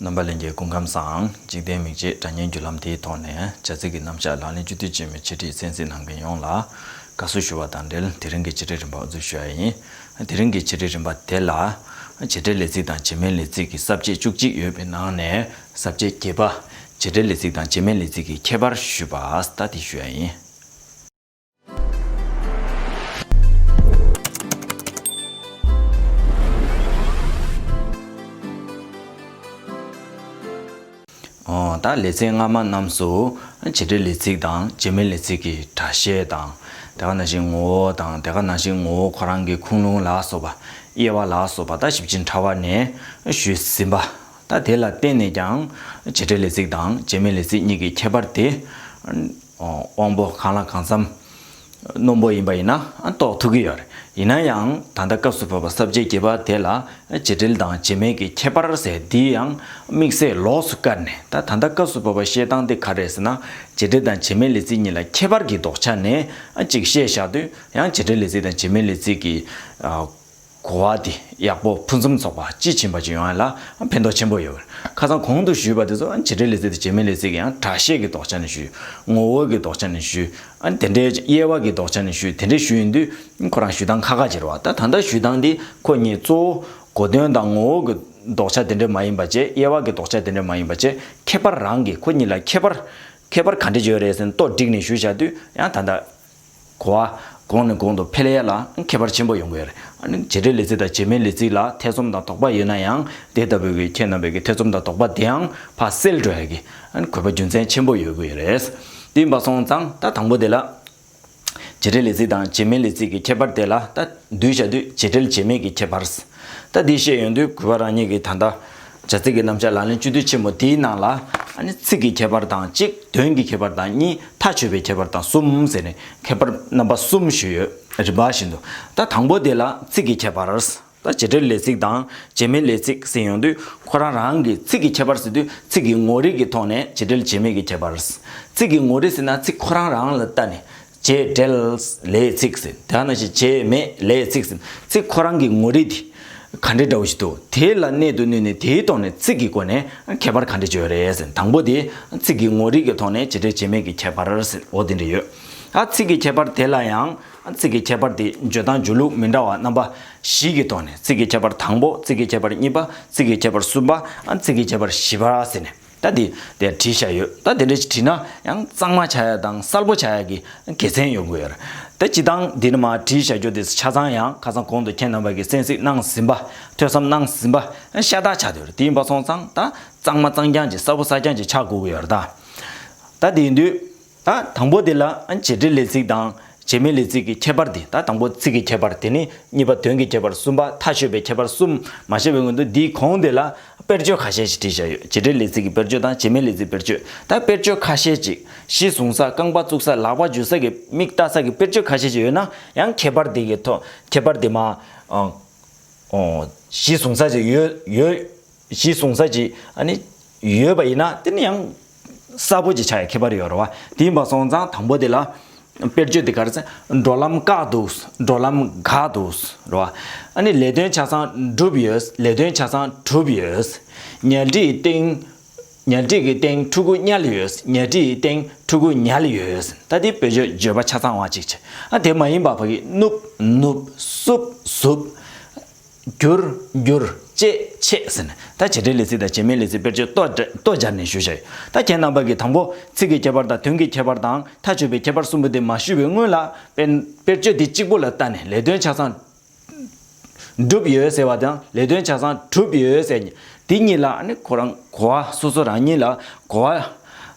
རྣམ་པ་ལས་འགལ་ཀུན་ཁམས་སམ་འཇིག་རྟེན་མིག་འབྱེད་སྒྲ་སྙན་བརྒྱུད་ལམ་དེའི་ཐོག་ནས་བྱ་ཚིག་གི་རྣམ་གཞག་ལག་ལེན་བཅུ་དུས་ཆེན་མོའི་འཆད་ཁྲིད་གསན་གཟིགས་གནང་མཁན་ཡོངས་ལ་དགའ་བསུ་ཞུ་བ་དང་འབྲེལ་དེ་རིང་གི་འཆད་ཁྲིད་རིམ་པ་འོ་རྫུན་ཞུ་ཡ་ཡིན། དེ་རིང་གི་འཆད་ཁྲིད་རིམ་པ་དེ་ལ། བྱེད་སྒྲའི་ལས་ཚིག་དང་བྱེད་མའི་ལས་ཚིག་གི་ཟབ་བཅད་བཅུ་གཅིག་ཡོད་པའི་ནང་ནས་ཟབ་བཅད་བརྒྱད་པ། བྱེད་སྒྲའི་ལས་ཚིག་དང་བྱེད་མའི་ལས་ཚིག་གི་ཁྱད་པར་ཞུས་པ་ལྟ་དེ་ཞུ་ཡ་ཡིན། ད་ལེ་ཚན་སྔ་མ་རྣམས་སུ་བྱེད་འབྲེལ་ལས་ཚིག་དང་བྱེད་མིན་ལས་ཚིག་གི་སྒྲ་བཤད་དང། དེ་ག་ནང་བཞིན་ངོ་བོ་དང་དེ་ག་ནང་བཞིན་ངོ་བོ་ཁོ་རང་གི་ཁུངས་ལུང་ལ་སོགས་པ། དབྱེ་བ་ལ་སོགས་པ་ད་ཞིབ་ཅིང་ཕྲ་བ་ནས་ཞུས་ཟིན་པ། ད་དེ་ལ་བརྟེན་ནས་ཀྱང་བྱེད་འབྲེལ་ལས་ཚིག་དང་བྱེད་མིན་ལས་ཚིག་གཉིས་ཀྱི་ཁྱད་པར་དེ། དབང་པོ་གང་ལ་གང་འཚམ། རྣོན་པོ་ཡིན་པ་ཡིན་ན་རྟོགས་ཐུབ་ཀྱི་ཡོད་རེད། ཡིན་ན་ཡང་ད་ལྟ་སྐབས་སུ་བབས་པ་གསར་བརྗེའི་བརྒྱུད་པ་དེ་ལ་བྱེད་འབྲེལ་དང་བྱེད་མེད་ཀྱི་ཁྱད་པར་ཟེར་འདི་ཡང་དམིགས་བསལ་ལོགས་སུ་བཀར་ནས་ད་ད་ལྟ་སྐབས་སུ་བབས་པ་བཤད་སྟངས་དེ་ག་རེད་ཟེར་ན་བྱེད་འབྲེལ་དང་བྱེད་མེད་ལས་ཚིག་གཉིས་ལ་ཁྱད་པར་གྱི་ལྡོག་ཆ་ནས་གཅིག་བཤད་བཞག་དུས་ཡང་བྱེད་འབྲེལ་ལས་ཚིག་དང་བྱེད་མེད་ལས་ཚིག་གི་གོ་བ་དེ་ཡག་པོ་ཕུན་སུམ་ཚོགས་པ་དཔྱིས་ཕྱིན་པ་ཅིག་ཡོང་བ་ལ་ཕན་ཐོགས་ཆེན་པོ་ཡོད། ཁ་སང་གོང་དུ་ཞུས་པ་དེ་ཚོ་བྱེད་འབྲེལ་ལས་ཚིག་དང་བྱེད་མིན་ལས་ཚིག་གི་ཡང་གྲགས་ཤེས་ཀྱི་དོགས་ཆ་ནས་ཞུས། ངོ་བོ་གྱི་དོགས་ཆ་ནས་ཞུས། དེ་འདྲའི་དབྱེ་བ་གྱི་དོགས་ཆ་ནས་ཞུས་དེ་འདྲའི་ཞུ་ཡིན་དུས་ཁོ་རང་ཞུ་སྟངས་ཁ་ཁ་འབྱེར་བ་ད་ད་ལྟ་ཞུ་སྟངས་འདི་ཁོ་གཉིས་གཙོ་བོ་གོ་དོན་དང་ངོ་བོ་གྱི་དོགས་ཆ་དེ་འདྲ་མ་ཡིན་པ་བཅས་དབྱེ་བ་གྱི་དོགས་ཆ་དེ་འདྲ་མ་ཡིན་པ་བཅས་ཁྱད་པར་རང་གིས་ཁོ་གཉིས་ལ་ཁྱད་པར། ཁྱད་པར་ག་འདྲ་བྱོས་རེད་ཟེར་ན་རྟོག་སྒྲིག་ནས་ཞུ་བཞག་དུས་ཡང་ད་ལྟ། གོ་བ། གོང་ནས་གོང་དུ་ཕེལ་ཡ་ལ་ཁྱད་པར་ཆེན་པོ་ཡོང་གི་རེད། བྱེད་འབྲེལ་ལས་ཚིག་དང་བྱེད་མིན་ལས་ཚིག་ལ་ཐེ་ཚོམ་དང་དོགས་པ་ཡོད་ན་ཡང་དེ་ལྟ་བུའི་ཁྱེད་རྣམ་པའི་ཐེ་ཚོམ་དང་དོགས་པ་དེའང་ཕ་སེལ་འགྲོ་ཡག་གི། གོ་བ་རྒྱུ་མཚན་ཆེན་པོ་ཡོད་དགོས་ཡོད་རེད། དེ་འབའ་སོང་ཙང་ད་དང་པོ་དེ་ལ། བྱེད་འབྲེལ་ལས་ཚིག་དང་བྱེད་མིན་ལས་ཚིག་གི་ཁྱད་པར་དེ་ལ་ད་འདུས་བྱ་དུས་བྱེད་འབྲེལ་བྱེད་མིན་གྱི་ཁྱད་པར། ད་དེ་ཤེས་ཡོང་དུས་གོ་བ་རང་ཉིད་ཀྱིས་ད་ལྟ། བྱ་ཚིག་གི་རྣམ་བཞག་ལག་ལེན་བཅུ་དུས་ཆེན་མོ་དེའི་ནང་ལ། ཚིག་གི་ཁྱད་པར་དང་གཅིག་དོན་གྱི་ཁྱད་པར་དང་གཉིས་མཐའ་ཆོད་པའི་ཁྱད་པར་དང་གསུམ་ཟེར་ནས་ཁྱད་པར་རྣམ་པ་གསུམ་ཞུས་ཡོད་རིམ་པ་བཞིན་དུ། ད་དང་པོ་དེ་ལ་ཚིག་གི་ཁྱད་པར། ད་བྱེད་འབྲེལ་ལས་ཚིག་དང་བྱེད་མིན་ལས་ཚིག་ཟེར་ཡོང་དུས་ཁོ་རང་རང་གིས་ཚིག་གི་ཁྱད་པར་ཟེར་དུས་ཚིག་གི་ངོ་རིས་ཀྱི་ཐོག་ནས་བྱེད་འབྲེལ་བྱེད་མེད་ཀྱི་ཁྱད་པར། ཚིག་གི་ངོ་རིས་ཟེར་ན་ཚིག་ཁོ་རང་རང་ལ་བལྟ་ནས་བྱས་བྲལ། ལས་ཚིག་ཟེར། དེ་ཡང་ན་ཞེས་བྱས་མེད་ལས་ཚིག་ཟེར། ཚིག་ཁོ་རང་གི་ངོ་རིས་དེ་ག་འདྲའི་འདྲ་བོ་ཞིག་འདུག་དེ་ལ་གནད་དུ་བསྣུན་ནས་དེའི་ཐོག་ནས་ཚིག་གི་སྒོ་ནས་ཁྱད་པར་ག་འདྲ་བྱེད་རེད་ཟེར་དང་པོ་དེ་ཚིག་གི་ངོ་རིས་ཀྱི་ཐོག་ནས་བྱས་བྲལ་བྱས་མེད་ཀྱི་ཁྱད་པར་ཟེར་འོ་དེ་འདྲ་ཡོད། ཨ་ཚིག་གི་ཁྱད་པར་དེ་ལ་ཡང་ཚིག་གི་ཁྱད་པར་དེ་བརྗོད་སྟངས་བརྗོད་ལུགས་མི་འདྲ་བ་རྣམ་པ་བཞི་གི་ཐོག་ནས་ཚིག་གི་ཁྱད་པར་དང་པོ་ཚིག་གི་ཁྱད་པར་གཉིས་པ་ཚིག་གི་ཁྱད་པར་གསུམ་པ་ཚིག་གི་ཁྱད་པར་བཞི་པ་ཟེར་ནས། ད་དེ་འདྲ་བྲིས་བཞག་ཡོད། ད་དེ་འདྲ་བྲིས་ན་ཡང་གཙང་མ་བྱ་ཡག་དང་གསལ་པོ་བྱ་ཡག་གི་དགེ་མཚན་ཡོད་དགོས། ད་སྤྱི་བཏང་འདི་ནི་མ་བྲིས་བཞག་རྒྱུ་དེ་ཆ་ཚང་ཡང་ཁ་སང་གོང་དུ་ཁྱེད་རྣམ་པ་གིས་གསན་གཟིགས་གནང་ཟིན་པ་ཐོས་བསམ་གནང་ཟིན་པ་ཤ་སྟག་ཆགས་འདུག་དེ་ཡིན་པ་སོང་ཙང་ད་གཙང་མ་གཙང་རྐྱང་གྱི་གསལ་པོ་གསལ་རྐྱང་གྱི་ཆགས་དགོས་ཀྱི་ཡོད། ད་དེ་དུས། ད་དང་པོ་དེ་ལ་བྱེད་འབྲེལ་ལས་ཚིག་དང་བྱེད་མེད་ལས་ཚིག་གི་ཁྱད་པར་དེ་ད་དང་པོ་ཚིག་གི་ཁྱད་པར་དེ་ནི་གཉིས་པ་དོན་གྱི་ཁྱད་པར་གསུམ་པ་ཐ་ཤོད་པའི་ཁྱད་པར་གསུམ་མ་བཤད་པའི་སྔོན་དུ་འདིའི་གོང་དེ་ལ་དཔེར་བརྗོད་ཁ་ཤས་ཤིག་བྲིས་བཞག་ཡོད་བྱེད་འབྲེལ་ལས་ཚིག་གི་དཔེར་བརྗོད་དང་བྱེད་མེད་ལས་ཚིག་དཔེར་བརྗོད་ད་དཔེར་བརྗོད་ཁ་ཤས་ཅིག་གཞི་བཟུང་ས་རྐང་པ་བཙུགས་ས་ལག་པ་འཇུ་ས་གི་མིག་བལྟ་ས་གི་དཔེར་བརྗོད་ཁ་ཤས་ཅིག་ཡོད་ན་ཡང་ཁྱད་པར་དེ་གི་ཐོག་ཁྱད་པར་དེ་མ་གཞི་བཟུང་ས་ཅིག་ཡོད་ཡོད། གཞི་བཟུང་ས་ཅིག་ནི་ཡོད་པ་ཡིན་ན་དེ་ནི་ཡང་གསར་བོ་ཅིག་ཆགས་ཡ་ཁྱད་པར་ཡོད་རེད་བ། དེའི་མ་སོང་ཙང་དང་པོ་དེ་ལ་དཔེར་བརྗོད་དེ་ག་རེ་ཟེར། འགྲོ་ལམ་བཀག་འདུག་འགྲོ་ལམ་འགག་འདུག་རེད་བ། ཨ་ནི་ལས་དོན་ཆ་ཚང་བསྒྲུབས་ཡོད་ལས་དོན་ཆ་ཚང་གྲུབ་ཡོད། ཉལ་ཁྲི་ཡི་སྟེང་ཉལ་ཁྲི་གི་སྟེང་ཕྲུ་གུ་བསྙལ་ཡོད་ཉལ་ཁྲི་ཡི་སྟེང་ཕྲུ་གུ་ཉལ་ཡོད་ད་དེའི་བོད་བརྗོད་བརྗོད་པ་ཆ་ཚང་བ་ཅིག་ཆེ་ཨ་དེ་མ་ཡིན་པ་བ་གིས་བསྣུབས་བསྣུབས་བསུབས་བསུབས། རྒྱུར། འགྱུར། བཅས་ཕྱེ། ཟེར་ནས། ད་བྱེད་སྒྲའི་ལས་ཚིག་དང་བྱེད་མའི་ལས་ཚིག་དཔེར་བརྗོད་ལྟོ་སྦྱར་ནས་ཞུ་བྱ་ཡོད། ད་བྱེད་རྣམ་པ་གི་དང་པོ། ཚིག་གི་ཁྱད་པར་དང་དོན་གྱི་ཁྱད་པར་དང་མཐའ་དཔྱོད་པའི་ཁྱད་པར་གསུམ་པོ་དེ་མ་ཞུས་པའི་སྔོན་ལ། དཔེར་བརྗོད་དེ་གཅིག་པོ་ལ་བལྟ་ནས་ལས་དོན་ཆ་ཚང། འགྲུབ་ཡོད་ཟེར་བ་དང་ལས་དོན་ཆ་ཚང་གྲུབ་ཡོད་ཟེར། དེ་གཉིས་ལ་ནི་གོ་བ་སོ་སོ་རང་ཉིད་ལ་གོ་བ།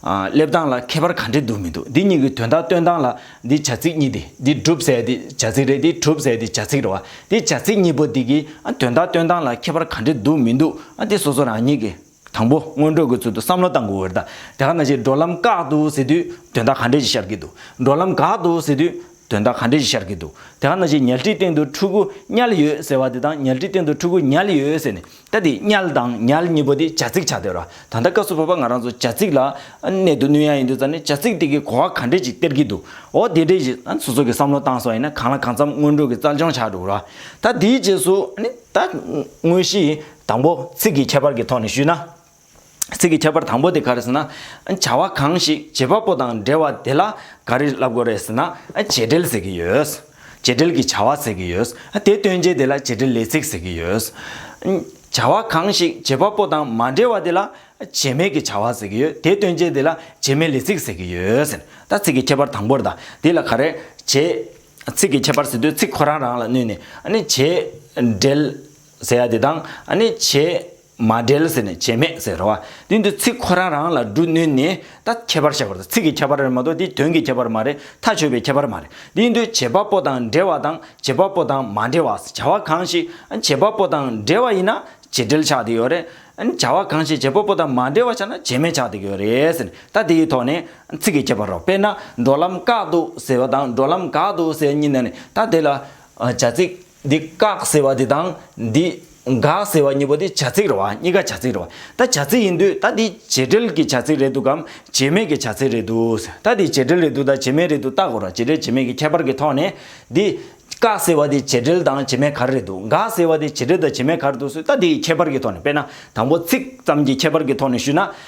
སླེབས་སྟངས་ལ་ཁྱད་པར་ག་འདྲེ་འདུག་མི་འདུག་འདི་གཉིས་ཀྱི་དོན་དག་སྟོན་སྟངས་ལ་འདི་བྱ་ཚིག་གཉིས་ཏེ་འདི་སྒྲུབ་ཟས་འདི་བྱ་ཚིག་རེད་འདི་གྲུབ་ཟས་འདི་བྱ་ཚིག་རེད་བ་འདི་བྱ་ཚིག་གཉིས་པོ་འདི་གི་དོན་དག་སྟོན་སྟངས་ལ་ཁྱད་པར་ག་འདྲེ་འདུག་མི་འདུག་འདི་སོ་སོ་རང་ཉིད་ཀྱི་དང་པོ་སྔོན་འགྲོ་གི་ཚུལ་དུ་བསམ་བློ་བཏང་དགོས་འོད་ད་ག་ན་བྱེད་འགྲོ་ལམ་བཀག་འདུག་ཟེར་དུས་དོན་དག་ག་འདྲེ་ཞིག་ཤར་གྱི་འདུག་འགྲོ་ལམ་འགག་འདུག་ཟེར་དུས་དོན་དག་ག་འདྲས་ཞིག་ཤར་གྱི་འདུག་དེ་ག་ན་བྱས་ཉལ་ཁྲིའི་སྟེང་དུ་ཕྲུ་གུ་དམྱལ་ཡོད་ཟེར་བ་དེ་དང་ཉལ་ཁྲིའི་སྟེང་དུ་ཕྲུ་གུ་དམྱལ་ཡོད་ཟེར་ནས་ད་དེ་དམྱལ་དང་ཉལ་གཉིས་པོ་དེ་བྱ་ཚིག་ཆགས་སྡོད་ར་ད་ལྟ་སྐབས་སུ་བབས་པ་ང་རང་ཚོ་བྱ་ཚིག་ལ་གནད་དུ་བསྣུན་ཡ་ཡིན་འདུག་ཙང་ནས་བྱ་ཚིག་དེ་གི་གོ་བ་ག་འདྲས་ཅིག་སྟེར་གྱི་འདུག་འོ་དེ་འདྲས་ཞིག་སོ་སོ་གི་བསམ་བློ་བཏང་སོང་ཡིན་ན་གང་ལ་གང་འཚམ་སྔོན་འགྲོ་གི་རྩལ་སྦྱོང་བྱ་འགྲོ་ར་ད་དེའི་རྗེས་སུ་ད་དངོས་གཞི་དང་པོ་ཚིག་གི་ཁྱད་པར་གྱི་ཐོག་ནས་ཞུས་ན། ཚིག་གི་ཁྱད་པར་དང་པོ་དེ་ག་རེ་ཟེར་ན། བྱ་བ་གང་ཞིག་བྱེད་པ་པོ་དང་འབྲེལ་བ་དེ་ལ་ག་རེ་ལབ་དགོས་རེད་ཟེར་ན། བྱེད་འབྲེལ་ཟེར་གྱི་ཡོད། བྱེད་འབྲེལ་གྱི་བྱ་བ་ཟེར་གྱི་ཡོད། དེ་སྟོན་བྱེད་དེ་ལ་བྱེད་འབྲེལ་ལས་ཚིག་ཟེར་གྱི་ཡོད། བྱ་བ་གང་ཞིག་བྱེད་པ་པོ་དང་མ་འབྲེལ་བ་དེ་ལ་བྱེད་མེད་ཀྱི་བྱ་བ་ཟེར་གྱི་ཡོད། དེ་སྟོན་བྱེད་དེ་ལ་བྱེད་མེད་ལས་ཚིག་ཟེར་གྱི་ཡོད་ཟེར། ད་ཚིག་གི་ཁྱད་པར་དང་པོར་ད་དེ་ལ་ག་རེ་བྱེད། ཚིག་གི་ཁྱད་པར་ཟེར་དུས་ཚིག་ཁོ་རང་རང་ལ་བསྣུན་ནས། བྱེད་འབྲེལ་ཟེར་ཡ་དེ་དང། བྱེད། མ་འབྲེལ་ཟེར་ནས་བྱེད་མེད་ཟེར་བ། དེ་འདི་ཚིག་ཁོ་རང་རང་ལ་འབྲུ་སྣོན་ནས་ད་ཁྱད་པར་བཤད་པར་ཚིག་གི་ཁྱད་པར་རེད་མ་གཏོགས་དེ་དོན་གྱི་ཁྱད་པར་མ་རེད་མཐའ་ཆོད་པའི་ཁྱད་པར་མ་རེད་དེ་འདི་བྱེད་པ་པོ་དང་འབྲེལ་བ་དང་བྱེད་པ་པོ་དང་མ་འབྲེལ་བ་བྱ་བ་གང་ཞིག་བྱེད་པ་པོ་དང་འབྲེལ་བ་ཡིན་ན་བྱེད་འབྲེལ་ཆགས་འདི་ཡོད་རེད། བྱ་བ་གང་ཞིག་བྱེད་པ་པོ་དང་མ་འབྲེལ་བ་ཆགས་ན་བྱེད་མེད་ཆགས་འདི་ཡོད་རེད་ཟེར་ནས་ད་དེའི་ཐོག་ནས་ཚིག་གི་ཁྱད་པར་རོ་དཔེར་ན་འགྲོ་ལམ་བཀག་འདུག་ཟེར་བ་དང་འགྲོ་ལམ་འགག་འདུག་ཟེར་གཉིས་ནས་ད་དེ་ལ་བྱ་ཚིག། འདི་བཀག་ཟེར་བ་དེ་དང་འདི་འགག་ཟེར་བ་གཉིས་པོ་དེ་བྱ་ཚིག་རེད་བ་གཉིས་ཀ་བྱ་ཚིག་རེད་བ་ད་བྱ་ཚིག་ཡིན་དུས་ད་འདི་བྱེད་འབྲེལ་གྱི་བྱ་ཚིག་རེད་འདུག་གམ་བྱེད་མེད་ཀྱི་བྱ་ཚིག་རེད་འདུག་ད་འདི་བྱེད་འབྲེལ་རེད་འདུག་ད་བྱེད་མེད་རེད་འདུག་བརྟག་དགོས་ར་བྱེད་འབྲེལ་བྱེད་མེད་ཀྱི་ཁྱད་པར་གྱི་ཐོག་ནས་འདི་བཀག་ཟེར་བ་དེ་བྱེད་འབྲེལ་དང་བྱེད་མེད་ག་རེ་རེད་འདུག་འགག་ཟེར་བ་དེ་བྱེད་འབྲེལ་དང་བྱེད་མེད་ག་རེ་འདུག་ཟེར་ད་འདི་ཡི་ཁྱད་པར་གྱི་ཐོག་ནས་དཔེར་ན་དང་པོ་ཚིག་ཙམ་གྱི་ཁྱད་པར་གྱི་ཐོག་ནས་ཞུས་ན་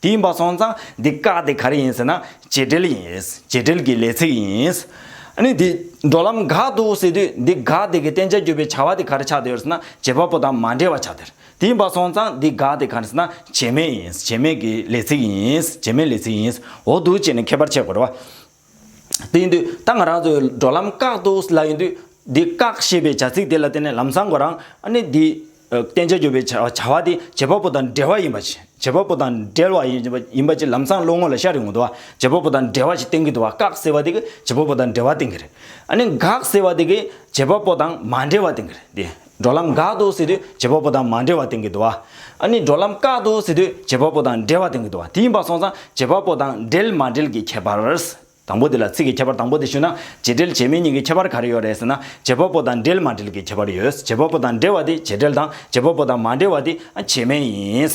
དེ་ཡིན་པ་སོང་ཙང་འདི་བཀག་དེ་ག་རེ་ཡིན་ཟེར་ན་བྱེད་འབྲེལ་ཡིན། བྱེད་འབྲེལ་གྱི་ལས་ཚིག་ཡིན། ཨཱ་ནི། འགྲོ་ལམ་འགག་འདུག་ཟེར་དུས་འདི་འགག་དེ་གི་བསྟན་བྱ་བརྒྱུད་པའི་བྱ་བ་དེ་ག་རེ་ཆགས་བསྡད་ཡོད་ཟེར་ན་བྱེད་པ་པོ་དང་མ་འབྲེལ་བ་ཆགས་བསྡད། དེ་ཡིན་པ་སོང་ཙང་འདི་འགག་དེ་ག་རེ་ཟེར་ན་བྱེད་མེད་ཡིན། བྱེད་མེད་ཀྱི་ལས་ཚིག་ཡིན། བྱེད་མེད་ལས་ཚིག་ཡིན། འོ་འདུག་བྱས་ནས་མཁས་པར་འཆད་དགོས། དེ་ཡིན་དུས་ད་ང་རང་ཚོའི་འགྲོ་ལམ་བཀག་འདུག་ཟེར་ལབ་ཡིན་དུས། འདི་བཀག་ཞེས་པའི་བྱ་ཚིག་དེ་ལ་བརྟེན་ནས་ལམ་སང་གོ་རང་ཨ་ནེ་འདི། བསྟན་བྱ་གྱུར་པའི་བྱ་བ་དེ་བྱེད་པ་པོ་དང་འབྲེལ་བ་ཡིན་པ། བྱེད་པ་པོ་དང་འབྲེལ་བ་ཡིན་པ་ཅིག་ལམ་སང་བློ་ངོ་ལ་ཤར་ཡོང་གི་འདུག་བ་བྱེད་པ་པོ་དང་འབྲེལ་བ་ཞིག་བསྟན་གྱི་འདུག་བ་བཀག་ཟེར་བ་དེ་གི་བྱེད་པ་པོ་དང་འབྲེལ་བ་བསྟན་གྱི་རེད། ཨ་ནེ་འགག་ཟེར་བ་དེ་གི་བྱེད་པ་པོ་དང་མ་འབྲེལ་བ་བསྟན་གྱི་རེད་དེ། འགྲོ་ལམ་འགག་ཏུ་ཟེར་དུས་བྱེད་པ་པོ་དང་མ་འབྲེལ་བ་དེང་གི་དུ་བ། ཨ་ནི་འགྲོ་ལམ་བཀག་ཏུ་ཟེར་དུས་བྱེད་པ་པོ་དང་འབྲེལ་བ་དེང་གི་དུ་བ་དེ་ཡིན་པ་སོང་ཙང་བྱེད་པ་པོ་དང་འབྲེལ་མ་འབྲེལ་གྱི་ཁྱད་པར། དང་པོ་དེ་ལ་ཚིག་གི་ཁྱད་པར་དང་པོ་དེ་ཞུས་ན་བྱེད་འབྲེལ་བྱེད་མིན་གཉིས་ཀྱི་ཁྱད་པར་ག་རེ་ཡོད་རེད་ཟེར་ན་བྱེད་པ་པོ་དང་འབྲེལ་མ་འབྲེལ་གྱི་ཁྱད་པར་ཡོད་བྱེད་པ་པོ་དང་འབྲེལ་བ་དེ་བྱེད་འབྲེལ་དང་བྱེད་པ་པོ་དང་མ་འབྲེལ་བ་དེ་བྱེད་མིན་ཡིན།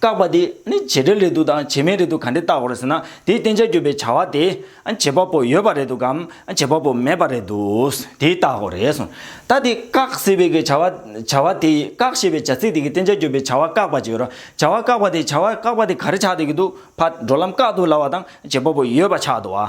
བཀག་པ་དེ་ནི་བྱེད་འབྲེལ་རེད་འདུག་དང་བྱེད་མིན་རེད་འདུག་ག་འདྲས་བཏགས་དགོས་རེད་ཟེར་ན་དེའི་བསྟན་བྱ་བརྒྱུད་པའི་བྱ་བ་དེ་བྱེད་པ་པོ་ཡོད་པ་རེད་འདུག་གམ་བྱེད་པ་པོ་མེད་པ་རེད་འདུག་དེ་བཏགས་དགོས་རེད་གསུངས། ད་དེ་བཀག་ཟེར་བའི་བྱ་བ་བྱ་བ་དེ་བཀག་ཞེས་པའི་བྱ་ཚིག་དེ་གི་བསྟན་བྱ་བརྒྱུད་པའི་བྱ་བ་བཀག་པ་ཅིག་ཡོད་ར་བྱ་བ་བཀག་པ་དེ་བྱ་བ་བཀག་པ་དེ་ག་རེ་ཆགས་འདོད་ཀྱི་འདུག་ཕ་འགྲོ་ལམ་བཀག་འདུག་ལ་བ་དང་བྱེད་པ་པོ་ཡོད་པ་ཆགས་འདུག་བ།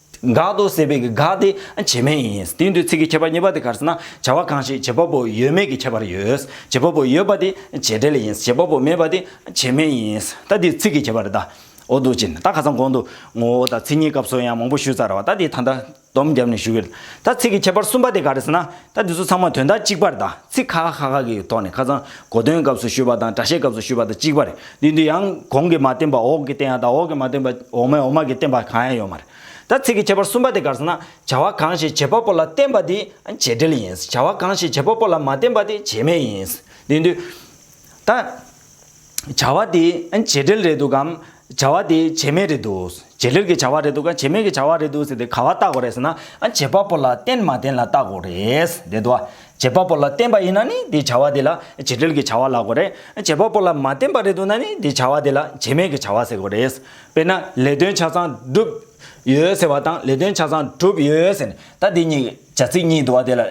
དགག་ཏུ་བསལ་བའི་དགག་དེ་བྱེ་སྨྲས་ཡིན། དེའི་འདོད་ཚིག་གི་ཁྱད་པར་གཉིས་པ་དེ་གར་ཟེར་ན་བྱ་བ་གང་ཞིག་བྱེད་པ་པོ་ཡོད་མེད་ཀྱི་ཁྱད་པར་ཡོད། བྱེད་པ་པོ་ཡོད་པ་དེ་བྱེད་འབྲེལ་ཡིན་བྱེད་པ་པོ་མེད་པ་དེ་བྱེ་སྨྲས་ཡིན། ད་དེའི་ཚིག་གི་ཁྱད་པར་དེ་འོག་ཏུ་བྱིན། ད་ཁ་སང་གོང་དུ་ངོ་བོ་དང་ཚིག་གཉིས་སྐབས་སོ་ཡང་མང་པོ་ཞུས་ཚར་བ་ད་དེའི་ད་ལྟ་སྡོམ་བརྒྱབ་ནས་ཞུ་གི། ད་ཚིག་གི་ཁྱད་པར་གསུམ་པ་དེ་ག་རེ་ཟེར་ན། ད་འདི་ཚོ་ཚང་མ་དོན་དག་གཅིག་པར་གདའ། ཚིག་ཁ་ཁ་ཁ་ཁ་གི་ཐོག་ནས་ཁ་ཚང་གོ་དོན་སྐབས་སུ་ཞུས་པ་དང་སྒྲ་བཤད་སྐབས་སུ་ཞུས་པ་དང་གཅིག་པ་རེད། འདི་འདི་ཡང་གོང་གི་མ་བསྟན་པ་འོག་གི་བསྟན་ཡག་དང་འོག་གི་མ་བསྟན་པ་འོག་མའི་འོག་མ་གི་བསྟན་པ་གང་ཡང་ཡོད་མ་རེད། ད་ཚིག་གི་ཁྱད་པར་གསུམ་པ་དེ་དགར་སོང་ན། བྱ་བ་གང་ཞིག་བྱེད་པ་པོ་ལ་བསྟན་པ་དེ་བྱེད་འབྲེལ་ཡིན། བྱ་བ་གང་ཞིག་བྱེད་པ་པོ་ལ་མ་བསྟན་པ་དེ་བྱེད་མེད་ཡིན། འདི་འདི། ད། བྱ་བ་དེ་བྱེད་འབྲེལ་རེད་འདུག་གམ། བྱ་བ་དེ་བྱེད་མེད་རེད་འདུག་བྱེད་འབྲེལ་གྱི་བྱ་བ་རེད་འདུག་གམ་བྱེད་མེད་ཀྱི་བྱ་བ་རེད་འདུག་ཟེར་ཏེ་ག་བ་བལྟ་དགོས་རེད་ཟེར་ན། བྱེད་པ་པོ་ལ་བརྟེན་མ་བརྟེན་ལ་བལྟ་དགོས་རེད། དེ་དུ་བ། བྱེད་པ་པོ་ལ་བརྟེན་པ་ཡིན་ན་ནི་དེ་བྱ་བ་དེ་ལ་བྱེད་འབྲེལ་གྱི་བྱ་བ་ལགས་དགོས་རེད། བྱེད་པ་པོ་ལ་མ་བརྟེན་པ་རེད་འདུག་ན་ནི་དེ་བྱ་བ་དེ་ལ་བྱེད་མེད་ཀྱི་བྱ་བ་ཟེར་དགོས་རེད། དཔེར་ན་ལས་དོན་ཆ་ཚང་འགྲུབ། ཡོད་ཟེར་བ་དང་ལས་དོན་ཆ་ཚང་གྲུབ་ཡོད་ཟེར་ནས་ད་དེ་གཉིས། བྱ་ཚིག་གཉིས་བསྡུ་བ་དེ་ལ།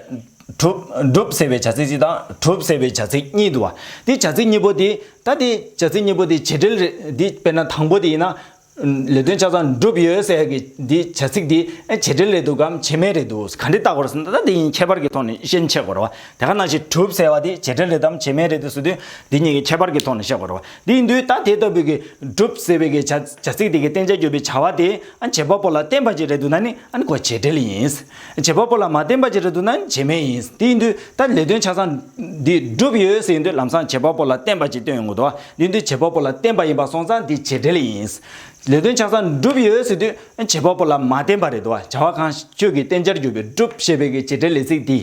གྲུབ། བསྒྲུབ་ཟེར་བའི་བྱ་ཚིག་ཅིག་དང་གྲུབ་ཟེར་བའི་བྱ་ཚིག་གཉིས་བསྡུ་བ། འདི་བྱ་ཚིག་གཉིས་པོ་དེ། ད་དེ། བྱ་ཚིག་གཉིས་པོ་དེ་བྱེད་འབྲེལ་རེད། འདི་དཔེར་ན་དང་པོ་དེ་ཡིན་ན། ལས་དོན་ཆ་ཚང་འགྲུབ་ཡོད་ཟེར་གི། འདི་བྱ་ཚིག་དེ། བྱེད་འབྲེལ་རེད་འདུག་གམ་བྱེད་མེད་རེད་འདུག་ག་འདྲི་བལྟ་དགོས་ཟེར་ན་ད་དེ་གཉིས་ཁྱད་པར་གྱི་ཐོག་ནས་ཤན་ཕྱེད་དགོས་རེད་བ། དེ་ག་ནང་བཞིན་གྲུབ་ཟེར་བ་དེ་བྱེད་འབྲེལ་རེད་དམ་བྱེད་མེད་རེད་དུ་ཟེར་དུས། འདི་གཉིས་ཀྱི་ཁྱད་པར་གྱི་ཐོག་ནས་བཤད་དགོས་རེད་བ། འདིའི་མདོའི་རྟགས་དེ་ལྟ་བུ་གི་སྒྲུབ་ཟེར་བའི་བྱ་ཚིག་དེ་གི་བསྟན་བྱ་གྱུར་པའི་བྱ་བ་དེ་བྱེད་པ་པོ་ལ་བསྟན་པ་ཅིག་རེད་འདུག་ན་ནི་གོ་བྱེད་འབྲེལ་ཡིན། བྱེད་པ་པོ་ལ་མ་བསྟན་པ་ཅིག་རེད་འདུག་ན་བྱེད་མེད་ཡིན། འདིའི་མདོའི་རྟགས་ལས་དོན་ཆ་ཚང་འདི་སྒྲུབ་ཡོད་ཟེར་དུས་ལམ་སང་བྱེད་པ་པོ་ལ་བསྟན་པ་ཅིག་སྟོན་ཡོང་གི་འདུག་འདིའི་མདོའི་བྱེད་པ་པོ་ལ་བསྟན་པ་ཡིན་པ་སོང་ཙང་འདི་བྱེད་འབྲེལ་ཡིན། ལས་དོན་ཆ་ཚང་སྒྲུབ་ཡོད་ཟེར་དུས་བྱེད་པ་པོ་ལ་མ་བསྟན་པ་རེད་འདུག་བྱ་བ་གང་ཁྱོད་ཀྱི་བསྟན་བྱར་གྱུར་པའི་སྒྲུབ་ཞེས་པའི་བྱེད་འབྲེལ་ལས་ཚིག་འདིའི་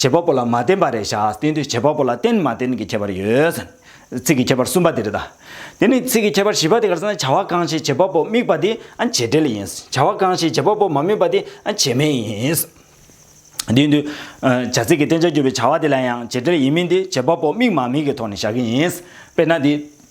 བྱེད་པ་པོ་ལ་མ་བརྟེན་པ་རེ་བཞག་སྟེ་འདིར་བྱེད་པ་པོ་ལ་བརྟེན་མ་བརྟེན་གྱི་ཁྱད་པར་ཡོད། ཚིག་གི་ཁྱད་པར་གསུམ་པ་འདི་རེ་ད། དེ་ནི་ཚིག་གི་ཁྱད་པར་བཞི་པ་དེ་གར་ན་བྱ་བ་གང་ཞིག་བྱེད་པ་པོ་དམིགས་པ་དེ་བྱེད་འབྲེལ་ཡིན། བྱ་བ་གང་ཞིག་བྱེད་པ་པོ་མ་དམིགས་པ་དེ་བྱེད་མིན་ཡིན། དེ་འདུལ་བྱ་ཚིག་གི་བསྟན་བྱར་གྱུར་པའི་བྱ་བ་དེ་ལ་ཡང་བྱེད་འབྲེལ་ཡིན་མིན་དེ་བྱེད་པ་པོ་དམིགས་མ་དམིགས་ཀྱི་ཐོག་ནས་བཞག་གི་ཡིན། དཔེར་ན་འདི།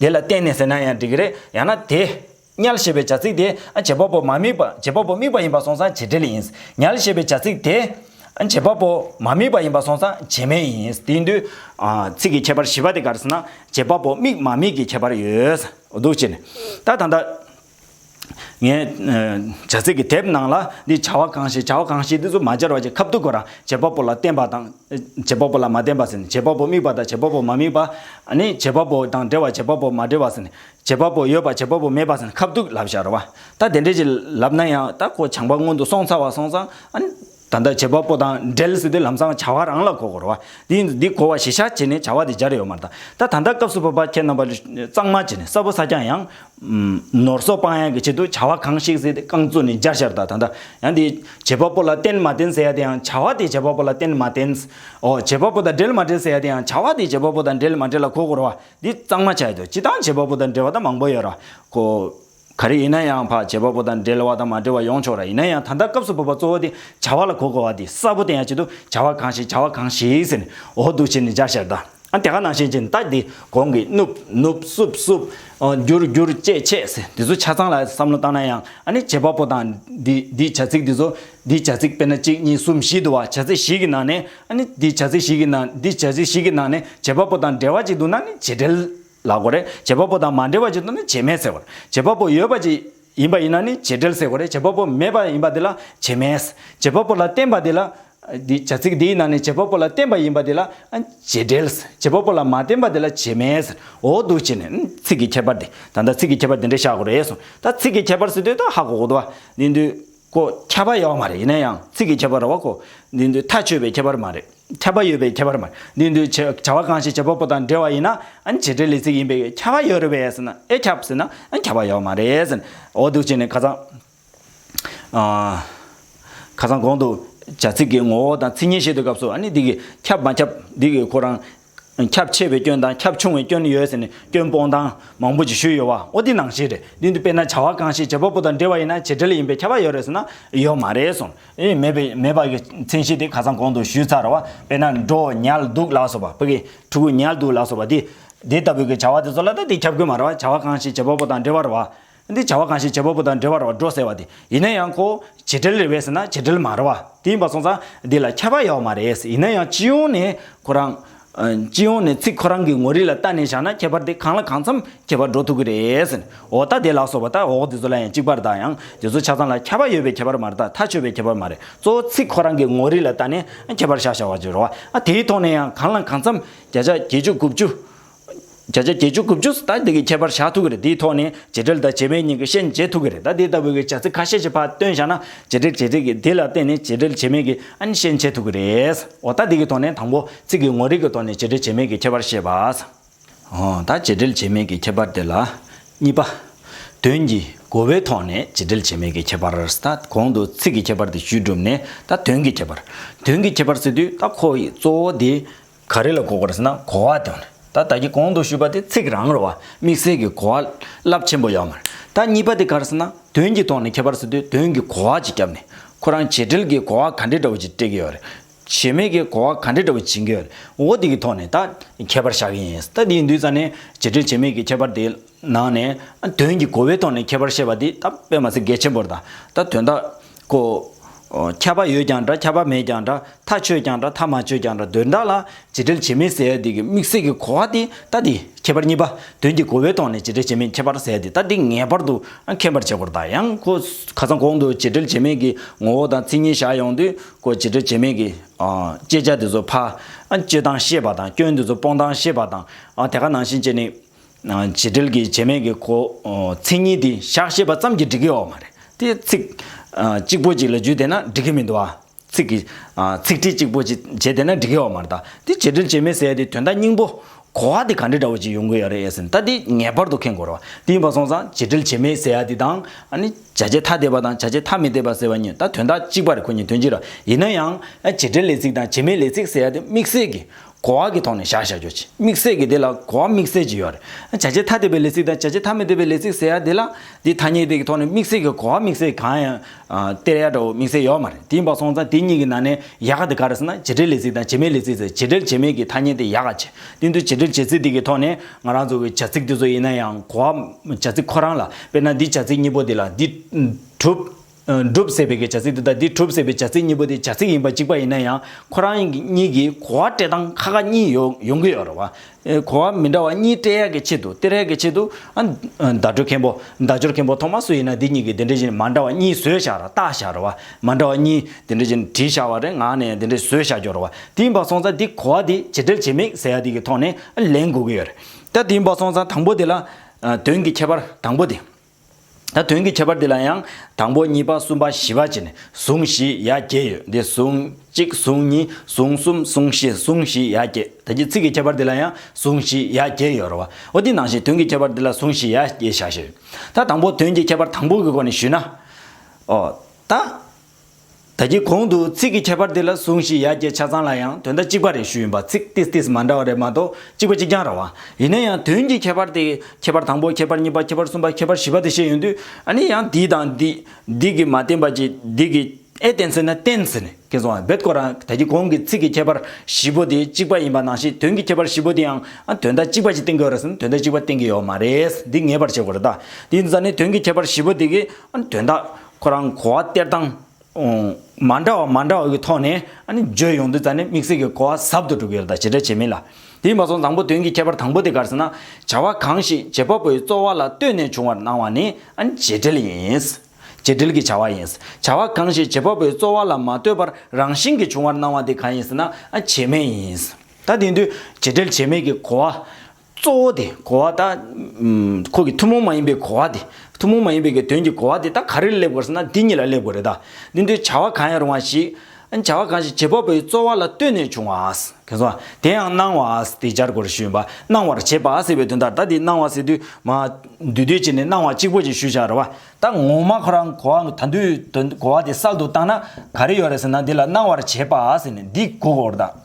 དེ་ལ་བརྟེན་ནས་ཟེར་ན་ཡང་འགྲིག་གི་རེད། ཡང་ན། དེ། ཉལ་ཞེས་པའི་བྱ་ཚིག་དེ། བྱེད་པ་པོ་མ་དམིགས་པ། བྱེད་པ་པོ་དམིགས་པ་ཡིན་པར་སོང་ཙང་བྱེད་འབྲེལ་ཡིན། ཉལ་ཞེས་པའི་བྱ་ཚིག་དེ། བྱེད་པ་པོ་མ་དམིགས་པ་ཡིན་པར་སོང་ཙང་བྱེད་མེད་ཡིན། དེ་ཡིན་དུས། ཚིག་གི་ཁྱད་པར་བཞི་པ་དེ་ག་རེ་ཟེར་ན། བྱེད་པ་པོ་དམིགས་མ་དམིགས་ཀྱི་ཁྱད་པར་ཡོད། འདུག་སྤྱིར། ད་ད་ལྟ། ངས་བྱ་ཚིག་གི་དེབ་ནང་ལ་འདིས་བྱ་བ་གང་བྱེད་བྱ་བ་གང་བྱེད་འདི་ཚོ་མ་སྦྱར་བ་ཅི་ཁབ་ཏུ་གོ་ར། བྱེད་པ་པོ་ལ་བརྟེན་པ་དང། བྱེད་པ་པོ་ལ་མ་བརྟེན་པ་ཟེར་ནས་བྱེད་པ་པོ་དམིགས་པ་དང་བྱེད་པ་པོ་མ་དམིགས་པ། ནི། བྱེད་པ་པོ་དང་འབྲེལ་བ་བྱེད་པ་པོ་མ་འབྲེལ་བ་ཟེར་ནས། བྱེད་པ་པོ་ཡོད་པ་བྱེད་པ་པོ་མེད་པ་ཟེར་ནས་ཁབ་ཏུ་ལབ་བྱ་ར་བ། ད་དེ་འདྲས་ཀྱི་ལབ་ན་ཡང་ད་ཁོ་བྱང་པ་སྔོན་དུ་སོང་ཚར་བ་སོང་ཙང། ད་ལྟ་བྱེད་པ་པོ་དང་འབྲེལ་སྲིད་དུ་ལམ་སང་བྱ་བ་རང་ལ་གོ་གོར་བ། འདི་འདི་གོ་བ་གཞི་ཤ་བྱེད་ནས་བྱ་བ་དེ་སྦྱར་ཡོད་མ་རྟ། ད་ད་ལྟ་སྐབས་སུ་བབ་པ་ཁྱེད་རྣམ་པ་གཙང་མ་བྱེད་ནས་གསར་བུ་ས་ཀྱང་ཡང། ནོར་སོགས་སྤང་ཡང་གི་ཆེད་དུ་བྱ་བ་གང་ཞིག་སྲིད་རྐང་བཙུགས་ནས་སྦྱར་ཤར་ད་ད་ད། ཡང་འདི་བྱེད་པ་པོ་ལ་བརྟེན་མ་བརྟེན་ཟེར་ཡ་དེ་ཡང་བྱ་བ་དེ་བྱེད་པ་པོ་ལ་བརྟེན་མ་བརྟེན། འོ་བྱེད་པ་པོ་དང་འབྲེལ་མ་འབྲེལ་ཟེར་ཡ་དེ་ཡང་བྱ་བ་དེ་བྱེད་པ་པོ་དང་འབྲེལ་མ་འབྲེལ་ལ་གོ་གོར་བ། འདི་གཙང་མ་བྱ་ཡོད་དོ་ཅི་དང་བྱེད་པ་པོ་དང་འབྲེལ་བ་ད་མང་པོ་ཡོད་ར་གོ། ག་རེ་ཡིན་ན་ཡང་བག་བྱེད་པ་པོ་དང་འབྲེལ་བ་དང་མ་འབྲེལ་བ་ཡོང་ཆོག་ར་ཡིན་ན་ཡང་ད་ལྟ་སྐབས་སུ་བབ་པ་གཙོ་བོ་དེ་བྱ་བ་ལ་གོ་དགོས་བ་དེ་གསལ་པོ་བསྟན་ཡ་ཅི་འདུག་བྱ་བ་གང་ཞིག་བྱ་བ་གང་ཞིག་ཟེར་ནས་འོ་འདུག་བྱས་ནས་འཇའ་ཤེལ་དང་ཨ་དེ་ག་ནང་ཤེལ་ཅན་ད་དེ་གོང་གི་ནུབ་ནུབ་བསུབ་བསུབ། བསྒྱུར་བསྒྱུར་ཅེས་བྱས་ཟེར་འདི་ཚོ་ཆ་ཚང་ལ་བསམ་བློ་བཏང་ན་ཡང་ཨ་ནི་བྱེད་པ་པོ་དང་འདི་འདི་བྱ་ཚིག་འདི་ཚོ་འདི་བྱ་ཚིག་དཔེར་ན་གཅིག་གཉིས་གསུམ་བཞི་འདུག་བ་བྱ་ཚིག་ཞིག་གི་ནང་ནས་ཨ་ནི་འདི་བྱ་ཚིག་ཞིག་གི་ནང་འདི་བྱ་ཚིག་ཞིག་གི་ནང་ནས་བྱེད་པ་པོ་དང་འབྲེལ་བ་ཅིག་འདུག་ན་ནི་བྱེད་འབྲེལ། ལ་གོ་རེ། བྱེད་པ་པོ་དང་མ་འབྲེལ་བ་ཅིག་ཏུ་ནི་བྱེད་མེད་ཟེར་གོ། བྱེད་པ་པོ་ཡོད་པ་ཅིག་ཡིན་པ་ཡིན་ན་ནི་བྱེད་འབྲེལ་ཟེར་གོ་རེ་བྱེད་པ་པོ་མེད་པ་ཡིན་པ་དེ་ལ་བྱེད་མེད། བྱེད་པ་པོ་ལ་བརྟེན་པ་དེ་ལ། བྱ་ཚིག་འདིའི་ནང་ནས་བྱེད་པ་པོ་ལ་བརྟེན་པ་ཡིན་པ་དེ་ལ་བྱེད་འབྲེལ། བྱེད་པ་པོ་ལ་མ་བརྟེན་པ་དེ་ལ་བྱེད་མེད་ཟེར་འོ་འདུག་ཅེས་ནས། ཚིག་གི་ཁྱད་པར་འདི་ད་ལྟ་ཚིག་གི་ཁྱད་པར་འདི་འདྲས་བཞག་གོ་རེ་ཟུང། ད་ཚིག་གི་ཁྱད་པར་ཟེར་དུས་ད་ཧ་གོ་གོ་འདུག་བ། འདི་འདུག། གོ། ཁྱད་པར་ཡོད་མ་རེད་ཡིན་ན་ཡང་ཚིག་གི་ཁྱད་པར་རོ་བ་གོ། འདི་མདོའི་མཐའ་ཆོད་པའི་ཁྱད་པར་མ་རེད། ཁྱད་པར་ཡོད་པའི་ཁྱད་པར་མ་རེད། འདི་མདོའི་བྱ་བ་གང་ཞིག་བྱེད་པ་པོ་དང་འབྲེལ་བ་ཡིན་ན་བྱེད་འབྲེལ་ལས་ཚིག་ཡིན་པས་ཁྱད་པར་ཡོད་རེད་བས་ཟེར་ན་ཨེ་ཁྱབ་ཟེར་ན་ཁྱད་པར་ཡོད་མ་རེད་ཟེར། འོ་སྡུག་ཅན་ནི་ཁ་ཚང། ཁ་ཚང་གོང་དུ་བྱ་ཚིག་གི་ངོ་བོ་དང་ཚིག་ཉེས་བཤད་དུས་སྐབས་སུ་འདི་གིས་ཁྱབ་མ་ཁྱབ་འདི་གིས་ཁོ་རང་ཁྱབ་ཆེ་བའི་སྐྱོན་དང་ཁྱབ་ཆུང་བའི་སྐྱོན་ཡོད་ཟེར་ནས་སྐྱོན་སྤོང་སྟངས་མང་པོ་ཞིག་ཞུས་ཡོད་བ་འོ་འདི་ནང་བཞིན་རེད་འདི་འདི་དཔེར་ན་བྱ་བ་གང་ཞིག་བྱེད་པ་པོ་དང་འབྲེལ་བ་ཡིན་ན་བྱེད་འབྲེལ་ཡིན་པའི་ཁྱབ་པ་ཡོད་རེད་ཟེར་ན་ཡོད་མ་རེད་གསུངས། ཨེ་མེད་པའི་མེད་པ་གི་མཚན་གཞི་དེ་ག་ཚང་གོང་དུ་ཞུས་ཚར་རོ། དཔེར་ན་འགྲོ་ཉལ་འདུག་ལགས་སོ་བ་བོད་སྐད་ཕྲུ་གུ་ཉལ་འདུག་ལགས་སོ་བ་འདི། དེ་ལྟ་བུའི་གི་བྱ་བ་དེ་ཚོ་ལ་ད་དེ་ཁྱབ་དགོས་མ་རེད་བ་བྱ་བ་གང་ཞིག་བྱེད་པ་པོ་དང་འབྲེལ་བ་རེད་བ། འདི་བྱ་བ་གང་ཞིག་བྱེད་པ་པོ་དང་འབྲེལ་བར་བ་འགྲོ་ཟེར་བ་དེ་ཡིན་ན་ཡང་གོ། བྱེད་འབྲེལ་རེ་བས་ཟེར་ན་བྱེད་འབྲེལ་མ་རེད་བ། དེ་ཡིན་པ་སོང་ཙང་འདི་ལ་ཁྱད་པར་ཡོད་མ་རེད། ཡིན་ན་ཡང་སྤྱི་ཡོངས་ནས་ཁོ་རང། སྤྱི་ཡོངས་ནས་ཚིག་ཁོ་རང་གི་ངོ་རིས་ལ་བལྟ་ནས་བཞག་ན་ཁྱད་པར་དེ་གང་ལ་གང་འཚམ་ཁྱད་པར་འགྲོ་ཐུབ་ཀྱི་རེད། འོ་ད་དེ་ལགས་སོ་བ་ད་འོག་འདི་ཚོ་ལ་ཡང་གཅིག་པར་དང་ཡང་དེ་ཚོ་ཆ་ཚང་ལ་ཁྱད་པར་ཡོད་པའི་ཁྱད་པར་མ་རེད་ད་མཐའ་ཆོད་པའི་ཁྱད་པར་མ་རེད་གཙོ་བོ་ཚིག་ཁོ་རང་གི་ངོ་རིས་ལ་བལྟ་ནས་ཁྱད་པར་བཞག་བཞག་བ་བྱོས་རོགས། དེའི་ཐོག་ནས་ཡང་གང་ལ་གང་འཚམ་བརྒྱ་ཆ་བརྒྱད་ཅུ་དགུ་བཅུ། བརྒྱ་ཆ་བརྒྱད་ཅུ་དགུ་བཅུ་ཟད་དེ་གི་ཁྱད་པར་བཞག་ཐུག་གི་རེད་དེའི་ཐོག་ནས་བྱེད་འབྲེལ་དང་བྱེད་པའི་གཉིས་ཀི་ཤན་འབྱེད་ཐུག་གི་རེད་ད་དེ་ལྟ་བུ་གི་བྱ་ཚིག་ཁ་ཤས་ཤིག་ཕར་བཏོན་བཞག་ན་བྱེད་འབྲེལ་བྱེད་ཚིག་གི་དེ་ལ་བརྟེན་ནས་བྱེད་འབྲེལ་བྱེད་མེད་གི་ཨན་ཤན་འབྱེད་ཐུག་གི་རེད་འོ་ད་དེ་གི་ཐོག་ནས་དང་པོ་ཚིག་གི་ངོ་རིག་གི་ཐོག་ནས་བྱེད་འབྲེལ་བྱེད་མེད་གི་ཁྱད་པར་བཤད་པ། འོ་ད་བྱེད་འབྲེལ་བྱེད་མེད་གི་ཁྱད་པར་དེ་ལ། གཉིས་པ། དོན་གྱི་གོ་བའི་ཐོག་ནས་བྱེད་འབྲེལ་བྱེད་མེད་གི་ཁྱད་པར་ད་གོང་དུ་ཚིག་གི་ཁྱད་པར་དེ་ཞུས་གྲུབ་ནས་ད་དོན་གི་ཁྱད་པར། དོན་གྱི་ཁྱད་པར་ཟེར་དུས་ད་ཁོ་ཡི་གཙོ་བོ་དེ། ག་རེ་ལ་གོ་དགོས་ཟེར་ན་གོ་བ་དེ་ཡང་རེད། ད་ལྟ་གི་གོང་དུ་ཞུས་པ་དེ་ཚིག་རང་རེད་བ། དམིགས་བསལ་གྱི་གོ་བ་རླབས་ཆེན་པོ་ཡོད་མ་རེད། ད་གཉིས་པ་དེ་ག་རེ་ཟེར་ན་དོན་གྱི་ཐོག་ནས་ཁྱད་པར་ཟེར་དུས་དོན་གྱི་གོ་བ་ཅིག་བརྒྱབ་ནས། ཁོ་རང་བྱེད་འབྲེལ་གྱི་གོ་བ་ག་འདྲའི་འདྲ་བོ་ཅིག་སྤྲད་ཀྱི་ཡོད་རེད། བྱེད་མེད་ཀྱི་གོ་བ་ག་འདྲའི་འདྲ་བོ་བྱེད་ཀྱི་ཡོད་རེད་འོ་དེ་གི་ཐོག་ནས་ད་ཁྱད་པར་བཞག་གི་ཡིན། ད་དེ་ཡིན་དུས་ཙང་ནས་བྱེད་འབྲེལ་བྱེད་མེད་ཀྱི་ཁྱད་པར་དེ་ནང་ནས་དོན་གྱི་གོ་བའི་ཐོག་ནས་ཁྱད་པར་བཤད་པ་འདི་ད་དཔེ་མ་ཟད་འགལ་ཆེན་པོར་དང་ད་དོན་དག་གོ། ཁྱད་པར་ཡོད་ཀྱང་འདྲ་ཁྱད་པར་མེད་ཀྱང་འདྲ་མཐའ་ཆོད་ཀྱང་འདྲ་མཐའ་མ་ཆོད་ཀྱང་འདྲ་དོན་དག་ལ་བྱེད་འབྲེལ་བྱེད་མིན་ཟེར་ཡ་འདི་གི་དམིགས་བསལ་གྱི་གོ་བ་འདི་ད་འདི་ཁྱད་པར་གཉིས་པ་དོན་གྱི་གོ་བའི་ཐོག་ནས་བྱེད་འབྲེལ་བྱེད་མིན་ཁྱད་པར་ཟེར་ཡ་འདི་ད་འདི་ངེས་པར་དུ་མཁྱེན་པར་བྱེད་དགོས་ར་ད་ཡང་གོ། ཁ་སང་གོང་དུ་བྱེད་འབྲེལ་བྱེད་མིན་གྱི་ངོ་བོ་དང་ཚིག་གཉིས་བཞག་ཡོང་དུས་གོ་བྱེད་འབྲེལ་བྱེད་མིན་གྱི་བཅད་བྱ་འདི་ཚོ་ཕ། སྤྱོད་སྟངས་ཤེས་པ་དང་སྐྱོན་འདི་ཚོ་སྤོང་སྟངས་ཤེས་པ་དང་དེ་ག་ནང་བཞིན་བཅད་ནི། བྱེད་འབྲེལ་གྱི་བྱེད་མེད་ཀྱི་གོ། མཚན་ཉིད་དེ་བཞག་ཤེས་པ་ཙམ་གྱིས་འགྲིག་གི་ཡོག་མ་རེད་དེ། ཚིག། གཅིག་པོ་གཅིག་ལ་བརྒྱུད་བསྡད་ན་འགྲིག་གི་མི་འདུག་ཨ། ཚིག་གི། ཚིག་ཁྲི་གཅིག་པོ་གཅིག་བྱས་བསྡད་ན་འགྲིག་གི་ཡོག་མ་རེད་ད། དེ་བྱེད་འབྲེལ་བྱེད་མེད་ཟེར་དེ་དོན་དག་སྙིང་པོ། གོ་བ་དེ་ག་འདྲི་འདྲ་བོ་གཅིག་ཡོང་གི་ཡོག་རེད་ཨེ་ཟེར་ད་དེ་ངེས་པར་དུ་མཁྱེན་དགོས་རེད་བ། དེ་ཡིན་པ་སོང་ཙང་བྱེད་འབྲེལ་བྱེད་མེད་ཟེར་ཡ་དེ་དང། ཨ་ནི། བྱ་བྱེད་ཐ་དད་པ་དང་བྱ་བྱེད་ཐ་མི་དད་པ་ཟེར་བ་གཉིས་ད་དོན་དག་གཅིག་པ་རེད་ཁོ་གཉིས་དོན་གཅིག་རེད། ཡིན་ན་ཡང། བྱེད་འབྲེལ་ལས་ཚིག་དང་བྱེད་མེད་ལས་ཚིག་ཟེར་ཡ་དེ་དམིགས་བསལ་གྱི། གོ་བ་གི་ཐོག་ནས་བཞག་བཞག་རྒྱུ་གཅིག་དམིགས་བསལ་གི་དེ་ལ་གོ་བ་དམིགས་བསལ་གྱི་ཡོད་རེད། བྱ་བྱེད་ཐ་དད་པའི་ལས་ཚིག་དང་བྱ་བྱེད་ཐ་མི་དད་པའི་ལས་ཚིག་ཟེར་ཡ་དེ་ལ་དེ་ཐ་སྙད་དེ་གི་ཐོག་ནས་དམིགས་བསལ་གི་གོ་བ་དམིགས་བསལ་གང་ཡང་སྟེར་ཡ་འདྲ་བོ་དམིགས་བསལ་ཡོད་མ་རེད་དེ་འབའ་སོང་ཙང་དེ་གཉིས་ཀྱི་ནང་ནས་ཡག་ག་དེ་ག་རེད་ཟེར་ན་བྱེད་འབྲེལ་ལས་ཚིག་དང་བྱེད་མེད་ལས་ཚིག་ཟེར་བྱེད་འབྲེལ་བྱེད་མེད་གི་ཐ་སྙད་དེ་ཡག་ག་ཆེ་དེ་འདུག་བྱེད་འབྲེལ་བྱེད་ཚིག་དེ་གི་ཐོག་ནས་ང་རང་ཚོ་གི་བྱ་ཚིག་དེ་ཚོ་ཡིན་ན་ཡང་གོ་བ་བྱ་ཚིག་ཁོ་རང་ལ་དཔེར་ན་འདི་བྱ་ཚིག་གཉིས་པོ་དེ་ལ་འདི་གྲུབ། གྲུབ་ཟེར་བའི་གི་བྱ་ཚིག་འདི་དང་འདི་གྲུབ་ཟེར་བའི་བྱ་ཚིག་གཉིས་པོ་དེ་བྱ་ཚིག་ཡིན་པ་གཅིག་པ་ཡིན་ན་ཡང་ཁོ་རང་གཉིས་ཀྱིས་གོ་བ་སྤྲད་སྟངས་ཁ་ཁ་གཉིས་ཡོང་ཡོང་གི་ཡོད་རེད་བ། གོ་བ་མི་འདྲ་བ་གཉིས་སྤྲད་ཡག་གི་ཆེད་དུ་སྟེར་ཡག་གི་ཆེད་དུ། བརྡ་སྤྲོད་མཁན་པོ་བརྡ་སྦྱོར་མཁན་པོ་ཐོག་མ་སུ་ཡིན་ན་འདི་གཉིས་ཀྱི་འདི་འདྲ་བཞིན་མ་འདྲ་བ་གཉིས་བཟོས་བཞག་ར་བཏགས་བཞག་རེད་བ། མ་འདྲ་བ་གཉིས་འདི་འདྲ་བཞིན་བྲིས་བཞག་བ་རེད་ངག་ནས་འདི་འདྲ་བཟོས་བཞག་རྒྱུ་རེད་བ། དེ་ཡིན་པ་སོང་ཙང་འདི་གོ་བ་འདི་ཇི་འདྲ་བྱེད་མིན་ཟེར་ཡག་འདི་གི་ཐོག་ནས་ལན་དགོས་གི་ཡོད་རེད། ད་དེ་ཡིན་པ་སོང་ཙང་དང་པོ་དེ་ལ་དོན་གྱི་ཁྱད་པར་དང་པོ་དེ། ད་དོན་གྱི་ཁྱད་པར་འདི་ལ་ཡང་དང་པོ་གཉིས་པ་གསུམ་པ་བཞི་པ་བཅས་ནས་ཟུང་བཞི་ཡ་བརྒྱད་ཡོད་དེ་ཟུང་གཅིག་ཟུང་གཉིས་ཟུང་གསུམ་ཟུང་བཞི་ཟུང་བཞི་ཡ་བརྒྱད་ད་ཀྱི་ཚིག་གི་ཁྱད་པར་འདི་ལ་ཡང་ཟུང་བཞི་ཡ་བརྒྱད་ཡོད་རོ་བ་འོ་དེ་ནང་བཞིན་དོན་གྱི་ཁྱད་པར་འདི་ལ་ཟུང་བཞི་ཡ་བརྒྱད་བཞག་བྱས་ཡོད་ད་དང་པོ་དོན་གྱི་ཁྱད་པར་དང་པོ་གི་སྒོ་ནས་ཞུས་ན། ཨོ། ད། ད་ཀྱི་གོང་དུ་ཚིག་གི་ཁྱད་པར་དེ་ལ་ཟུང་ཞིག་ཡ་གྱལ་ཆ་ཚང་ལ་ཡང་དོན་དག་གཅིག་པ་རེ་ཞུས་ཡིན་པ་ཚིག་ཏིས་ཏིས་མ་འདྲ་བ་རེ་མ་གཏོགས་གཅིག་པ་གཅིག་རྐྱང་ར་བ། ཡིན་ན་ཡང་དོན་གྱི་ཁྱད་པར་དེ་ཁྱད་པར་དང་པོ་ཁྱད་པར་གཉིས་པ་ཁྱད་པར་གསུམ་པ་ཁྱད་པར་བཞི་པ་དེ་བཤད་ཡོང་དུས་ཨ་ནི་ཡང་འདི་དང་འདི་འདི་གི་མ་བསྟན་པ་ཅིག་འདི་གི་ཨེ་བསྟན་ཟེར་ན་བསྟན་ཟེར་ནས་ཁེངས་སོང་བ་རྦད་དཀོན་རང་ད་ཀྱི་གོང་གི་ཚིག་གི་ཁྱད་པར་བཞི་པོ་དེ་གཅིག་པ་ཡིན་པ་ནང་བཞིན་དོན་གྱི་ཁྱད་པར་བཞི་པོ་དེ་ཡང་དོན་དག་གཅིག་པ་ཅིག་བསྟན་གི་ཡོད་རེད་ཟེར་ན་དོན་དག་གཅིག་པ་བསྟན་གི་ཡོད་མ་རེད་འདི་ངེས་པར་བྱེད་དགོས་རེད་ད་དེ་ཡིན་ཟེར་ན་དོན་གྱི་ཁྱད་པར་བཞི་པོ་དེ་གིས་དོན་དག་ཁོ་རང་གོ་བ་སྟེར་སྟངས་མ་འདྲ་བ་མ་འདྲ་བ་ཀྱི་ཐོག་ནས་བརྗོད་ཡོང་དུས་ད་ནི་དམིགས་བསལ་གྱི་གོ་བ་ཟབ་ཏུ་གྲུབ་ཡོད་ལ་ཇི་འདྲ་བྱས་མིན་ལ་དེས་མ་ཚོགས་བཟང་པོ་དོན་གྱི་ཁྱད་པར་དང་པོ་དེ་གར་སོང་ན་བྱ་བ་གང་ཞིག་བྱེད་པ་པོའི་རྩོལ་བ་ལ་ལྟོས་ནས་བྱུང་བར་སྣང་བ་ནི་བྱེད་འབྲེལ་ཡིན། བྱེད་འབྲེལ་གྱི་བྱ་བ་ཡིན། བྱ་བ་གང་ཞིག་བྱེད་པ་པོའི་རྩོལ་བ་ལ་མ་ལྟོས་པར་རང་བཞིན་གྱིས་བྱུང་བར་སྣང་བ་དེ་གང་ཡིན་ཟེར་ན་བྱེད་མེད་ཡིན། ད་དེང་དུས་བྱེད་འབྲེལ་བྱེད་མེད་ཀྱི་གོ་བ་གཙོ་བོ་དེ་གོ་བ་དང། ཁོ་གི་ཐུན་མོང་མ་ཡིན་པའི་གོ་བ་དེ། ཐུན་མོང་མ་ཡིན་པའི་གི་དོན་གྱི་གོ་བ་དེ་དག་ག་རེ་ལ་སླེབས་དགོས་ཟེར་ན་འདི་གཉིས་ལ་སླེབས་དགོས་རེད་ད། འདི་ཚོའི་བྱ་བ་གང་ཡང་རུང་བ་ཞིག། བྱ་བ་གང་ཞིག་བྱེད་པ་པོའི་རྩོལ་བ་ལ་ལྟོས་ནས་བྱུང་བ། གལ་སོང་བ། དེ་ཡང་སྣང་བ། དེ་སྦྱར་དགོས་རེ་ཞུས་ཡོད་པ། སྣང་བར་བྱེད་པ་ཟེར་བའི་དོན་དག་ད་འདི་སྣང་བ་ཟེར་དུས། མ། འདུས་སྡོད་བྱས་ནས་སྣང་བ་གཅིག་པོ་ཅིག་ཞུ་བཞག་རེད་བ། ད་ངོ་མ་ཁོ་རང་གོ་བ་ད་འདུས་དོན་གོ་བ་དེ་གསར་དུ་བཏང་ན་ག་རེ་ཡོད་རེད་ཟེར་ན་འདི་ལ་སྣང་བར་བྱེད་པ་ཟེར་ནས་འདི་གོ་དགོས་རེད་ད།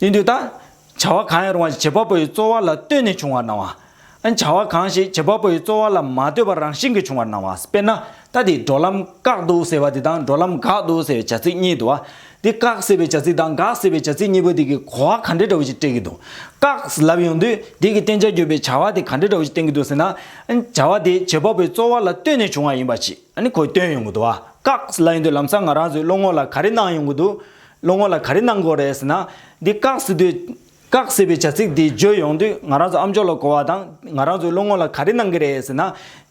ཡིན་དུས་ད། བྱ་བ་གང་ཡང་རུང་བ་ཞིག་བྱེད་པ་པོ་ཡི་རྩོལ་བ་ལ་ལྟོས་ནས་བྱུང་བར་སྣང་བ། ཨ་བྱ་བ་གང་ཞིག་བྱེད་པ་པོ་ཡི་རྩོལ་བ་ལ་མ་ལྟོས་པར་རང་བཞིན་གྱིས་བྱུང་བར་སྣང་བ། དཔེར་ན། ད་དེ་འགྲོ་ལམ་བཀག་འདུག་ཟེར་བ་དེ་དང་འགྲོ་ལམ་འགག་འདུག་ཟེར་བའི་བྱ་ཚིག་གཉིས་དུ་བ། དེ་བཀག་ཟེར་བའི་བྱ་ཚིག་དང་འགག་ཟེར་བའི་བྱ་ཚིག་གཉིས་པོ་དེ་གིས་གོ་བ་ག་འདྲ་འདྲ་བོ་ཞིག་སྤྲད་ཀྱི་འདུག་བཀག་ལབ་ཡོང་དུས་དེ་གིས་བསྟན་བྱར་གྱུར་པའི་བྱ་བ་དེ་ག་འདྲ་འདྲ་བོ་ཞིག་བསྟན་གྱི་འདུག་ཟེར་ན། ཨ་བྱ་བ་དེ་བྱེད་པ་པོ་ཡི་རྩོལ་བ་ལ་ལྟོས་ནས་བྱུང་བ་ཡིན་པ་ཞིག་ཨ་ནི་གོ་སྟོན་ཡོང་གི་འདུག་བཀག་ལབ་ཡོང་དུས་ལམ་སང་ང་རང་ཚོའི་བློ་ངོར་ལ་ག་རེ་སྣང་ཡོང་གི་འདུག་བློ་ངོ་ལ་ག་རེ་གནང་དགོས་རེད་ཟེར་ན། འདི་བཀག་ཟེར་དུས། བཀག་ཟེར་བའི་བྱ་ཚིག་འདི་བརྗོད་ཡོང་དུས་ང་རང་ཚོ་ཨ་མཆོག་ལ་གོ་བ་དང་ང་རང་ཚོའི་བློ་ངོ་ལ་ག་རེ་གནང་གི་རེད་ཟེར་ན།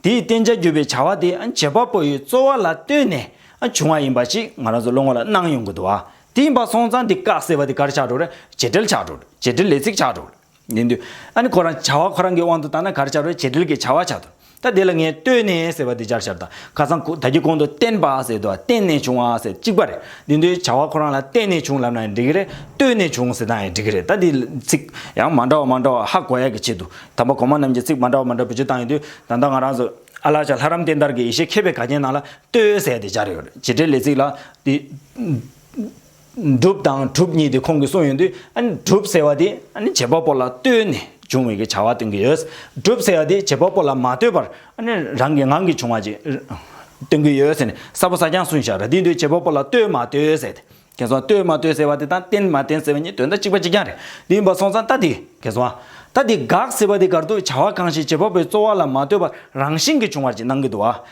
དེའི་བསྟན་བྱ་བརྒྱུད་པའི་བྱ་བ་དེ་བྱེད་པ་པོ་ཡི་རྩོལ་བ་ལ་ལྟོས་ནས་བྱུང་བ་ཡིན་པ་ཞིག་ང་རང་ཚོའི་བློ་ངོ་ལ་སྣང་ཡོང་གི་འདུག་བ། དེ་ཡིན་པ་སོང་ཙང་འདི་བཀག་ཟེར་བ་དེ་ག་རེ་བྱ་འགྲོ་རེད། བྱེད་འབྲེལ་བྱ་འགྲོ། བྱེད་འབྲེལ་ལས་ཚིག་བྱ་འགྲོ། ནས་འདུད། ཨ་ནི་ཁོ་རང་བྱ་བ་ཁོ་རང་གི་དབང་དུ་བཏང་ན་གར་བྱ་རོལ་བྱེད་དྲིལ་གྱི་བྱ་བ་བྱ་དོ། ད་དེ་ལ་ངས་ལྟོས་ནས་ཟེར་བ་འདི་སྦྱར་བྱར་དང་ཁ་སང་ད་ཀྱི་གོང་དུ་བརྟེན་པ་ཟེར་དུ་བརྟེན་ནས་བྱུང་བ་ཟེར་གཅིག་པ་རེད། འདི་འདུལ་བྱ་བ་ཁོ་རང་ལ་བརྟེན་ནས་བྱུང་ལབ་ན་ཡང་འགྲིག་གི་རེད། ལྟོས་ནས་བྱུང་ཟེར་ན་ཡང་འགྲིག་གི་རེད་ད་འདི་ཚིག། ཡང་མ་འདྲ་བ་མ་འདྲ་བ་ཧ་གོ་ཡ་གི་ཆེད་དུ་དམ་པ་གོང་མ་རྣམས་ཀྱི་ཚིག་མ་འདྲ་བ་མ་འདྲ་བུ་བཅུ་བཏང་ཡོད་དུས་ད་ལྟ་ང་རང་ཚོ། ཨ་ལགས་ཆ་ལྷ་རམ་བསྟན་དར་གྱི་ཡེ་ཤེས་མཁས་པའི་ག་རྒྱན་ནང་ལ་ལྟོས་ཟེར་བ་འདི་སྦྱར་ཡོད་རེད་བྱེད་འབྲེལ་ལས་ཚིག་ལ། འགྲུབ་དང་གྲུབ་གཉིས་དེ་ཁོང་གིས་གསུངས་ཡོད་དུས་གྲུབ་ཟེར་བ་དེ་བྱེད་པ་པོ་ལ་ལྟོས་ནས་བྱུང་བའི་བྱ་བ་སྟོན་གྱི་ཡོད། གྲུབ་ཟེར་བ་དེ་བྱེད་པ་པོ་ལ་མ་ལྟོས་པར་རང་གི་ངང་གིས་བྱུང་བ་ཅིག་སྟོན་གྱི་ཡོད་ཟེར་ནས་གསལ་པོ་གསལ་རྐྱང་གསུངས་ཤག་དེའི་དུས་བྱེད་པ་པོ་ལ་ལྟོས་མ་ལྟོས་ཟེར་ཏེ། ཁྱེད་སོང་ལྟོས་མ་ལྟོས་ཟེར་བ་དེ་དང་བརྟེན་མ་བརྟེན་ཟེར་བ་གཉིས་དོན་དག་གཅིག་པ་གཅིག་རྐྱང་རེད། དེ་ཡིན་པ་སོང་ཙང་ལྟ་དེ་ཁྱེད་སོང། ལྟ་དེ་དགག་ཟེར་བ་དེ་དགར་དུས་བྱ་བ་གང་ཞིག་བྱེད་པ་པོའི་རྩོལ་བ་ལ་མ་ལྟོས་པར་རང་བཞིན་གྱིས་བྱུང་བར་ཅིག་སྣང་གི་འདུག་ཨ།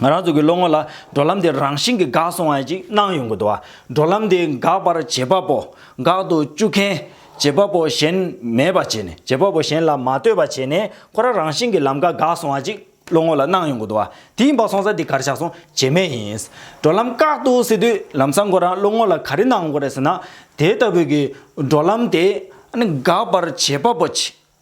ང་རང་ཚོ་གི་བློ་ངོར་ལ་འགྲོ་ལམ་དེ་རང་བཞིན་གི་འགག་སོང་བ་ཅིག་སྣང་ཡོང་གི་འདུག་བ། འགྲོ་ལམ་དེ་འགག་པར་བྱེད་པ་པོ། འགག་ཏུ་བཅུག་མཁན། བྱེད་པ་པོ་གཞན་མེད་པ་བྱས་ནས་བྱེད་པ་པོ་གཞན་ལ་མ་ལྟོས་པ་བྱས་ནས་ཁོ་རང་རང་བཞིན་གྱི་ལམ་ཀ་འགག་སོང་བ་ཅིག་བློ་ངོར་ལ་སྣང་ཡོང་གི་འདུག་བ། དེ་ཡིན་པ་སོང་ས་དེ་གར་བཞག་སོང་བྱེད་མེད་ཡིན། འགྲོ་ལམ་བཀག་ཏུ་བསྲི་དུས་ལམ་སང་ཁོ་རང་བློ་ངོར་ལ་ག་རེ་སྣང་གི་རེད་ཟེར་ན། དེ་ལྟ་བུའི་གི་འགྲོ་ལམ་དེ་ནི་འགག་པར་བྱེད་པ་པོ་ཅིག་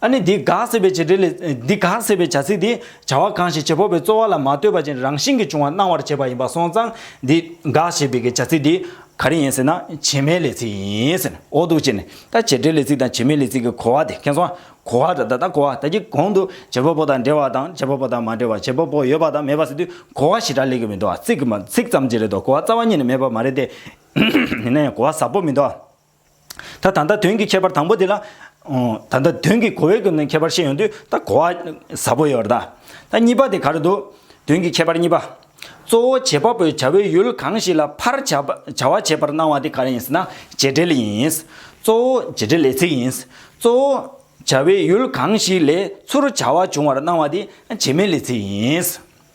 ཨ་ནི་འདི་ག་ཟེར་བའི་བྱེད་འབྲེལ་ལས། འདི་ག་ཟེར་བའི་བྱ་ཚིག་འདི། བྱ་བ་གང་ཞིག་བྱེད་ཕོག་པའི་རྩོལ་བ་ལ་མ་ལྟོས་པ་ཅན་རང་བཞིན་གྱིས་བྱུང་བ་སྣང་བར་བྱེད་པ་ཡིན་པ་སོང་ཙང། འདི་ག་ཞེས་པའི་བྱ་ཚིག་འདི། ག་རེ་ཡིན་ཟེར་ན། བྱེ་མའི་ལས་ཚིག་ཡིན། འོ་འདུག་ཅེ་ནས། ད་བྱེད་འབྲེལ་ལས་ཚིག་དང་བྱེ་མའི་ལས་ཚིག་གི་གོ་བ་དེ་མཁྱེན་སོང། གོ་བ། ད་ལྟ་གོ་བ་ད་ཀྱི་གོང་དུ། བྱེད་ཕོག་པོ་དང་འབྲེལ་བ་དང་བྱེད་ཕོག་པོ་དང་མ་འབྲེལ་བ་བྱེད་ཕོག་པོ་ཡོད་པ་དང་མེད་པ་ཟེར་དུས་གོ་བ་ཞེ་དྲག་ལེགས་ཀྱི་མི་འདུག་ཨ། ཚིག་གི་མ་ཚིག་ཙམ་གྱིས་རེད་དོ་གོ་བ་རྩ་བ་ཉིད་ནས་མེད་པ་མ་རེད་དེ། ཡིན་ན་ཡང་གོ་བ་ཟབ་པོ་མི་འདུག་ཨ། ད་ད་ལྟ་དོན་གྱི་ཁྱད་པར་དང་པོ་དེ་ལ། ད་ལྟ་དོན་གྱི་གོ་བའི་ཁྱད་པར་ཤེས་ཡོང་དུས་ད་གོ་བ་ཟབ་པོ་ཡོད་རེད་ད། གཉིས་པ་དེ་ག་རེད་འདུག་དོན་གྱི་ཁྱད་པར་གཉིས་པ། གཙོ་བོ་བྱེད་པ་པོའི་བྱ་བའི་ཡུལ་གང་ཞིག་ལ་ཕར་བྱ་བ་བྱེད་པར་སྣང་བ་དེ་ག་རེ་ཡིན་ཟེར་ན་བྱེད་འབྲེལ་ཡིན། གཙོ་བོ་བྱེད་འབྲེལ་ལས་ཚིག་ཡིན། གཙོ་བོ་བྱ་བའི་ཡུལ་གང་ཞིག་ལས་ཚུར་བྱ་བ་བྱུང་བར་སྣང་བ་དེ་བྱེད་མེད་ལས་ཚིག་ཡིན།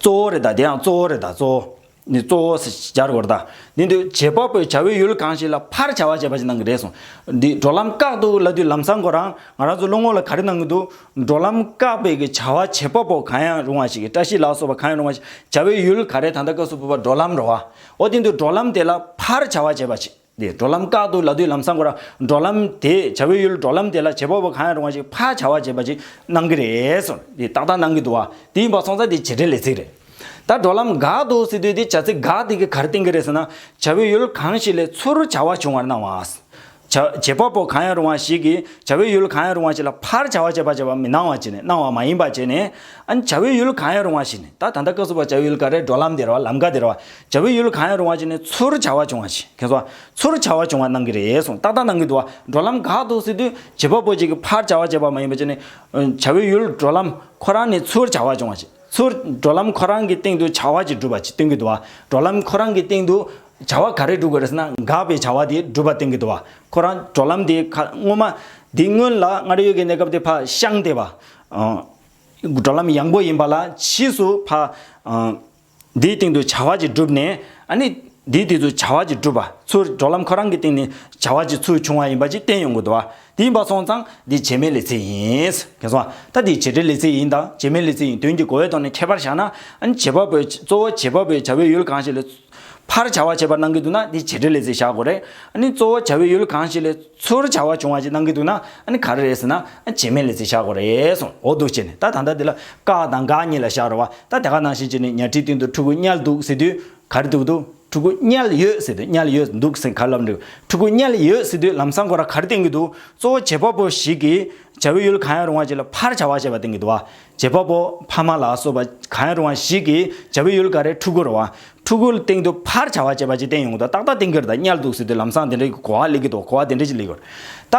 གཙོ་བོ་རེད་ད་དེའང་གཙོ་བོ་རེད་ད་གཙོ་བོ། ནི་གཙོ་བོ་ཟེར་སྦྱར་དགོས་རེད་ད། འདི་འདོད་བྱེད་དཔའ་བོས་བྱ་བའི་ཡུལ་གང་ཞིག་ལ་ཕར་བྱ་བ་བྱས་པ་ཞིག་གནང་གི་རེད་གསུངས། འདི་འགྲོ་ལམ་བཀག་འདུག་ལ་དུས་ལམ་བཟང་གོ་རང་ང་རང་ཚོའི་བློ་ངོར་ལ་ག་རེ་གནང་གི་འདུག་འགྲོ་ལམ་བཀག་པའི་གི་བྱ་བ་བྱེད་དཔའ་བོ་གང་ཡང་རུང་བ་ཞིག་གིས་བཀྲ་ཤིས་ལགས་སོགས་པ་གང་ཡང་རུང་བ་ཞིག་བྱ་བའི་ཡུལ་ག་རེ་ད་ལྟ་སྐབས་སུ་བབས་པ་འགྲོ་ལམ་རེད་བ། འོ་དེ་འདོད་འགྲོ་ལམ་དེ་ལ་ཕར་བྱ་བ་བྱས་པ་ཞིག། དེས་འགྲོ་ལམ་བཀག་འདུག་ལ་དུས་ལམ་སང་གོ་ར་འགྲོ་ལམ་དེས་བྱ་བའི་ཡུལ་འགྲོ་ལམ་དེ་ལ་བྱེད་པ་བོ་གང་ཡང་རུང་བ་ཞིག་ཕར་བྱ་བ་བྱེད་པ་ཅིག་གནང་གི་རེད་སོ་དེས་ཏག་ཏག་གནང་གི་འདུག་བ་དེ་ཡིན་པ་སོང་ཙང་དེ་བྱེད་འབྲེལ་ལས་ཚིག་རེད། ད་འགྲོ་ལམ་འགག་འདུག་ཟེར་དུས་དེ་བྱ་ཚིག་འགག་དེ་གི་གར་བཏིང་གི་རེད་ཟེར་ན་བྱ་བའི་ཡུལ་གང་ཞིག་ལས་ཚུར་བྱ་བ་བྱུང་བར་སྣང་བ། བྱ་བྱེད་པ་བོ་གང་ཡང་རུང་བ་ཞིག་གིས་བྱ་བའི་ཡུལ་གང་ཡང་རུང་བ་ཞིག་ལ་ཕར་བྱ་བ་བྱེད་པ་བྱེད་པ་མི་སྣང་བ་བྱས་ནས་སྣང་བ་མ་ཡིན་པ་བྱས་ནས་ཨ་ནི་བྱ་བའི་ཡུལ་གང་ཡང་རུང་བ་ཞིག་ནི་ད་ད་ལྟ་སྐབས་སུ་བ་བྱ་བའི་ཡུལ་ག་རེ་འགྲོ་ལམ་དེ་རེད་བ་ལམ་ག་དེ་རེད་བ། བྱ་བའི་ཡུལ་གང་ཡང་རུང་བ་ཅན་ནི་ཚུར་བྱ་བ་བྱུང་བ་ཞིག་གལ་སོང། ཚུར་བྱ་བ་བྱུང་བ་གནང་གི་རེད་གསུངས་ཏག་ཏག་གནང་གི་འདུག་བ་འགྲོ་ལམ་དགག་འདུག་སྲིད་དུས་བྱེད་པ་པོ་གཅིག་གིས་ཕར་བྱ་བ་བྱས་པ་མ་ཡིན་པ་ཅན་ནི། བྱ་བའི་ཡུལ་འགྲོ་ལམ་ཁོ་རང་ནི་ཚུར་བྱ་བ་བྱུང་བ་ཞིག་ཚུར་འགྲོ་ལམ་ཁོ་རང་གི་སྟེང་དུ་བྱ་བ་ཅིག་སྒྲུབ་པ་ཅིག་སྟོན་གི་འདུག་བ་འགྲོ་ལམ་ཁོ་རང་གི་སྟེང་དུ་བྱ་བ་ག་རེ་སྒྲུབ་དགོས་རེད་ཟེར་ན་དགག་པའི་བྱ་བ་དེ་སྒྲུབ་པ་སྟོན་གི་འདུག་བ་ཁོ་རང་འགྲོ་ལམ་དེ་ཁ་སྔོན་མ་དེ་སྔོན་ལ་སྔར་ཡོད་ཀྱི་གནས་སྐབས་དེ་ཕ་ཤང་སྟེ་བ། འགྲོ་ལམ་ཡངས་པོ་ཡིན་པ་ལ་ཕྱིས་སུ་ཕ། དེའི་སྟེང་དུ་བྱ་བ་ཅིག་བསྒྲུབས་ནས། ནི། དེའི་སྟེང་དུ་བྱ་བ་ཅིག་བསྒྲུབས་པ་ཚུར་འགྲོ་ལམ་ཁོ་རང་གི་སྟེང་ནས་བྱ་བ་ཅིག་ཚུར་བྱུང་བ་ཡིན་པ་ཅིག་བསྟན་ཡོང་གི་འདུག་བ། དེ་ཡིན་པ་སོང་ཙང་འདི་བྱེ་སྨྲའི་ལེ་ཚེ་ཡིན། གལ་སོང་བ། ད་འདི་བྱེ་བྲལ་ལེ་ཚེ་ཡིན་དང་བྱེ་སྨྲའི་ལེ་ཚེ་ཡིན་དོན་གྱི་གོ་བའི་ཐོག་ནས་ཁྱད་པར་བཞག་ན། ནི་བྱེད་པ་པོའི་གཙོ་བོ་བྱེད་པ་པོའི་བྱ་བའི་ཡུལ་གང་ཞིག་ལས། ཕར་བྱ་བ་བྱེད་པར་སྣང་གི་འདུག་ན་འདི་བྱེ་བྲལ་ལེ་ཚེ་བཞག་གོ། རེད་ནི་གཙོ་བོ་བྱ་བའི་ཡུལ་གང་ཞིག་ལས། ཚུར་བྱ་བ་བྱུང་བ་ཅིག་གནང་གི་འདུག་ན་ཨ་ནི་ག་རེ་རེད་ཟེར་ན། བྱེ་མའི་ལེ་ཚེ་བཞག་གོ་རེད་གསུངས་འོ་འདུག་ཅེས་ནས་ད་ད་ལྟ་འདི་ལ་སྐག་དང་འགག་གཉིས་ལ་བཞག་རོགས་བ་ད་དེ་ག་ནང་བཞིན་ཅེས་ནས་ཉལ་ཁྲིའི་སྟེང་དུ་ཕྲུ་གུ་དམྱལ་འདུག་ཟེར་དུས་ག་རེ་འདུག་འདུག་ཕྲུ་གུ་དམྱལ་ཡོད་ཟེར་དུས་དམྱལ་ཡོད་འདུག་ཟེར་ག་ལ་འགྲིག་ཕྲུ་གུ་དམྱལ་ཡོད་ཟེར་དུས་ལམ་སང་གོ་ར་ག་རེ་བསྟན་གི་འདུག་གཙོ་བོ་བྱེད་པ་པོ་ཞིག་གིས་བྱ་བའི་ཡུལ་གང་ཡང་རུང་བ་ཅིག་ལ་ཕར་བྱ་བ་བྱས་པ་བསྟན་གི་འདུག་བ། རྗེ་དཔའ་བོ་ཕ་མ་ལ་སོགས་པ་གང་ཡང་རུང་བ་ཞིག་གིས་བྱ་བའི་ཡུལ་ག་རེ་ཕྲུ་གུར་བ། ཕྲུ་གུ་སྟེང་དུ་ཕར་བྱ་བ་བྱེད་པ་ཅིག་བསྟན་ཡོང་གི་འདུག་ཏག་ཏག་བསྟན་གྱི་རེད་ད་དམྱལ་འདུག་ཟེར་དུས་ལམ་སང་དེ་འདྲའི་གོ་བ་ལེགས་ཀྱི་འདུག་གོ་བ་དེ་འདྲ་ཅིག་ལེགས་ཡོད། ད་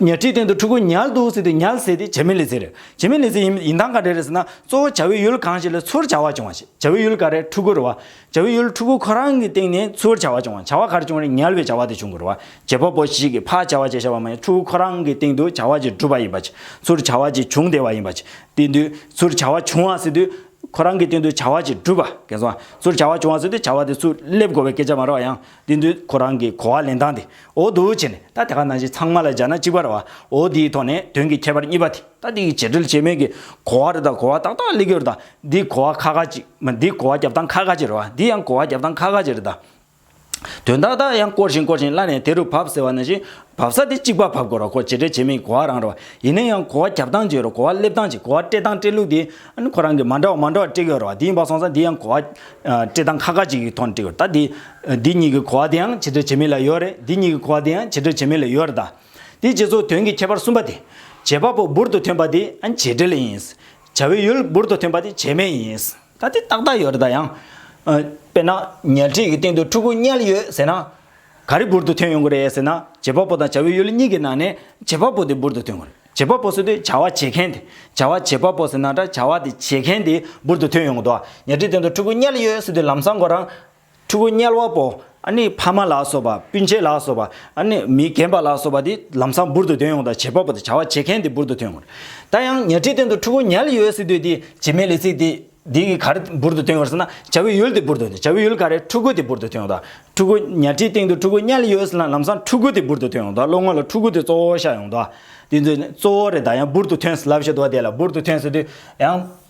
ཉལ་ཁྲིའི་སྟེང་དུ་ཕྲུ་གུ་ཉལ་འདུག་ཟེར་དུས་ཉལ་ཟེར་དེ་བྱེ་མའི་ལེ་ཚན་རེད། བྱེ་མའི་ལེ་ཚན་ཡིན་ཡིན་སྟངས་ག་རེ་རེད་ཟེར་ན་གཙོ་བོ་བྱ་བའི་ཡུལ་གང་ཞིག་ལ་ཚུར་བྱ་བ་བྱུང་བ་ཞིག་བྱ་བའི་ཡུལ་ག་རེ་ཕྲུ་གུར་བ། བྱ་བའི་ཡུལ་ཕྲུ་གུ་ཁོ་རང་གི་སྟེང་ནས་འཚོལ་བར་བྱ་བ་བྱུང་བ། བྱ་བ་གར་བྱུང་རིང་ཉལ་བའི་བྱ་བ་དེ་བྱུང་དགོས་རུང། བྱེད་པོ་པོ་ཞིག་གིས་ཕར་བྱ་བ་བྱས་བྱ་བ་མ་ཡིན་ཕྲུ་གུ་ཁོ་རང་གི་སྟེང་དུ་བྱ་བ་ཅིག་གྲུབ་པ་ཡིན་པ། ཚུར་བྱ་བ་ཅིག་བྱུང་བསྡད་པ་ཡིན་པ། དེ་དུས་ཚུར་བྱ་བ་བྱུང་བ་ཟེར་དུས། ཁོ་རང་གི་སྟེང་དུ་བྱ་བ་ཅིག་གྲུབ་པ་གལ་སོང། ཚུར་བྱ་བ་བྱུང་བ་ཟེར་དུས་བྱ་བ་དེ་ཚུར་སླེབས་དགོས་པའི་སྐད་ཆ་མ་རག་ཡང། དེ་དུས་ཁོ་རང་གིས་གོ་བ་ལེན་སྟངས་དེ་འོ་དུ་བྱས་ནས་ད་དེ་ག་ནང་བཞིན་ཚང་མ་ལ་སྦྱར་ན་གཅིག་པ་རེད་བ། འོ་དེའི་ཐོག་ནས་དོན་གྱི་ཁྱད་པར་གཉིས་པ་དེ། ད་འདི་ཡི་བྱེད་འབྲེལ་བྱེད་མེད་ཀྱི་གོ་བ་རེ་དང་གོ་བ་ཏག་ཏག་གླེགས་ཡོར་དང་འདི་གོ་བ་ཁ་ཁ་ཅིག་མ་འདི་གོ་བ་རྒྱབ་སྟངས་ཁ་ཁ་ཅིག་རེད་བ་འདི་ཡང་གོ་བ་རྒྱབ་སྟངས་ཁ་ཁ་ཅིག་རེད་ད། དོན་དག་དག་ཡང་བསྐོར་བཞིན་བསྐོར་བཞིན་བླ་ནས་དེ་རུ་བབས་ཟེར་བ་ན་བཞིན་བབས་ས་དེ་གཅིག་པ་བབས་དགོས་རོགས་གོ་བྱེད་འབྲེལ་བྱེད་མེད་ཀྱི་གོ་བ་རང་རེད་བ་ཡིན་ན་ཡང་གོ་བ་རྒྱབ་སྟངས་ཅིག་རེད་གོ་བ་སླེབས་སྟངས་ཅིག་གོ་བ་སྤྲད་སྟངས་སྤྲད་ལུགས་དེ་ཨ་ཁོ་རང་གིས་མ་འདྲ་བ་མ་འདྲ་བ་སྤྲད་ཀྱི་ཡོད་རེད་བ་དེ་ཡིན་པ་སོང་ཙང་འདི་ཡང་གོ་བ་སྤྲད་སྟངས་ཁ་ཁ་ཅིག་གི་ཐོག་ནས་སྤྲད་ཀྱི་ཡོད་རེད་ད་འདི་འདི་གཉིས་ཀྱི་གོ་བ་དེའང་བྱེད་འབྲེལ་བྱེད་མེད་ལ་ཡོད་རེད་འདི་གཉིས་ཀྱི་གོ་བ་དེའང་བྱེད་འབྲེལ་བྱེད་མེད་ལ་ཡོད་རེད་ད། དེའི་རྗེས་སུ་དོན་གྱི་ཁྱད་པར་གསུམ་པ་སྟེ། བྱེད་པ་པོ་འབུར་དུ་ཐོན་པ་དེ་བྱེད་འབྲེལ་ཡིན། བྱ་བའི་ཡུལ་འབུར་དུ་ཐོན་པ་དེ་བྱེད་མེད་ཡིན། ད་དེ་ཏག་ཏག་ཡོད་རེད་ད་ཡང། དཔེར་ན། ཉལ་ཁྲི་ཡི་སྟེང་དུ་ཕྲུ་གུ་བསྙལ་ཡོད་ཟེར་ན། ག་རེ་འབུར་དུ་ཐོན་ཡོང་གི་རེད་ཟེར་ན། བྱེད་པ་པོ་དང་བྱ་བའི་ཡུལ་གཉིས་ཀྱི་ནང་ནས་བྱེད་པ་པོ་དེ་འབུར་དུ་ཐོན་དགོས། བྱེད་པ་པོ་ཟེར་དུས་བྱ་བ་བྱེད་མཁན་དེ། བྱ་བ་བྱེད་པ་པོ་ཟེར་ན་འདྲ་བྱ་བ་དེ་བྱེད་མཁན་དེ་འབུར་དུ་ཐོན་ཡོང་གི་འདུག་ཉལ་ཁྲིའི་སྟེང་དུ་ཕྲུ་གུ་བསྙལ་ཡོད་ཟེར་དུས་ལམ་སང་གོ་རང། ཕྲུ་གུ་དམྱལ་བ་པོ་ཨ་ནི་ཕ་མ་ལ་སོགས་པ་སྤུན་མཆེད་ལ་སོགས་པ་ཨ་ནི་མི་རྒན་པ་ལ་སོགས་པ་དེ་ལམ་སང་འབུར་དུ་དོན་ཡོང་དང་བྱེད་པ་པོ་དང་བྱ་བ་བྱེད་མཁན་དེ་འབུར་དུ་ཐོན་དགོས། ད་ཡང་ཉལ་ཁྲིའི་སྟེང་དུ་ཕྲུ་གུ་ཉལ་ཡོད་སྲིད་དུས་དེ་བྱེ་མའི་ལས་ཚིག་དེ་དེ་གི་ག་རེ་འབུར་དུ་ཐོན་ཡོང་ཟེར་ན་བྱ་བའི་ཡུལ་དེ་འབུར་དུ་ཐོན་བྱ་བའི་ཡུལ་ག་རེ་ཕྲུ་གུ་དེ་འབུར་དུ་ཐོན་ཡོང་དང་ཕྲུ་གུ་ཉལ་ཁྲིའི་སྟེང་དུ་ཕྲུ་གུ་དམྱལ་ཡོད་ཟེར་ན་ལམ་སང་ཕྲུ་གུ་དེ་འབུར་དུ་ཐོན་ཡོང་དང་བློ་ངོར་ལ་ཕྲུ་གུ་དེ་གཙོ་བོ་ཤར་ཡོང་དང་དེ་ཚོ་གཙོ་བོ་རེད་ད་ཡང་འབུར་དུ་ཐོན་ཟེར་ལབ་བཤད་དོ་དེ་ལ་འབུར་དུ་ཐོན་ཟེར་དུས་ཡང།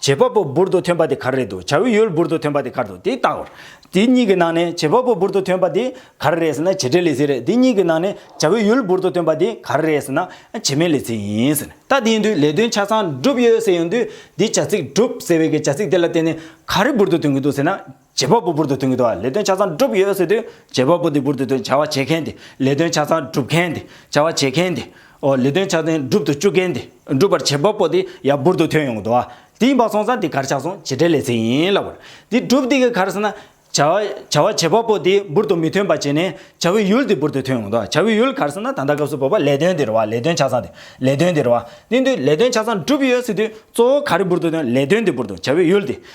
བྱེད་པ་པོ་འབུར་དུ་ཐོན་པ་དེ་གར་རེད་འདུག་བྱ་བའི་ཡུལ་འབུར་དུ་ཐོན་པ་དེ་གར་འདུག་དེ་ལྟ་བུར། དེ་གཉིས་ཀྱི་ནང་ནས་བྱེད་པ་པོ་འབུར་དུ་ཐོན་པ་དེ་གར་རེད་ཟེར་ན་བྱེད་འབྲེལ་ལས་ཚིག་རེད་དེ་གཉིས་ཀྱི་ནང་ནས་བྱ་བའི་ཡུལ་འབུར་དུ་ཐོན་པ་དེ་གར་རེད་ཟེར་ན་བྱེད་མེད་ལས་ཚིག་ཡིན། ཟེར་ན་ད་དེ་ཡིན་དུས་ལས་དོན་ཆ་ཚང་འགྲུབ་ཡོད་ཟེར་ཡོང་དུས་དེ་བྱ་ཚིག་འགྲུབ་ཟེར་བའི་གྱི་བྱ་ཚིག་དེ་ལ་བརྟེན་ནས་ག་རེ་འབུར་དུ་ཐོན་གྱི་འདུག་ཟེར་ན། བྱེད་པ་པོ་འབུར་དུ་ཐོན་མཁན་དེ་བ་ལས་དོན་ཆ་ཚང་བསྒྲུབས་ཡོད་ཟེར་དུས་བྱེད་པ་པོ་དེ་འབུར་དུ་ཐོན་བྱ་བ་བྱེད་མཁན་དེ་ལས་དོན་ཆ་ཚང་བསྒྲུབས་མཁན་དེ་བྱ་བ་བྱེད་མཁན་དེ། འོ་ལས་དོན་ཆ་ཚང་བསྒྲུབ་ཏུ་བཅུག་མཁན་དེ་བསྒྲུབ་པར་བྱེད་པ་པོ་དེ་ཡང་འབུར་དུ་ཐོན་ཡོང་གི་འདུག་བ་དེ་ཡིན་པ་སོང་ཙང་དེ་གར་ཆགས་སོང་བྱེད་འབྲེལ་ལས་ཚེགས་ཡིན་ལབ་བར་དེ་བསྒྲུབས་དེ་གི་གར་སོང་ན། བྱ་བ་བྱ་བ་བྱེད་པ་པོ་དེ་འབུར་དུ་མི་ཐོན་པ་བྱས་ནས་བྱ་བའི་ཡུལ་དེ་འབུར་དུ་ཐོན་ཡོང་གི་འདུག་བྱ་བའི་ཡུལ་གར་སོང་ན་ད་ལྟ་སྐབས་སུ་བབ་པ་ལས་དོན་དེ་རེད་བ་ལས་དོན་ཆ་ཚང་དེ་ལས་དོན་དེ་རེད་བ་དེ་འདུག་ལས་དོན་ཆ་ཚང་བསྒྲུབས་ཡོད་ཟེར་དུས་གཙོ་བོ་ག་རེ་འབུར་དུ་ཐོན་ལས་དོན་དེ་འབུར་དུ་བྱ་བའི་ཡུལ་དེ་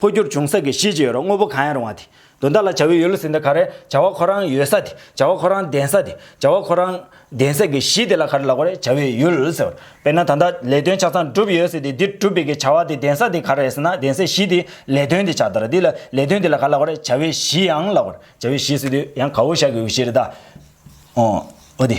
འཕོ་འགྱུར་འབྱུང་ས་ཀྱི་གཞི་ཅི་ཡོད་རུང་དངོས་པོ་གང་ཡང་རུང་བ་དེ་དོན་དག་ལ་བྱ་བའི་ཡུལ་ལ་ཟིན་ད་ག་རེ། བྱ་བ་ཁོ་རང་ཡོད་ས་དེ་བྱ་བ་ཁོ་རང་ལྡན་ས་དེ་བྱ་བ་ཁོ་རང་ལྡན་ས་ཀྱི་གཞི་དེ་ལ་ག་རེ་ལགས་པ་རེད་བྱ་བའི་ཡུལ་ཟེར། དཔེར་ན་ད་ལྟ་ལས་དོན་ཆ་ཚང་བསྒྲུབས་ཡོད་ཟེར་དེ་འདི་བསྒྲུབས་པའི་ཀྱི་བྱ་བ་དེ་ལྡན་ས་དེ་ག་རེ་ཟེར་ན་ལྡན་སའི་གཞི་དེ་ལས་དོན་དེ་ཆགས་དར་དེ་ལ་ལས་དོན་དེ་ལ་ག་ལགས་པ་རེད་བྱ་བའི་གཞི་ཡང་ལགས་པར་བྱ་བའི་གཞི་ཟེར་དུས་ཡང་གའུ་ཞག་གི་འོད་ཤེལ་རེད་ད། འོ་འོ་དེ།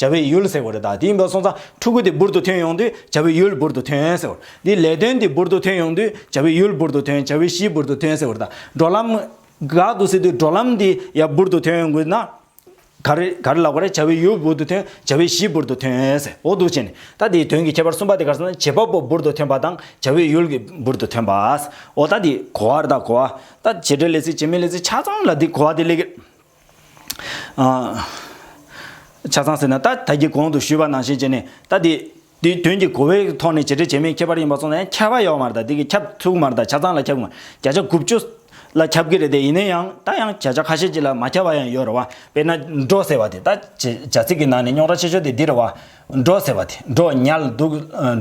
བྱ་བའི་ཡུལ་ཟེར་བ་རེད་ད་དེ་ཡིན་པ་སོང་ཙང་ཕྲུ་གུ་དེ་འབུར་དུ་ཐོན་ཡོང་དུས་བྱ་བའི་ཡུལ་འབུར་དུ་ཐོན་ཟེར་བ་དེ་ལས་དོན་དེ་འབུར་དུ་ཐོན་ཡོང་དུས་བྱ་བའི་ཡུལ་འབུར་དུ་ཐོན་བྱ་བའི་གཞི་འབུར་དུ་ཐོན་ཟེར་བ་རེད་ད་འགྲོ་ལམ། འགག་ཏུ་སྲིད་དུས་འགྲོ་ལམ་དེ་ཡང་འབུར་དུ་ཐོན་ཡོང་དགོས་ན། ག་རེ་ག་རེ་ལགས་པ་རེད་བྱ་བའི་ཡུལ་འབུར་དུ་ཐོན་བྱ་བའི་གཞི་འབུར་དུ་ཐོན་ཟེར་འོ་འདུག་བྱས་ནས་ད་དེའི་དོན་གྱི་ཁྱད་པར་གསུམ་པ་དེ་གར་སོང་ན་བྱེད་པ་པོ་འབུར་དུ་ཐོན་པ་དང་བྱ་བའི་ཡུལ་གྱི་འབུར་དུ་ཐོན་པ་ཟེར་འོ་ད་དེ་གོ་བ་རེད་ད་གོ་བ་ད་བྱེད་འབྲེལ་ལས་ཚིག་བྱེད་མི་ལས་ཚིག་ཆ་ཙམ་ལ་དེ་གོ་བ་དེ་ལས་ཀི། ཆ་ཚང་ཟེར་ན་ད་ད་གི་གོང་དུ་ཞུས་པ་ནང་བཞིན་བྱས་ནས་ད་དེ་དེའི་དོན་གྱི་གོ་བའི་ཐོག་ནས་བྱེད་འབྲེལ་བྱེད་མིན་ཁྱད་པར་ཡིན་པ་སོང་ན་ཡང་ཁྱབ་པ་ཡོག་མར་དང་དེ་གི་ཁྱབ་ཚུགས་མར་དང་ཆ་ཚང་ལ་ཁྱབ་གི་མར་བརྒྱ་ཆ་དགུ་བཅུ་ལ་ཁྱབ་གི་རེད་དེ་ཡིན་ན་ཡང་ད་ཡང་བརྒྱ་ཆ་ཁ་ཤས་ཅིག་ལ་མ་ཁྱབ་པ་ཡང་ཡོད་རེད་བ་དཔེར་ན་འགྲོ་ཟེར་བ་དེ་ད་བྱས་བྱ་ཚིག་གི་ནང་ནས་རྙོག་དྲ་ཆེ་ཤོས་དེ་འདི་རེད་བ་འགྲོ་ཟེར་བ་དེ་འགྲོ་ཉལ་འདུག་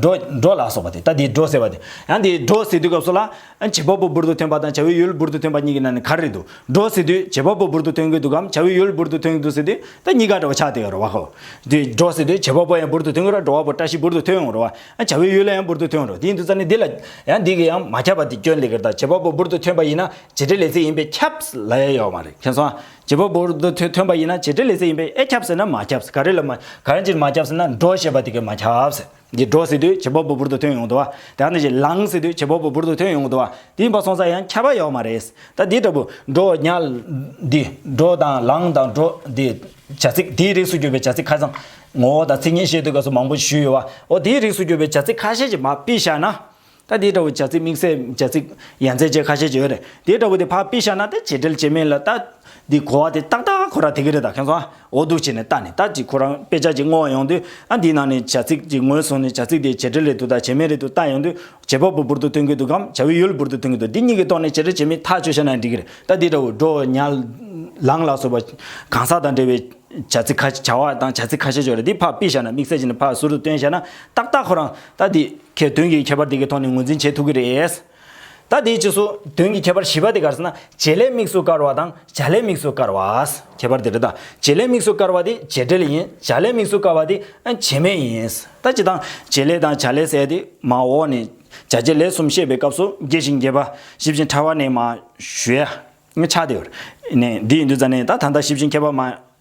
འགྲོ་འགྲོ་ལ་སོགས་པ་དེ་ལྟ་དེ་འགྲོ་ཟེར་བ་དེ། ཡང་དེ་འགྲོ་ཟེར་དུས་སྐབས་སོགས་ལ། བྱེད་པ་པོ་འབུར་དུ་ཐོན་པ་དང་བྱ་བའི་ཡུལ་འབུར་དུ་ཐོན་པ་གཉིས་ཀྱི་ནང་ནས་ག་རེ་རེད་འདུག་འགྲོ་ཟེར་དུས་བྱེད་པ་པོ་འབུར་དུ་ཐོན་གྱི་འདུག་གམ་བྱ་བའི་ཡུལ་འབུར་དུ་ཐོན་གྱི་འདུག་ཟེར་དུས་ད་གཉིས་ཀ་འདྲ་བ་ཆགས་བསྡད་ཡོད་རེད་བ་ཧོ། དེ་འགྲོ་ཟེར་དུས་བྱེད་པ་པོ་ཡང་འབུར་དུ་ཐོན་གྱི་རོགས་འགྲོ་བ་པོ་བཀྲ་ཤིས་འབུར་དུ་ཐོན་ཡོང་རོགས། བྱ་བའི་ཡུལ་ཡང་འབུར་དུ་ཐོན་རོགས་དེ་ཡིན་དུས་རྩ་ནས་འདི་ལ། ཡང་འདི་གི་ཡང་མ་ཁྱབ་པ་དེ་སྐྱོན་ལས་ཀར་དང་བྱེད་པ་པོ་འབུར་དུ་ཐོན་པ་ཡིན་ན་བྱེད་འབྲེལ་ལས་ཚིག་ཡིན་པས་ཁྱབ། ལ་ཡ་ཡོག་མ་རེད་མཁྱེན་སོང་ཨ། བྱེད་པ་པོར་འདི་ཐོས་ཐོན་པ་ཡིན་ན་བྱེད་འབྲེལ་ལས་ཚེ་ཡིན་པས་ཨེ་ཁྱབ་ཟེར་ན་མ་ཁྱབ་ཟེར་ག་རེ་ལ་མ་ག་རེ་ཅིར་མ་ཁྱབ་ཟེར་ན་འགྲོ་ཞེས་པ་དེ་གས་མ་ཁྱབ་ཟེར་འདི་འགྲོ་ཟེར་དུས་བྱེད་པ་པོ་པོར་འདི་ཐོན་ཡོང་དུ་བ་དེའང་དེ་བཞིན་ལངས་ཟེར་དུས་བྱེད་པ་པོ་པོར་འདི་ཐོན་ཡོང་དུ་བ་དེ་ཡིན་པ་སོང་ཙང་ཡང་ཁྱབ་པ་ཡོག་མ་རེད་ད་འདི་ལྟ་བུ་འགྲོ་ཉལ་འདི་འགྲོ་དང་ལངས་དང་འགྲོ་འདི་བྱ་ཚིག་དེའི་རིགས་སུ་གྱུར་པའི་བྱ་ཚིག་ཁ་ཚང་ངོ་བོ་དང་ཚིག་ངན་བཤད་དུས་ག་ཚོད་མང་པོ་ཞུས་ཡོད་བ་འོ་དེའི་རིགས་སུ་གྱུར་པའི་བྱ་ཚིག་ཁ་ཤས་ཀྱི་མ་དཔེ་བཞག་ན་ད་དེ་འདྲ་བོ་བྱ་ཚིག་དམིགས་བསལ་བྱ་ཚིག་ཡན་ཚད་བཅས་ཁ་ཤས་བྱེད་རེད་དེ་འདྲ་བོ་དེ་ཕ་དཔེ་བཞག་ན་ད་བྱེད་འབྲེལ་བྱེད་མེད་ལ་ད། འདི་གོ་བ་དེ་ཏག་ཏག་ཁོ་རང་དེ་གི་རེད་ད་ཁྱོད་ཚོ་ཨོ་སྡུག་བྱེད་ནས་ད་ནི་ད་ཅིག་ཁོ་རང་དཔེ་ཆ་ཅིག་བསྔོ་བ་ཡོང་དུས་ཨ་འདིའི་ནང་ནས་བྱ་ཚིག་ཅིག་ངོས་བཟུང་ནས་བྱ་ཚིག་དེ་བྱེད་འབྲེལ་རེད་འདུག་ད་བྱེད་མེད་རེད་འདུག་ལྟ་ཡོང་དུས་བྱེད་པ་པོ་འབུར་དུ་ཐོན་གི་འདུག་གམ་བྱ་བའི་ཡུལ་འབུར་དུ་ཐོན་གི་འདུག་འདི་གཉིས་ཀྱི་ཐོག་ནས་བྱེད་འབྲེལ་བྱེད་མེད་ཐག་ཆོད་བྱས་ན་འགྲིག་གི་རེད་ད་འདི་འདྲ་བོ་འགྲོ་ཉལ། ལངས་ལ་སོགས་པ་གང་ཟག་དང་འབྲེལ་བའི་བྱ་ཚིག་ཁ་བྱ་བ་དང་བྱ་ཚིག་ཁ་ཤས་བྱོ་རེད་དེ་ཕ་དཔེ་བཞག་ན་དམིགས་བསལ་བྱེད་ནས་ཕ་ཟུར་དུ་བཏོན་བཞག་ན་ཏག་ཏག་ཁོ་རང་ད་འདི། ཁྱེད་དོན་གྱི་ཁྱད་པར་དེ་གའི་ཐོག་ནས་ངོས་འཛིན་བྱེད་ཐུབ་ཀྱི་རེད། ད་དེའི་ཕྱིས་སུ་དོན་གྱི་ཁྱད་པར་བཞི་པ་དེ་གར་ན་བྱེད་ལས་དམིགས་སུ་བཀར་བ་དང་བྱ་ལས་དམིགས་སུ་བཀར་བ། ཁྱད་པར་དེ་རེད་ད། བྱེད་ལས་དམིགས་སུ་བཀར་བ་དེ་བྱེད་འབྲེལ་ཡིན། བྱ་ལས་དམིགས་སུ་བཀར་བ་དེ་བྱེད་མེད་ཡིན། ད་སྤྱི་དང། བྱེད་ལས་དང་བྱ་ལས་ཟེར་ཏེ་མ་འོག་ནས། བྱ་བྱེད་ལས་གསུམ་བཤད་པའི་སྐབས་སུ་རྒྱས་ཤིང་རྒྱས་པ། ཞིབ་ཅིང་ཕྲ་བ་ནས་མ། ཞུ་ཡ། ཆགས་ཏེ། ནས་འདི་ཡིན་དུས་རྩ་ནས་ད་ད་ལྟ་ཞིབ་ཅིང་མཁས་པ་མ།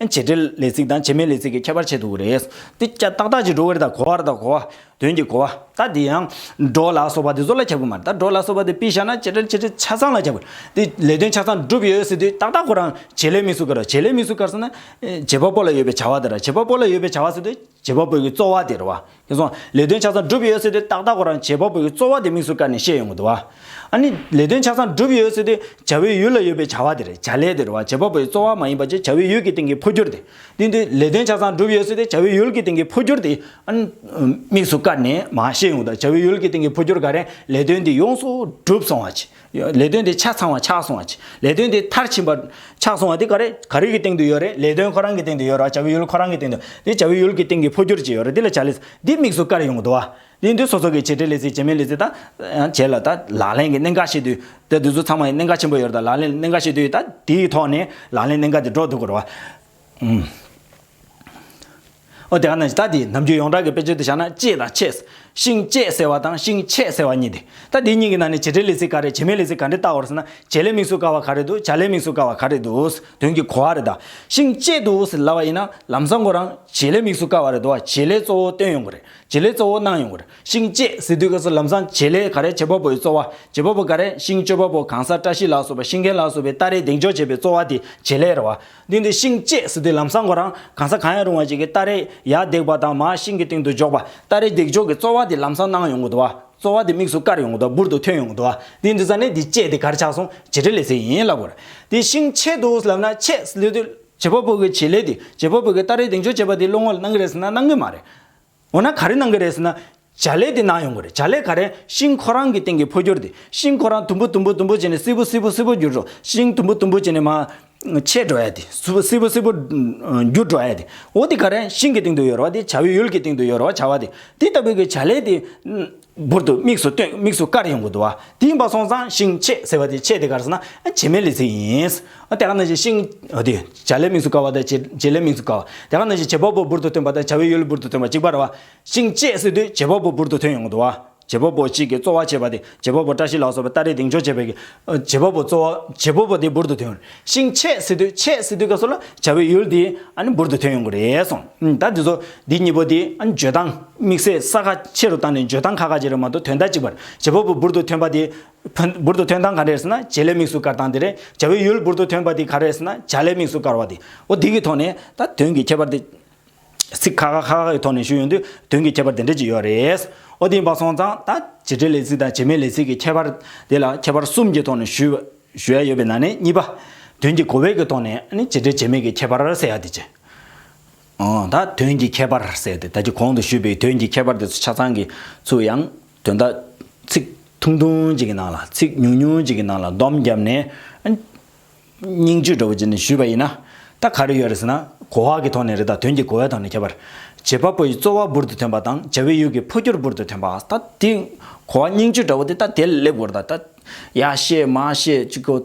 བྱེད་འབྲེལ་ལས་ཚིག་དང་བྱེད་མིན་ལས་ཚིག་གི་ཁྱད་པར་ཕྱེ་འདུག་རེད་དེ། ཀྱ་ཏག་ཏག་ཀྱི་འགྲོ་བར་དང་གོ་བར་དང་གོ་བ། དོན་གྱི་གོ་བ། ད་དེ་ཡང། འགྲོ་ལ་སོགས་པ་དེ་གཟུགས་ལ་ཁྱབ་གི་མ་རེད་ད་འགྲོ་ལ་སོགས་པ་དེ་དཔེ་བཞག་ན་བྱེད་འབྲེལ་བྱེད་འབྲེལ་ཆ་ཚང་ལ་ཁྱབ་གི་རེད་དེ། ལས་དོན་ཆ་ཚང་འགྲུབ་ཡོད་ཟེར་དུས་ཏག་ཏག་ཁོ་རང་བྱེད་ལས་མི་སུ་གར་བྱེད་ལས་མི་སུ་གར་ཟེར་ན། བྱེད་པ་པོ་ལ་ཡོད་པའི་བྱ་བ་དེ་རེད་བྱེད་པ་པོ་ལ་ཡོད་པའི་བྱ་བ་ཟེར་དུས། བྱེད་པ་པོ་ཡི་རྩོལ་བ་དེར་བ། ཁྱོད་སོང། ལས་དོན་ཆ་ཚང་འགྲུབ་ཡོད་ཟེར་དུས་ཏག་ཏག་གོ་རང་བྱེད་པ་པོ་ཡི་རྩོལ་བ་དེ་དམིགས་སུ་བཀར་ནས་བཤད་ཡོང་གི་འདུག་བ། ཨ་ནི། ལས་དོན་ཆ་ཚང་འགྲུབ་ཡོད་ཟེར་དུས་བྱ་བའི་ཡུལ་ལ་ཡོད་པའི་བྱ་བ་དེར་བྱ་ལས་དེར་བ་བྱེད་པ་པོ་ཡི་རྩོལ་བ་མ་ཡིན་པ་ཅི་བྱ་བའི་ཡུལ་གྱི་སྟེང་གི་འཕོ་འགྱུར་དེ། དེ་དུས། ལས་དོན་ཆ་ཚང་འགྲུབ་ཡོད་ཟེར་དུས་བྱ་བའི་ཡུལ་གྱི་སྟེང་གི་འཕོ་འགྱུར་དེ། ཨ་ནི། དམིགས་སུ་བཀར་ནས་མ་བཤད་ཡོང་གི་འདུག་བྱ་བའི་ཡུལ་གྱི་སྟེང་གི་འཕོ་འགྱུར་ག་རེ། ལས་དོན་དེ་ཡོངས་སུ་འགྲུབ་སོང་བ་ཅི། ལས་དོན་དེ་ཆ་ཚང་བ་ཆགས་སོང་བ་ཅི། ལས་དོན་དེ་མཐར་ཕྱིན་པ། ཆགས་སོང་བ་དེ་ག་རེ་ག་རེའི་སྟེང་དུ་ཡོད་རེད་ལས་དོན་ཁོ་རང་གི་སྟེང་དུ་ཡོད་རེད་བ་བྱ་བའི་ཡུལ་ཁོ་རང་གི་སྟེང་དུ། དེ་བྱ་བའི་ཡུལ་གྱི་སྟེང་གི་འཕོ་འགྱུར་ཅི་ཡོད་རེད་དེ་ལ་བྱ་ལས། འདི་དམིགས་སུ་བཀར་ཡོང་གི་འདུག་བ། དེ་འདུག་སོ་སོ་གི་བྱས་འབྲས་ལས་ཚིག་བྱས་མིན་ལས་ཚིག་དང། བྱས་ལ་ད་ལག་ལེན་གྱི་གནད་འགག་ཤེས་དུས། དེ་འདུག་ཚང་མ་ཡི་གནད་འགག་ཆེན་པོ་ཡོད་རེད་ད་ལག་ལེན་གནད་འགག་ཤེས་དུས་ད་དེའི་ཐོག་ནས་ལག་ལེན་གནད་འགག་དེ་སྒྲོག་འདུག་གོ་རེད་བ། ཨོ་དེ་ག་ནས་ད་དེ་ནམ་རྒྱུན་ཡོངས་གྲགས་ཀྱི་དཔེ་ཆོས་དུ་བཞག་ན་ལྕེ་དང་ཆེས། ཤིང་བཅད་ཟེར་བ་དང་ཤིང་ཆད་ཟེར་བ་གཉིས་ཏེ། ད་དེ་གཉིས་ཀྱི་ནང་ནས་བྱེད་སྒྲའི་ལས་ཚིག་ག་རེ་བྱེད་མའི་ལས་ཚིག་ག་འདྲེ་བཏགས་བར་ཟེར་ན་བྱེད་ལས་དམིགས་སུ་བཀར་བ་ག་རེ་འདུག་བྱ་ལས་དམིགས་སུ་བཀར་བ་ག་རེ་འདུག་དོན་གྱི་གོ་བ་རེ་ད། ཤིང་བཅད་དུ་ཟེར་ལབ་པ་ཡིན་ན་ལམ་སང་གོ་རང་བྱེད་ལས་དམིགས་སུ་བཀར་བ་རེ་འདུག་བ་བྱེད་ལས་གཙོ་བོ་སྟོན་ཡོང་གི་རེད་བྱེད་ལས་གཙོ་བོ་གནང་ཡོང་གི་རེད་ཤིང་བཅད་ཟེར་དུས་སྐབས་སུ་ལམ་སང་བྱེད་ལས་ག་རེ་བྱེད་པ་པོ་ཡི་གཙོ་བ་བྱེད་པ་པོ་ག་རེ་ཤིང་གཅོད་པ་པོ་གང་ས་བཀྲ་ཤིས་ལགས་སོ་བ་ཤིང་མཁན་ལགས་སོ་བའི་སྟ་རེའི་གདེང་འཇོག་བྱེད་པའི་གཙོ་བ་དེ་བྱེད་ལས་རེད་བ། གདིང་དེ་ཤིང་བཅད་ཟི་དེ་ལམ་སྲང་གོ་རང་གང་ས་གང་ཡང་རུང་བ་ཅིག་གི་སྟ་རེ་ཡར་རྡེག་པ་དང་མ་ཤིང་གི་སྟེང་དུ་འཇོག་པ་སྟ་རེ་རྡེག་འཇོག་གི་རྩོལ་བ་དེ་ལམ་སྲང་ནང་ཡོང་གི་འདུག་རྩོལ་བ་དེ་དམིགས་སུ་བཀར་ཡོང་གི་འདུག་འབུར་དུ་ཐོན་ཡོང་གི་འདུག་གདིང་དེ་ས་ནས་དེ་བཅད་དེ་གར་ཆག་སོང་བྱེད་འབྲེལ་ལས་ཟེར་ཡིན་ལབ་དགོས། དེ་ཤིང་ཆད་འདུག་ལབ་ན་ཆད་ཟི་ལུས་དུས། བྱེད་པ་པོ་གི་བྱེད་ལས་དེ་བྱེད་པ་པོ་གི་སྟ་རེ་རྡེག་འཇོག་བྱེད་པ་དེ་བློ་ངོར་སྣང་གི་རེད་ཟེར་ན་སྣང་གི་མ་རེད། འོ་ན་ག་རེ་གནང་གི་རེད་ཟེར་ན། བྱ་ལས་དེ་གནང་ཡོང་གི་རེད་བྱ་ལས་ག་རེ་ཤིང་ཁོ་རང་གི་སྟེང་གི་འཕོ་འགྱུར་དེ་ཤིང་ཁོ་རང་དུམ་བུ་དུམ་བུ་དུམ་བུ་བྱས་ནས་སིལ་བུ་སིལ་བུ་སིལ་བུ་འགྱུར་འགྲོ་ཤིང་དུམ་བུ་དུམ་བུ་བྱས་ནས་མ། ཆད་འགྲོ་ཡ་དེ་སིལ་བུ་སིལ་བུ་སིལ་བུ། འགྱུར་འགྲོ་ཡ་དེ་འོ་དེ་ག་རེ་ཤིང་གི་སྟེང་དུ་ཡོ་རོ་བ་དེ་བྱ་བའི་ཡུལ་གྱི་སྟེང་དུ་ཡོ་རོ་བ་བྱ་བ་དེ་དེ་ལྟ་བུའི་གི་བྱ་ལས་དེ། འབུར་དུ་དམིགས་སུ་སྟོན་དམིགས་སུ་བཀར་ཡོང་གི་འདུག་དེ་ཡིན་པ་སོང་ཙང་ཤིང་ཆེ་ཟེར་བ་དེ་ཆེ་དེ་གར་ཟེར་ན་བྱེ་མའི་ལས་ཚིག་ཡིན། དེ་ག་ནང་བཞིན་ཤིང་དེ་བྱ་ལས་དམིགས་སུ་བཀར་བ་དང་བྱེ་ལས་དམིགས་སུ་བཀར་བ། དེ་ག་ནང་བཞིན་བྱེ་བ་པོ་འབུར་དུ་ཐོན་པ་དང་བྱ་བའི་ཡུལ་འབུར་དུ་ཐོན་པ་གཅིག་པ་རེད་བ། ཤིང་ཆེ་ཟེར་དུས་བྱེ་བ་པོ་འབུར་དུ་ཐོན་ཡོང་གི་འདུག་བ། བྱེ་བ་པོ་གཅིག་གིས་གཙོ་བ་བྱས་པ་དེ་བྱེ་བ་པོ་བཀྲ་ཤིས་ལགས་སོགས་པའི་སྟ་རེས་གདེང་འཇོག་བྱས་པའི་བྱེ་བ་པོ་གཙོ་བ་བྱེ་བ་པོ་དེ་འབུར་དུ་ཐོན། ཤིང་ཆས་ཟེར་དུས་ཆས་ཟེར་དུས་སྐབས་སུ་ལ་བྱ་བའི་ཡུལ་དེ་ཨཱ་ནི་འབུར་དུ་ཐོན་ཡོང་གི་རེད་གསུངས། ད་དེ་ཚོ་འདི་གཉིས་པོ་དེ་ཨཱ་ནི་བརྗོད་སྟངས་དམིགས་བསལ་ས་ཁ་ཆེ་རུ་བཏང་ནས་བརྗོད་སྟངས་ཁ་ཁ་ཅིག་རེད་མ་གཏོགས་དོན་དག་གཅིག་པར་བྱེད་པ་པོ་འབུར་དུ་ཐོན་པ་དེ། འབུར་དུ་ཐོན་སྟངས་ག་རེ་རེད་ཟེར་ན་བྱེད་ལས་དམིགས་སུ་བཀར་སྟངས་དེ་རེད་བྱ་བའི་ཡུལ་འབུར་དུ་ཐོན་པ་དེ་ག་རེ་རེད་ཟེར་ན་བྱ་ལས་དམིགས་སུ་བཀར་བ་དེ། འོ་དེ་གི་ཐོག་ནས་ད་དོན་གྱི་ཁྱད་པར་དེ། ཚིག་ཁ་ཁ་ཁ་ཁ་གི་ཐོག་ནས་ཞུས་ཡོང་དུས་དོན་གྱི་ཁྱད་པར་དེ་འདྲ་ཅིག་ཡོད་རེད། ཨོ་དེ་འབའ་སོང་ཙང་ད་བྱེད་འབྲེལ་ལས་ཚིག་དང་བྱེད་མེད་ལས་ཚིག་གི་ཁྱད་པར་དེ་ལ་ཁྱད་པར་གསུམ་གྱི་ཐོག་ནས་ཞུས་ཞུ་ཡ་ཡོད་པའི་ནང་ནས་གཉིས་པ། དོན་གྱི་གོ་བས་ཀྱི་ཐོག་ནས་ནི་བྱེད་འབྲེལ་བྱེད་མེད་ཀྱི་ཁྱད་པར་གསལ་ཡ་དེ་བྱེད། ཨང་ད་དོན་གྱི་ཁྱད་པར་གསལ་ཏེ་ད་ཀྱི་གོང་དུ་ཞུས་པའི་དོན་གྱི་ཁྱད་པར་དེ་ཚོ་ཆ་ཚང་གི་ཚུལ་ཡང་དོན་དག་ཚིག་ཐུང་ཐུང་ཅིག་གི་ནང་ལ་ཚིག་ཉུང་ཉུང་ཅིག་གི་ནང་ལ་བསྡོམས་བརྒྱབ་ནས། སྙིང་བཅུད་འགྲོ་བ་ཅན་ནས་ཞུས་པ་ཡིན་ན། ད་ག་རེ་ཡོད་རེད་ཟེར་ན། གོ་བ་གི་ཐོག་ནས་རེད་ད་དོན་གྱི་གོ་བའི་ཐོག་ནས་ཁྱད་པར། བྱེད་པ་པོ་ཡི་རྩོལ་བ་འབུར་དུ་ཐོན་པ་དང་བྱ་བའི་ཡུལ་གྱི་འཕོ་འགྱུར་འབུར་དུ་ཐོན་པ་ད་དེ། གོ་བ་སྙིང་བཅུད་འདྲ་བོ་དེ་ད་དེ་ལ་སླེབས་དགོས་རེད་ད། ཡ་ཤེས་མ་ཤེས་ཅིག་གོ།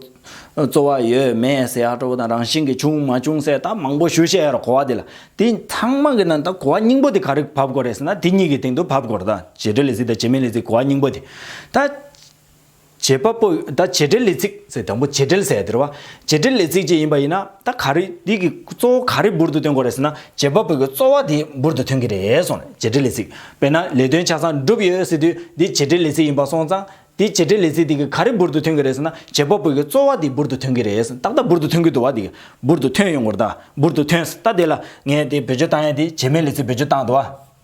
རྩོལ་བ་ཡོད་མེད་ཟེར་ཡག་སྤྲོ་བོ་དང་རང་བཞིན་གྱི་བྱུང་མ་བྱུང་ཟེར་ད་མང་པོ་ཞུ་བཤད་ཡོད་རེད་གོ་བ་དེ་ལ། དེ་ཚང་མ་གི་ནང་ད་གོ་བ་སྙིང་པོ་དེ་ག་རེ་བབས་དགོས་རེད་ཟེར་ན་དེ་གཉིས་ཀྱི་སྟེང་དུ་བབས་དགོས་རེད་ད། བྱེད་འབྲེལ་ལས་ཚིག་དང་བྱེད་མིན་ལས་ཚིག་གོ་བ་སྙིང་པོ་དེ། ད། བྱེད་པ་པོ་ད་བྱེད་འབྲེལ་ལས་ཚིག་ཟེར་དང་པོ་བྱེད་འབྲེལ་ཟེར་དེར་བ་བྱེད་འབྲེལ་ལས་ཚིག་ཅིག་ཡིན་པ་ཡིན་ན་ད་ག་རེ་འདི་གི་གཙོ་བོ་ག་རེ་འབུར་དུ་སྟོན་དགོས་རེད་ཟེར་ན་བྱེད་པ་པོ་གི་གཙོ་བ་དེ་འབུར་དུ་ཐོན་གི་རེད་སོང་ནས་བྱེད་འབྲེལ་ལས་ཚིག་དཔེར་ན་ལས་དོན་ཆ་ཚང་བསྒྲུབས་ཡོད་ཟེར་དུས་འདི་བྱེད་འབྲེལ་ལས་ཚིག་ཡིན་པ་སོང་ཙང་དེ་བྱེད་འབྲེལ་ལས་ཚིག་དེ་གི་ག་རེ་འབུར་དུ་ཐོན་གི་རེད་ཟེར་ན་བྱེད་པ་པོ་གི་གཙོ་བ་དེ་འབུར་དུ་ཐོན་གི་རེད་ཟེར་ཏག་ཏག་འབུར་དུ་ཐོན་གི་འདུག་བ་དེ་གི་འབུར་དུ་ཐོན་ཡོང་གི་རེད་ད་འབུར་དུ་ཐོན་ཟེར་ད་དེ་ལ་ངས་དེ་བེད་སྤྱོད་བཏང་ཡ་དེ་བྱེད་མེད་ལས་ཚིག་བེད་སྤྱོད་བཏང་འདུག་བ།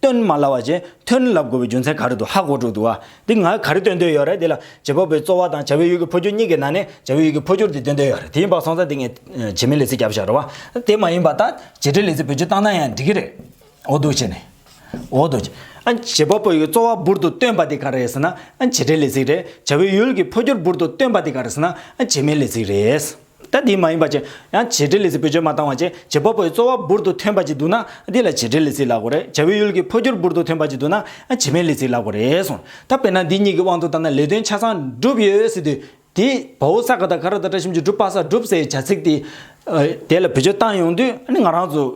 སྟོན་མ་ལ་བ་ཅན་ཐོན་ལབ་དགོས་པའི་རྒྱུ་མཚན་ག་རེ་འདུག་ཧ་གོ་དྲུག་འདུག་ཨ། འདི་ང་ག་རེ་སྟོན་འདོད་ཡོད་རེད་འདི་ལ། བྱེད་པ་པོའི་རྩོལ་བ་དང་བྱ་བའི་ཡུལ་གྱི་འཕོ་འགྱུར་གཉིས་ཀྱི་ནང་ནས་བྱ་བའི་ཡུལ་གྱི་འཕོ་འགྱུར་དེ་སྟོན་འདོད་ཡོད་རེད་དེ་ཡིན་པ་སོང་ཙང་འདི་ངས། བྱེད་མིན་ལས་ཚིག་རྒྱབ་ཤ་རོ། དེ་མ་ཡིན་པ་ད། བྱེད་འབྲེལ་ལས་ཚིག་བོད་ཆུ་བཏང་ན་ཡང་འགྲིག་གི་རེད། འོ་འདུག་བྱས་ནས། འོ་འདུག། ཨ། བྱེད་པ་པོའི་རྩོལ་བ་འབུར་དུ་སྟོན་པ་དེ་ག་རེད་ཟེར་ན། བྱེད་འབྲེལ་ལས་ཚིག་རེད། བྱ་བའི་ཡུལ་གྱི་འཕོ་འགྱུར་འབུར་དུ་སྟོན་པ་དེ་ག་རེད་ཟེར་ན། བྱེད་མིན་ལས་ཚིག་རེད། ད་དེ་མ་ཡིན་པ་བཅས་ཡང་བྱེད་འབྲེལ་ལས་ཚིག་བེད་སྤྱོད་མ་བཏང་བ་བཅས་བྱེད་པ་པོའི་རྩོལ་བ་འབུར་དུ་ཐོན་པ་བཅས་འདུག་ན་དེ་ལ་བྱེད་འབྲེལ་ལས་ཚིག་ལག་གོ་རེད་བྱ་བའི་ཡུལ་གྱི་འཕོ་འགྱུར་འབུར་དུ་ཐོན་པ་བཅས་འདུག་ན་བྱེད་མེད་ལས་ཚིག་ལག་གོ་རེད་གསུངས། ད་དཔེར་ན་འདི་གཉིས་ཀྱི་དབང་དུ་བཏང་ན་ལས་དོན་ཆ་ཚང་བསྒྲུབས་ཡོད་ཟེར་དུས། དེ་བོའུ་ས་ག་དང་ག་ར་དང་བཀྲ་ཤིས་འཇུག་སྒྲུབ་དཔག་ས་སྒྲུབ་སའི་བྱ་ཚིག་དེ། དེ་ལ་བེད་སྤྱོད་བཏང་ཡོང་དུས་ང་རང་ཚོའི་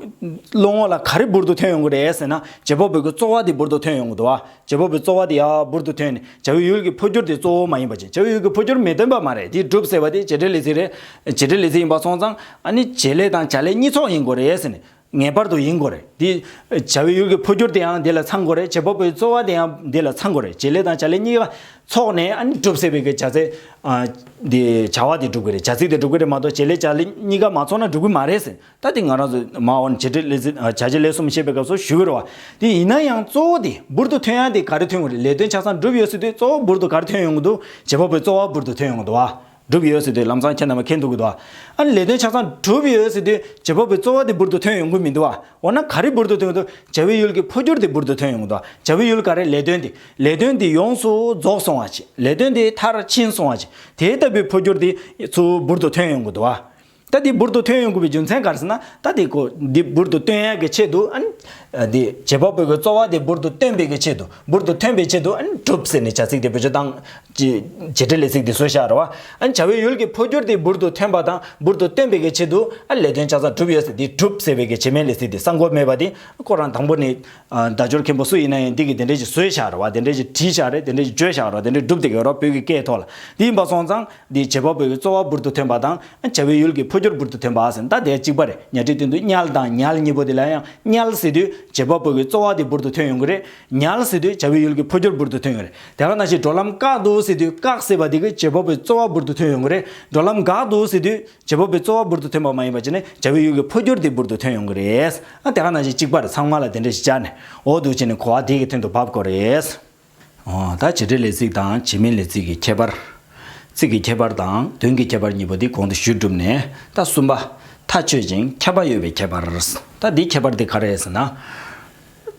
བློ་ངོར་ལ་ག་རེ་འབུར་དུ་ཐོན་ཡོང་གི་རེད་ཟེར་ན་བྱེད་པ་པོའི་རྩོལ་བ་དེ་འབུར་དུ་ཐོན་ཡོང་གི་འདུག་བ། བྱེད་པོ་པོའི་རྩོལ་བ་དེ་ཡག་འབུར་དུ་ཐོན་ནས་བྱ་བའི་ཡུལ་གྱི་འཕོ་འགྱུར་དེ་གཙོ་བོ་མ་ཡིན་པ་ཅན་བྱ་བའི་ཡུལ་གྱི་འཕོ་འགྱུར་མི་སྟོན་པ་མ་རེད་དེ་སྒྲུབ་ཟེར་བ་དེ་བྱེད་འབྲེལ་ལས་ཚིག་རེད། བྱེད་འབྲེལ་ལས་ཚིག་ཡིན་པ་སོང་ཙང་ཨ་ནི་བྱེད་ལས་དང་བྱ་ལས་གཉིས་ཚོགས་ཡིན་དགོས་རེད་ཟེར་ནས་ངེས་པར་དུ་ཡིན་དགོས་རེད་དེ། བྱ་བའི་ཡུལ་གྱི་འཕོ་འགྱུར་དེའང་འདི་ལ་ཚང་དགོས་རེད་བྱེད་པོ་པོའི་རྩོལ་བ་དེ་ཡང་འདི་ལ་ཚང་དགོས་རེད་བྱེད་ལས་དང་བྱ་ལས་གཉིས་ཀ་ཚོགས་ནས་ཨ་ནི་སྒྲུབ་ཟེར་བའི་གྱི་བྱ་ཚིག་དེ་བྱ་བ་དེ་སྒྲུབ་དགོས་རེད་བྱ་ཚིག་དེ་སྒྲུབ་གི་རེད་མ་གཏོགས་བྱེད་ལས་བྱ་ལས་གཉིས་ཀ་མ་ཚོགས་ན་སྒྲུབ་གི་མ་རེད་ཟེར་ད་དེ་ང་རང་ཚོས་མ་འོངས་བྱས་འབྲས་ལས་བྱ་བྱེད་ལས་གསུམ་བཤད་པའི་སྐབས་སུ་ཞུ་འོས་རོ། དེ་ཡིན་ན་ཡང་གཙོ་བོ་དེ་འབུར་དུ་ཐོན་ཡང་དེ་ག་རེ་ཐོན་དགོས་རེད་ལས་དོན་ཆ་ཚང་འགྲུབ་ཡོད་སྲིད་དུས་གཙོ་བོ་འབུར་དུ་ག་རེ་ཐོན་ཡོང་གི་འདུག་བྱེད་པ་པོའི་གཙོ་བ་འབུར་དུ་ཐོན་ཡོང་གི་འདུག་བ། འགྲུབ་ཡོད་སྲིད་དུས་ལམ་སང་ཁྱེད་རྣམ་པ་ཁེལ་འདུག་གི་འདུག་བ། ཨ་ནི་ལས་དོན་ཆ་ཚང་གྲུབ་ཡོད་སྲིད་དུས་བྱེད་པ་པོའི་གཙོ་བ་དེ་འབུར་དུ་ཐོན་ཡོང་གི་མི་འདུག་བ། འོ་ན་ག་རེ་འབུར་དུ་ཐོན་གི་འདུག་བྱ་བའི་ཡུལ་གྱི་འཕོ་འགྱུར་དེ་འབུར་དུ་ཐོན་ཡོང་གི་འདུག་བྱ་བའི་ཡུལ་ག་རེ་ལས་དོན་དེ་ལས་དོན་དེ་ཡོངས་སུ་རྫོགས་སོང་བ་བྱས་ལས་དོན་དེ་མཐར་ཕྱིན་སོང་བ་བྱས་དེ་ལྟ་བུའི་འཕོ་འགྱུར་དེ་ཚོ་འབུར་དུ་ཐོན་ཡོང་གི་འདུག་བ། རྟ་དེ་འབུར་དུ་ཐོན་ཡོང་དགོས་པའི་རྒྱུ་མཚན་ག་རེ་ཟེར་ན་རྟ་དེ་གོ་དེ་འབུར་དུ་བཏོན་ཡག་གི་ཆེད་དུ་ཨ་ནི། དེ་བྱེད་པ་པོའི་གོ་རྩོ་བ་དེ་འབུར་དུ་བཏོན་པའི་གི་ཆེད་དུ་འབུར་དུ་ཐོན་པའི་ཆེད་དུ་ཨ་ནི་གྲུབ་ཟེར་ནས་བྱ་ཚིག་དེ་བོད་ཆོས་དང། བྱེད་འབྲེལ་ལས་ཚིག་དེ་གསོལ་བཤགས་ར་བ། ཨ་ནི་བྱ་བའི་ཡུལ་གྱི་འཕོ་འགྱུར་དེ་འབུར་དུ་ཐོན་པ་དང་འབུར་དུ་བཏོན་པའི་གི་ཆེད་དུ་ཨ་ལས་དོན་ཆ་ཚང་གྲུབ་ཡོད་ཟེར་དེ་གྲུབ་ཟེར་བའི་གི་བྱེད་མའི་ལས་ཚིག་དེ་གསང་གོ་མེད་པ་དེ་ཁོ་རང་དང་པོ་ནས། བརྡ་སྦྱོར་མཁན་པོ་སུ་ཡིན་ན་ཡང་དེ་གི་དེ་འདྲས་ཀྱི་གསོལ་བཤགས་ར་བ་དེ་འདྲས་ཀྱི་བྲིས་བཤགས་རེད་དེ་འདྲས་ཀྱི་བརྗོད་བཤགས་ར་བ་དེ་འདྲས་གྲུབ་དེ་གའི་རོགས་བོད་ཀྱི་སྐད་ཐོག་ལ་དེ་ཡིན་པ་སོང་ཙང། འདིའི་བྱེད་པ་པོའི་རྩོལ་བ་འབུར་དུ་ཐོན་པ་དང། བྱ་བའི་ཡུལ་གྱི་འཕོ་འགྱུར་འབུར་དུ་ཐོན་པ་ཟིན་ལྟ་དེ་གཅིག་པར་ཉག་ཁྲིའི་སྟེང་དུ་ཉལ་དང་ཉལ་གཉིས་པོ་དེ་ལ་ཡང་ཉལ་ཟེར་དུས་བྱེད་པ་པོའི་རྩོལ་བ་དེ་འབུར་དུ་ཐོན་ཡོང་གི་རེད། ཉལ་ཟེར་དུས་བྱ་བའི་ཡུལ་གྱི་འཕོ་འགྱུར་འབུར་དུ་ཐོན་ཡོང་གི་རེད། དེ་ག་ན་ཞིག་འགྲོ་ལམ་བཀག་འདུག་ཟེར་དུས་བཀག་ཟེར་བ་དེ་གིས་བྱེད་པ་པོའི་རྩོལ་བ་འབུར་དུ་ཐོན་ཡོང་གི་རེད། འགྲོ་ལམ་འགག་འདུག་ཟེར་དུས་བྱེད་པ་པོའི་རྩོལ་བ་འབུར་དུ་ཐོན་པ་མ་ཡིན་པ་བྱས་ནས་བྱ་བའི་ཡུལ་གྱི་འཕོ་འགྱུར་དེ་འབུར་དུ་ཐོན་ཡོང་གི་རེད། དེ་ག་ན་ཞིག་གཅིག་པར་ཚང་མ་ལ་དེ་འདྲ་ཞིག་སྦྱར་ནས་འོ་འདུག་བྱས་ནས་གོ་བ་དེ་གི་དོན་དུ་བབ་དགོས་རེད། ད་བྱེད་འབྲེལ་ལས་ཚིག་དང་བྱེད་མིན་ལས་ཚིག་གི་ཁྱད་པར། ཚིག་གི་ཁྱད་པར་དང་དོན་གྱི་ཁྱད་པར་གཉིས་པོ་འདི་གོང་དུ་ཞུས་གྲུབ་ནས་ད་གསུམ་པ། མཐའ་ཆོད་ཅིང་ཁྱབ་པ་ཡོད་པའི་ཁྱད་པར། ད་འདིའི་ཁྱད་པར་དེ་ག་རེད་ཟེར་ན།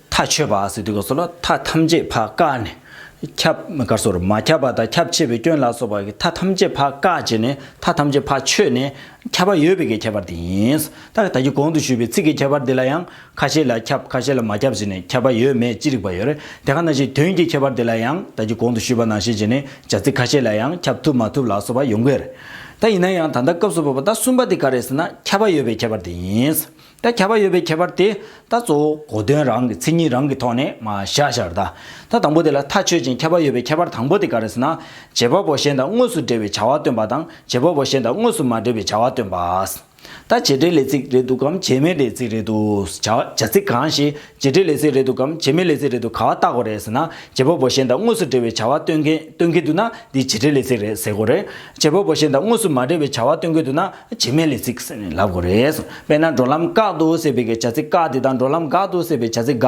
མཐའ་ཆོད་པ་ཟེར་དུས་ག་སོགས་ལ་མཐའ་ཐམས་ཅད་བྷ་ག་ནས། ཁྱབ་ག་སོར་མ་ཁྱབ་པ་དང་ཁྱབ་ཆེས་པའི་སྐྱོན་ལ་སོགས་པ་མཐའ་ཐམས་ཅད་བྷ་ག་བྱས་ནས་མཐའ་ཐམས་ཅད་བྷ་ཆོད་ནས་ཁྱབ་པ་ཡོད་པའི་ཀྱི་ཁྱད་པར་དེ་ཡིན། ད་ད་གི་གོང་དུ་ཞུས་པའི་ཚིག་གི་ཁྱད་པར་འདི་ལ་ཡང་ཁ་ཤས་ལ་ཁྱབ་ཁ་ཤས་ལ་མ་ཁྱབ་ཟེར་ནས་ཁྱབ་པ་ཡོད་མེད་ཅི་རིགས་པ་ཡོད་རེད་དེ་ག་ན་ཞིག་དོན་གྱི་ཁྱད་པར་དེ་ལ་ཡང་ད་ཀྱི་གོང་དུ་ཞུས་པ་ནང་བཞིན་བྱས་ནས་བྱ་ཚིག་ཁ་ཤས་ལ་ཡང་ཁྱབ་ཐུབ་མ་ཐུབ་ལ་སོགས་པ་ཡོང་གི་རེད་ད་ཡིན་ན་ཡང་ད་ལྟ་སྐབས་སུ་བབས་པ་ད་གསུམ་པ་དེ་ག་རེད་ཟེར་ན་ཁྱབ་པ་ཡོད་པའི་ཁྱད་པར་དེ་ཡིན་ད་ཁྱབ་པ་ཡོད་པའི་ཁྱད་པར་དེ་ད་གཙོ་བོ་གོ་དོན་རང་གི་མཚན་ཉིད་རང་གི་ཐོག་ནས་མ་བཞག་བཞག་རེད་ད་དང་པོ་དེ་ལ་མཐའ་ཆོད་ཅིང་ཁྱབ་པ་ཡོད་པའི་ཁྱད་པར་དང་པོ་དེ་ག་རེད་ཟེར་ན་བྱེད་པ་པོ་གཞན་དང་དངོས་སུ་འབྲེལ་བའི་བྱ་བ་སྟོན་པ་དང་བྱེད་པ་པོ་གཞན་དང་དངོས་སུ་མ་འབྲེལ་བའི་བྱ་བ་སྟོན་པ། ད་བྱེད་འབྲེལ་ལས་ཚིག་རེད་འདུག་གམ་བྱེད་མེད་ལས་ཚིག་རེད་འདུག་བྱ་ཚིག་གང་ཞིག་བྱེད་འབྲེལ་ལས་ཚིག་རེད་འདུག་གམ་བྱེད་མེད་ལས་ཚིག་རེད་འདུག་ག་བ་བཏགས་གོ་རེད་ཟེར་ན་བྱེད་པོ་བོ་གཞན་དང་དངོས་སུ་འབྲེལ་བའི་བྱ་བ་སྟོན་མཁན་སྟོན་མཁན་འདུག་ན་འདི་བྱེད་འབྲེལ་ལས་ཚིག་རེད་ཟེར་གོ་རེད། བྱེད་པོ་བོ་གཞན་དང་དངོས་སུ་མ་འབྲེལ་བའི་བྱ་བ་སྟོན་མཁན་འདུག་ན་བྱེད་མེད་ལས་ཚིག་ཟེར་ནས་ལབ་གོ་རེད། དཔེར་ན་འགྲོ་ལམ་བཀག་འདུག་ཟེར་བའི་བྱ་ཚིག་བཀག་དེ་དང་འགྲོ་ལམ་འགག་འདུག་ཟེར་བའི་བྱ་ཚིག་འགག་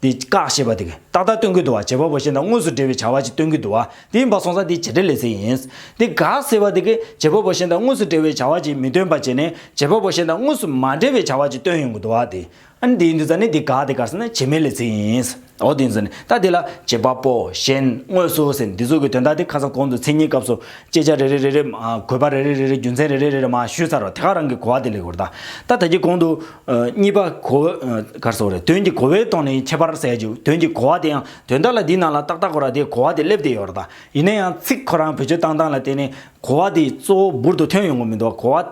འདི་བཀག་ཞེས་པ་དེ་ཏག་ཏག་སྟོན་གི་འདུག་བ་བྱེད་པ་པོ་ཞེས་ན་དངོས་སུ་འབྲེལ་བའི་བྱ་བ་ཅིག་སྟོན་གི་འདུག་བ་དེ་ཡིན་པ་སོང་ཙང་དེ་བྱེད་འབྲེལ་ལས་ཟེར་ཡིན། འདི་བཀག་ཟེར་བ་དེ་བྱེད་པ་པོ་ཞེས་ན་དངོས་སུ་འབྲེལ་བའི་བྱ་བ་ཅིག་མི་སྟོན་པ་བྱས་ནས་བྱེད་པ་པོ་ཞེས་ན་དངོས་སུ་མ་འབྲེལ་བའི་བྱ་བ་ཅིག་སྟོན་ཡོང་གི་འདུག་བ་དེ། ཨ་ནི་དེའི་འདུག་ཙང་ནི་འདི་བཀག་དེ་བཀག་ཟེར་ན་བྱེད་མེད་ལས་ཟེར་ཡིན། འོ་དེ་ཡིན་ཙང་ནི་ད་དེ་ལ་བྱེད་པ་པོ་གཞན་དངོས་སུ་ཟེར་འདི་ཚོ་གི་དོན་དག་དེ་ཁ་སང་གོང་དུ་མཚན་ཉིད་སྐབས་སུ་དཔྱད་བྱ་རེ་རེ་རེ་རེ། གོ་བ་རེ་རེ་རེ་རེ་རྒྱུ་མཚན་རེ་རེ་རེ་རེ་མ་ཞུས་ཚར་བར་དེ་ག་རང་གི་གོ་བ་དེ་ལས་གོ་རེ་དང་ད་ད་གྱི་གོང་དུ། གཉིས་པ། གོ་བ། གར་སོགས་རེད། དོན་གྱི་གོ་བའི་དོན་ནི་ཁྱད་པར་གསལ་བྱེད་དོན་གྱི་གོ་བ་དེ་ཡང་དོན་དག་ལ་འདིའི་ནང་ལ་ཏག་ཏག་གོ་ར་དེའི་གོ་བ་དེ་སླེབས་བསྡད་ཡོད་རེད་ད། ཡིན་ན་ཡང་ཚིག་ཁོ་རང་བེད་སྤྱོད་བཏང་སྟངས་ལ་བལྟས་ནས་གོ་བ་དེ་གཙོ་བོ་འབུར་དུ་ཐོན་ཡོང་གི་མི་འདུག་གོ་བ།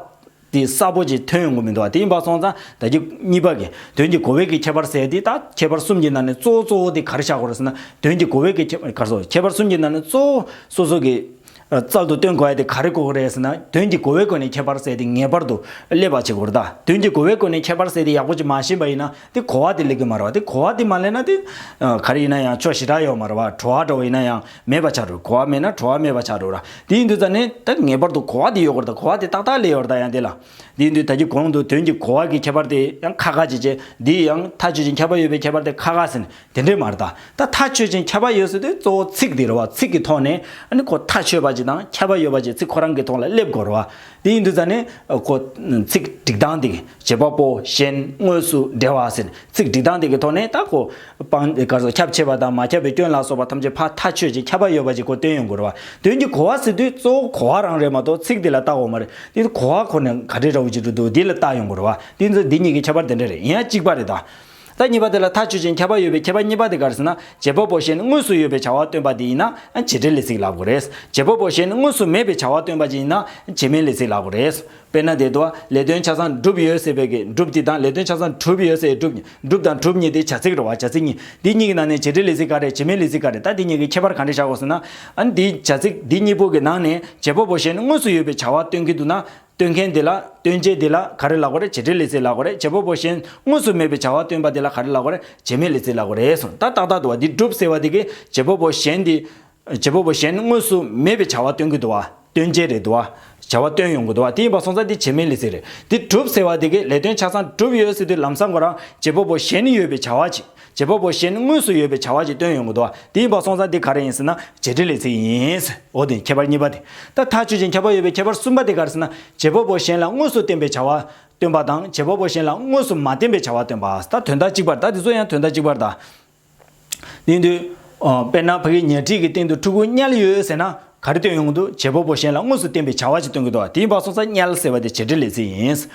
དེ་གསལ་པོ་ཅིག་ཐོན་ཡོང་གི་མི་འདུག་དེ་ཡིན་པ་སོང་ཙང་ད་ཀྱི། གཉིས་པ། དོན་གྱི་གོ་བའི་གི་ཁྱད་པར་གསལ་དེ་ད་ཁྱད་པར་གསུམ་གྱི་ནང་ནས་གཙོ་བོ་གཙོ་བོ་དེ་གར་བཞག་གོ་ར་ཟེར་ན་དོན་གྱི་གོ་བའི་གི། གར་སོགས་ཁྱད་པར་གསུམ་གྱི་ནང་ནས་གཙོ་བོ་སོ་སོ་གི། རྩལ་དུ་སྟོན་དགོས་ཡ་དེ་ག་རེ་གོ་དགོས་རེད་ཟེར་ན་དོན་གྱི་གོ་བའི་སྒོ་ནས་ཁྱད་པར་བསལ་ཏེ་ངེས་པར་དུ་ཀླད་པ་བྱེད་དགོས་རེད་ད་དོན་གྱི་གོ་བའི་སྒོ་ནས་ཁྱད་པར་བསལ་ཏེ་ཡག་པོ་བྱེད་མ་ཤེས་པ་ཡིན་ན་དེ་གོ་བ་དེ་ལེགས་གི་མ་རེད་བ་དེ་གོ་བ་དེ་མ་ལེན་ན་དེ་ག་རེ་ཡིན་ན་ཡང་ཆོག་ཞེ་དྲག་ཡོད་མ་རེད་བ་བྲོ་བ་འདྲ་བོ་ཡིན་ན་ཡང་མེད་པ་ཆགས་རུ་གོ་བ་མེད་ན་བྲོ་བ་མེད་པ་ཆགས་རུ་ར་དེ་ཡིན་དུས་ད་ནི་ད་ངེས་པར་དུ་གོ་བ་དེ་ཡོད་དགོས་རེད་ད་གོ་བ་དེ་ཏག་ཏག་ལས་ཡོད་རེད་ད་ཡང་དེ་ལ་དེ་ཡིན་དུས་ད་ཀྱི་གོང་དུ་དོན་གྱི་གོ་བ་གི་ཁྱད་པར་དེ་ཡང་ཁ་ཁ་བྱེད་བྱེད་འདི་ཡང་ཐག་ཆོད་ཅིང་ཁྱབ་པ་ཡོད་པའི་ཁྱད་པར་དེ་ཁ་ཁ་ཟེར་ནས་དེ་འདྲས་མ་རེད་ད། ད་མཐའ་དཔྱོད་ཅིང་ཁྱབ་པ་ཡོད་ཟེར་དུས་གཙོ་བོ་ཚིག་དེ་རེད་བ། ཚིག་གི་ཐོག་ནས་ནི་ཁོ་མཐའ་དཔྱོད་པ་ཅིག་དང་ཁྱབ་པ་ཡོད་པ་ཅིག་ཚིག་ཁོ་རང་གི་ཐོག་ལ་སླེབས་དགོས་རེད་བ། དེ་ཡིན་དུས་ད་ནི་ཁོ། ཚིག་སྒྲིག་སྟངས་དེ་བྱེད་པ་པོ་གཞན་དངོས་སུ་འབྲེལ་བ་ཟེར། ཚིག་སྒྲིག་སྟངས་དེ་གི་ཐོག་ནས་ད་ཁོ། སྤང། གར་སོགས་ཁྱབ་ཆེ་བ་དང་མ་ཁྱབ་པའི་སྐྱོན་ལ་སོགས་པ་ཐམས་ཅད་ཕར་མཐའ་དཔྱོད་ཅིང་ཁྱབ་པ་ཡོད་པ་ཅིག་ཁོ་བཏོན་ཡོད་དགོས་རེད་བ། དོན་གྱིས་གོ་བ་ཟེར་དུས་གཙོ་བོ་གོ་བ་རང་རེད་མ་གཏོགས་ཚིག་དེ་ལ་བརྟག་འོག་མ་རེད། དེ་ཡིན་དུས་གོ་བ་ཁོ་ནས་ག་དྲི་ར་བོ་ཅིག་འདུག་འདུག་དེ་ལ་བརྟག་ཡོང་དགོས་རེད་བ། དེ་ཡིན་དུས་འདི་གཉིས་ཀྱི་ཁྱད་པར་དེ་འདྲ་རེད་ཡིན་ཡ་གཅིག་པ་རེད་ད། ད་གཉིས་པ་དེ་ལ་ཐག་ཆོད་ཅིང་ཁྱབ་པ་ཡོད་པའི་ཁྱད་པར་གཉིས་པ་དེ་གར་ཟིན་ན་རྗེས་དཔོག་པོ་ཞེས་ནི་དངོས་སུ་ཡོད་པའི་བྱ་བ་སྟོན་པ་དེ་ཡིན་ན་བྱེད་འབྲེལ་ལས་ཚིག་ལགས་པོ་རེད། རྗེས་དཔོག་པོ་ཞེས་ནི་དངོས་སུ་མེད་པའི་བྱ་བ་སྟོན་པ་ཅན་ཡིན་ན་བྱེད་མིན་ལས་ཚིག་ལགས་པོ་རེད། དཔེར་ན་དེ་དུ། ལས་དོན་ཆ་ཚང་གྲུབ་ཡོད་ཟེར་བའི་གི་འགྲུབ་དེ་དང་ལས་དོན་ཆ་ཚང་གྲུབ་ཡོད་ཟེར་བའི་གྲུབ་གྲུབ་དང་གྲུབ་གཉིས་དེ་བྱ་ཚིག་རེད་བ་བྱ་ཚིག་གཉིས་འདི་གཉིས་ཀྱི་ནང་ནས་བྱེད་འབྲེལ་ལས་ཚིག་ག་རེད་བྱེད་མིན་ལས་ཚིག་ག་རེད་ད་འདི་གཉིས་ཀྱི་ཁྱད་པར་གང་འདྲ་བྱ་དགོས་ཟེར་ན། འདིའི་བྱ་ཚིག་འདི་གཉིས་པོ་གི་ནང་ནས་རྗེས་དཔོག་པོ་ཞེས་ནི་དངོས་སུ་ཡོད་པའི་བྱ་བ་སྟོན་གྱི་འདུག་ན། སྟོན་མཁན་དེ་ལ་སྟོན་བྱེད་དེ་ལ་ག་རེ་ལགས་པ་རེད་བྱེད་འབྲེལ་ལས་ཚེ་ལགས་པ་རེད་བྱེད་པོ་པོ་གཞན་དངོས་སུ་མེད་པའི་བྱ་བ་སྟོན་པ་དེ་ལ་ག་རེ་ལགས་པ་རེད་བྱེད་མེད་ལས་ཚེ་ལགས་པ་རེད་གསུངས་ད་ཏག་ཏག་ཏུ་བ་འདི་སྒྲུབ་ཟེར་བ་དེ་གས་བྱེད་པོ་པོ་གཞན་དེ། བྱེད་པོ་པོ་གཞན་དངོས་སུ་མེད་པའི་བྱ་བ་སྟོན་གི་འདུག་བ་སྟོན་བྱེད་རེད་འདུག་བ་བྱ་བ་སྟོན་ཡོང་གི་འདུག་བ་དེ་ཡིན་པ་སོང་ཙང་དེ་བྱེད་མེད་ལས་ཚེ་རེད་དེ་སྒྲུབ་ཟེར་བ་དེ་གས་ལས་དོན་ཆ་ཚང་སྒྲུབ་ཡོད་ཟེར་དུས་ལམ་སང་གོ་རང་བྱེད་པོ་པོ་གཞན་ཡོད་པའི་བྱ་བ་བྱེད་བྱེད་པ་པོ་གཞན་དངོས་སུ་ཡོད་པའི་བྱ་བ་ཞིག་བཏོན་ཡོང་གི་འདུག་བ་དེ་ཡིན་པ་སོང་ཙང་འདི་ག་རེ་ཡིན་ཟེར་ན་བྱེད་འབྲེལ་ལས་ཚིག་ཡིན། འོ་དེ་ཁྱད་པར་གཉིས་པ་དེ་ད་ཐག་ཆོད་ཅིང་ཁྱབ་པ་ཡོད་པའི་ཁྱད་པར་གསུམ་པ་དེ་ག་རེ་ཟེར་ན་བྱེད་པ་པོ་གཞན་ལ་དངོས་སུ་བརྟེན་པའི་བྱ་བ་སྟོན་པ་དང་བྱེད་པ་པོ་གཞན་ལ་དངོས་སུ་མ་བརྟེན་པའི་བྱ་བ་སྟོན་པ་ད་དོན་དག་གཅིག་པར་གདའ་དེ་ཚོ་ཡང་དོན་དག་གཅིག་པར་གདའ། དེ་ཡིན་དུས། དཔེར་ན་ཕ་གིའི་ཉལ་ཁྲིའི་གི་སྟེང་དུ་ཕྲུ་གུ་དམྱལ་ཡོད་ཟེར་ན་ག་རེ་སྟོན་ཡོང་དུ་བྱེད་པོ་པོ་གཞན་ལ་དངོས་སུ་བསྟན་པའི་བྱ་བ་ཅིག་སྟོན་གི་འདུག་དེའི་བ་སོ་ས་ཉལ་ཟེར་བ་དེ་བྱེད་འབྲེལ་ལས་ཚིག་ཡིན།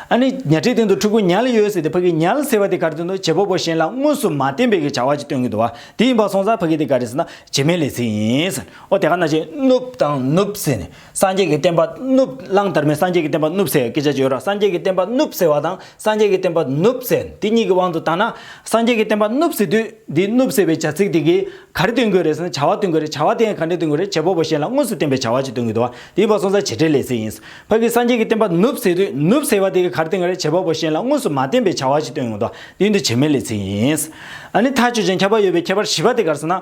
ཨ་ནི་ཉལ་ཁྲིའི་སྟེང་དུ་ཕྲུ་གུ་ཉལ་ཡོད་ཟེར་ཏེ་ཕ་གིས་ཉལ་ཟེར་བ་དེ་ག་རེ་སྟོན་དུ་བྱེད་པོ་པོ་གཞན་ལ་དངོས་སུ་མ་བསྟན་པའི་གི་བྱ་བ་ཅིག་སྟོན་གི་འདུག་དེའི་བ་སོང་ས་ཕ་གིས་དེ་ག་རེ་ཟེར་ན་བྱེད་མའི་ལས་ཚིག་ཡིན། ཨོ་དེ་ག་ན་བྱེད། ནུབ་དང་ནུབ་ཟེར་ནས་སངས་རྒྱས་ཀྱི་བསྟན་པ་ནུབ་གླང་དར་མས་སངས་རྒྱས་ཀྱི་བསྟན་པ་ནུབ་ཟེར་བའི་སྐད་ཆ་ཅིག་ཡོད་ར་སངས་རྒྱས་ཀྱི་བསྟན་པ་ནུབ་ཟེར་བ་དང་སངས་རྒྱས་ཀྱི་བསྟན་པ་ནུབ་བཙལ་འདི་གཉིས་ཀྱི་དབང་དུ་བཏང་ན། སངས་རྒྱས་ཀྱི་བསྟན་པ་ནུབ་བཙལ་དུས་འདི་ནུབ་བཙལ་བའི་བྱ་ཚིག་དེ་གིས་ག་རེ་སྟོན་དགོས་རེད་ཟེར་ན་བྱ་བ་སྟོན་དགོས་རེད་བྱ་བ་དེ་ཡང་ག་འདྲས་སྟོན་དགོས་རེད་བྱེད་པོ་པོ་གཞན་ལ་དངོས་སུ་བསྟན་པའི་བྱ་བ་ཅིག་སྟོན་དགོས་འདུག་བ་དེའི་བར་སོང་ཚ་བྱེད་འབྲེལ་ལས་ཟིན་ཡིན། བར་གྱི་སངས་རྒྱས་ཀྱི་བསྟན་པ་ནུབ་བཙལ་དུས་ནུབ་བཙལ་བ་དེ་གིས་ག་རེ་སྟོན་དགོས་རེད་བྱེད་པོ་པོ་གཞན་ལ་དངོས་སུ་མ་བསྟན་པའི་བྱ་བ་ཅིག་སྟོན་དགོས་འདུག་བ་དེའི་འདུ་བྱེད་མེད་ལས་ཟིན་ཡིན། ཨ་ནི་ཐག་ཆོད་ཅིང་ཁྱབ་པ་ཡོད་པའི་ཁྱད་པར་བཞི་པ་དེ་གར་སོང་ན།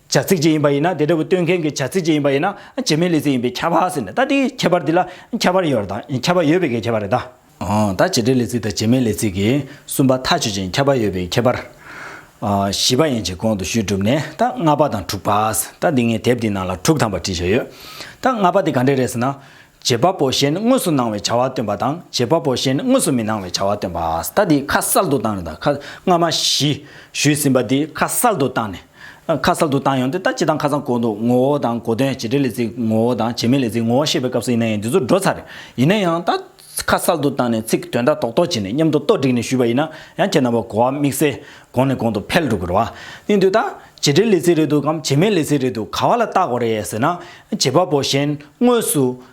བྱ་ཚིག་ཅིག་ཡིན་པ་ཡིན་ན་དེ་འདྲ་བུ་སྟོན་མཁན་གྱི་བྱ་ཚིག་ཅིག་ཡིན་པ་ཡིན་ན་བྱེ་མའི་ལས་ཚིག་ཡིན་པས་ཁྱབ་བ་ཟེར་ནས་ད་དེའི་ཁྱད་པར་འདི་ལ་ཁྱབ་བར་ཡོད་དང་ཁྱབ་བ་ཡོད་པའི་གེགས་ཁྱད་པར་རེད་ད། ད་བྱེད་སྒྲའི་ལས་ཚིག་དང་བྱེ་མའི་ལས་ཚིག་གི་གསུམ་པ་མཐའ་ཆོད་ཅིང་ཁྱབ་བར་ཡོད་པའི་ཁྱད་པར། བཞི་པ་ཡན་ཆད་གོང་དུ་ཞུས་གྲུབ་ནས་ད་ལྔ་པ་དང་དྲུག་པ། ད་འདི་ངས་དེབ་འདིའི་ནང་ལ་དྲུག་ཐམ་པ་བྲིས་བཞག་ཡོད། ད་ལྔ་པ་དེ་ག་འདྲས་རེད་ཟེར་ན། བྱེད་པ་པོ་གཞན་དངོས་སུ་སྣང་བའི་བྱ་བ་སྟོན་པ་དང་བྱེད་པ་པོ་གཞན་དངོས་སུ་མི་སྣང་བའི་བྱ་བ་སྟོན་པ། ད་འདི་ཁ་གསལ་དུ་བཏང་རེད་ད་ཁ་སྔ་མ་བཞི་ཞུས་ཟིན་པ་འདི་ཁ་གསལ་དུ་བཏང་ནས། ཁ་གསལ་དུ་བཏང་ཡོང་དེ་ལྟ་ཅི་དང་ཁ་ཚང་གོ་འདུག་ངོ་བོ་དང་གོ་དོན་བྱེད་འབྲེལ་ལས་ཚིག་ངོ་བོ་དང་བྱེད་མིན་ལས་ཚིག་ངོ་བོ་བཤད་པའི་སྐབས་སུ་ཡིན་ན་ཡང་འདི་ཚོ་འགྲོ་ཚར། ཡིན་ན་ཡང་ད། ཁ་གསལ་དུ་བཏང་ནས་ཚིག་དོན་དག་རྟོགས་རྟོགས་བྱས་ནས་མཉམ་དུ་རྟོགས་བསྒྲིགས་ནས་ཞུས་པ་ཡིན་ན་ཡང་ཁྱེད་རྣམ་པ་གོ་བ་དམིགས་བསལ་གོང་ནས་གོང་དུ་འཕེལ་འགྲོ་དགོས་རེད་བ། ནི་འདི་ལྟ། བྱེད་འབྲེལ་ལས་ཚིག་རེད་འདུག་གམ་བྱེད་མིན་ལས་ཚིག་རེད་འདུག་ག་བ་ལ་བརྟག་དགོས་རེད་ཟེར་ན། བྱེད་པ་པོ་གཞན་དངོས་སུ།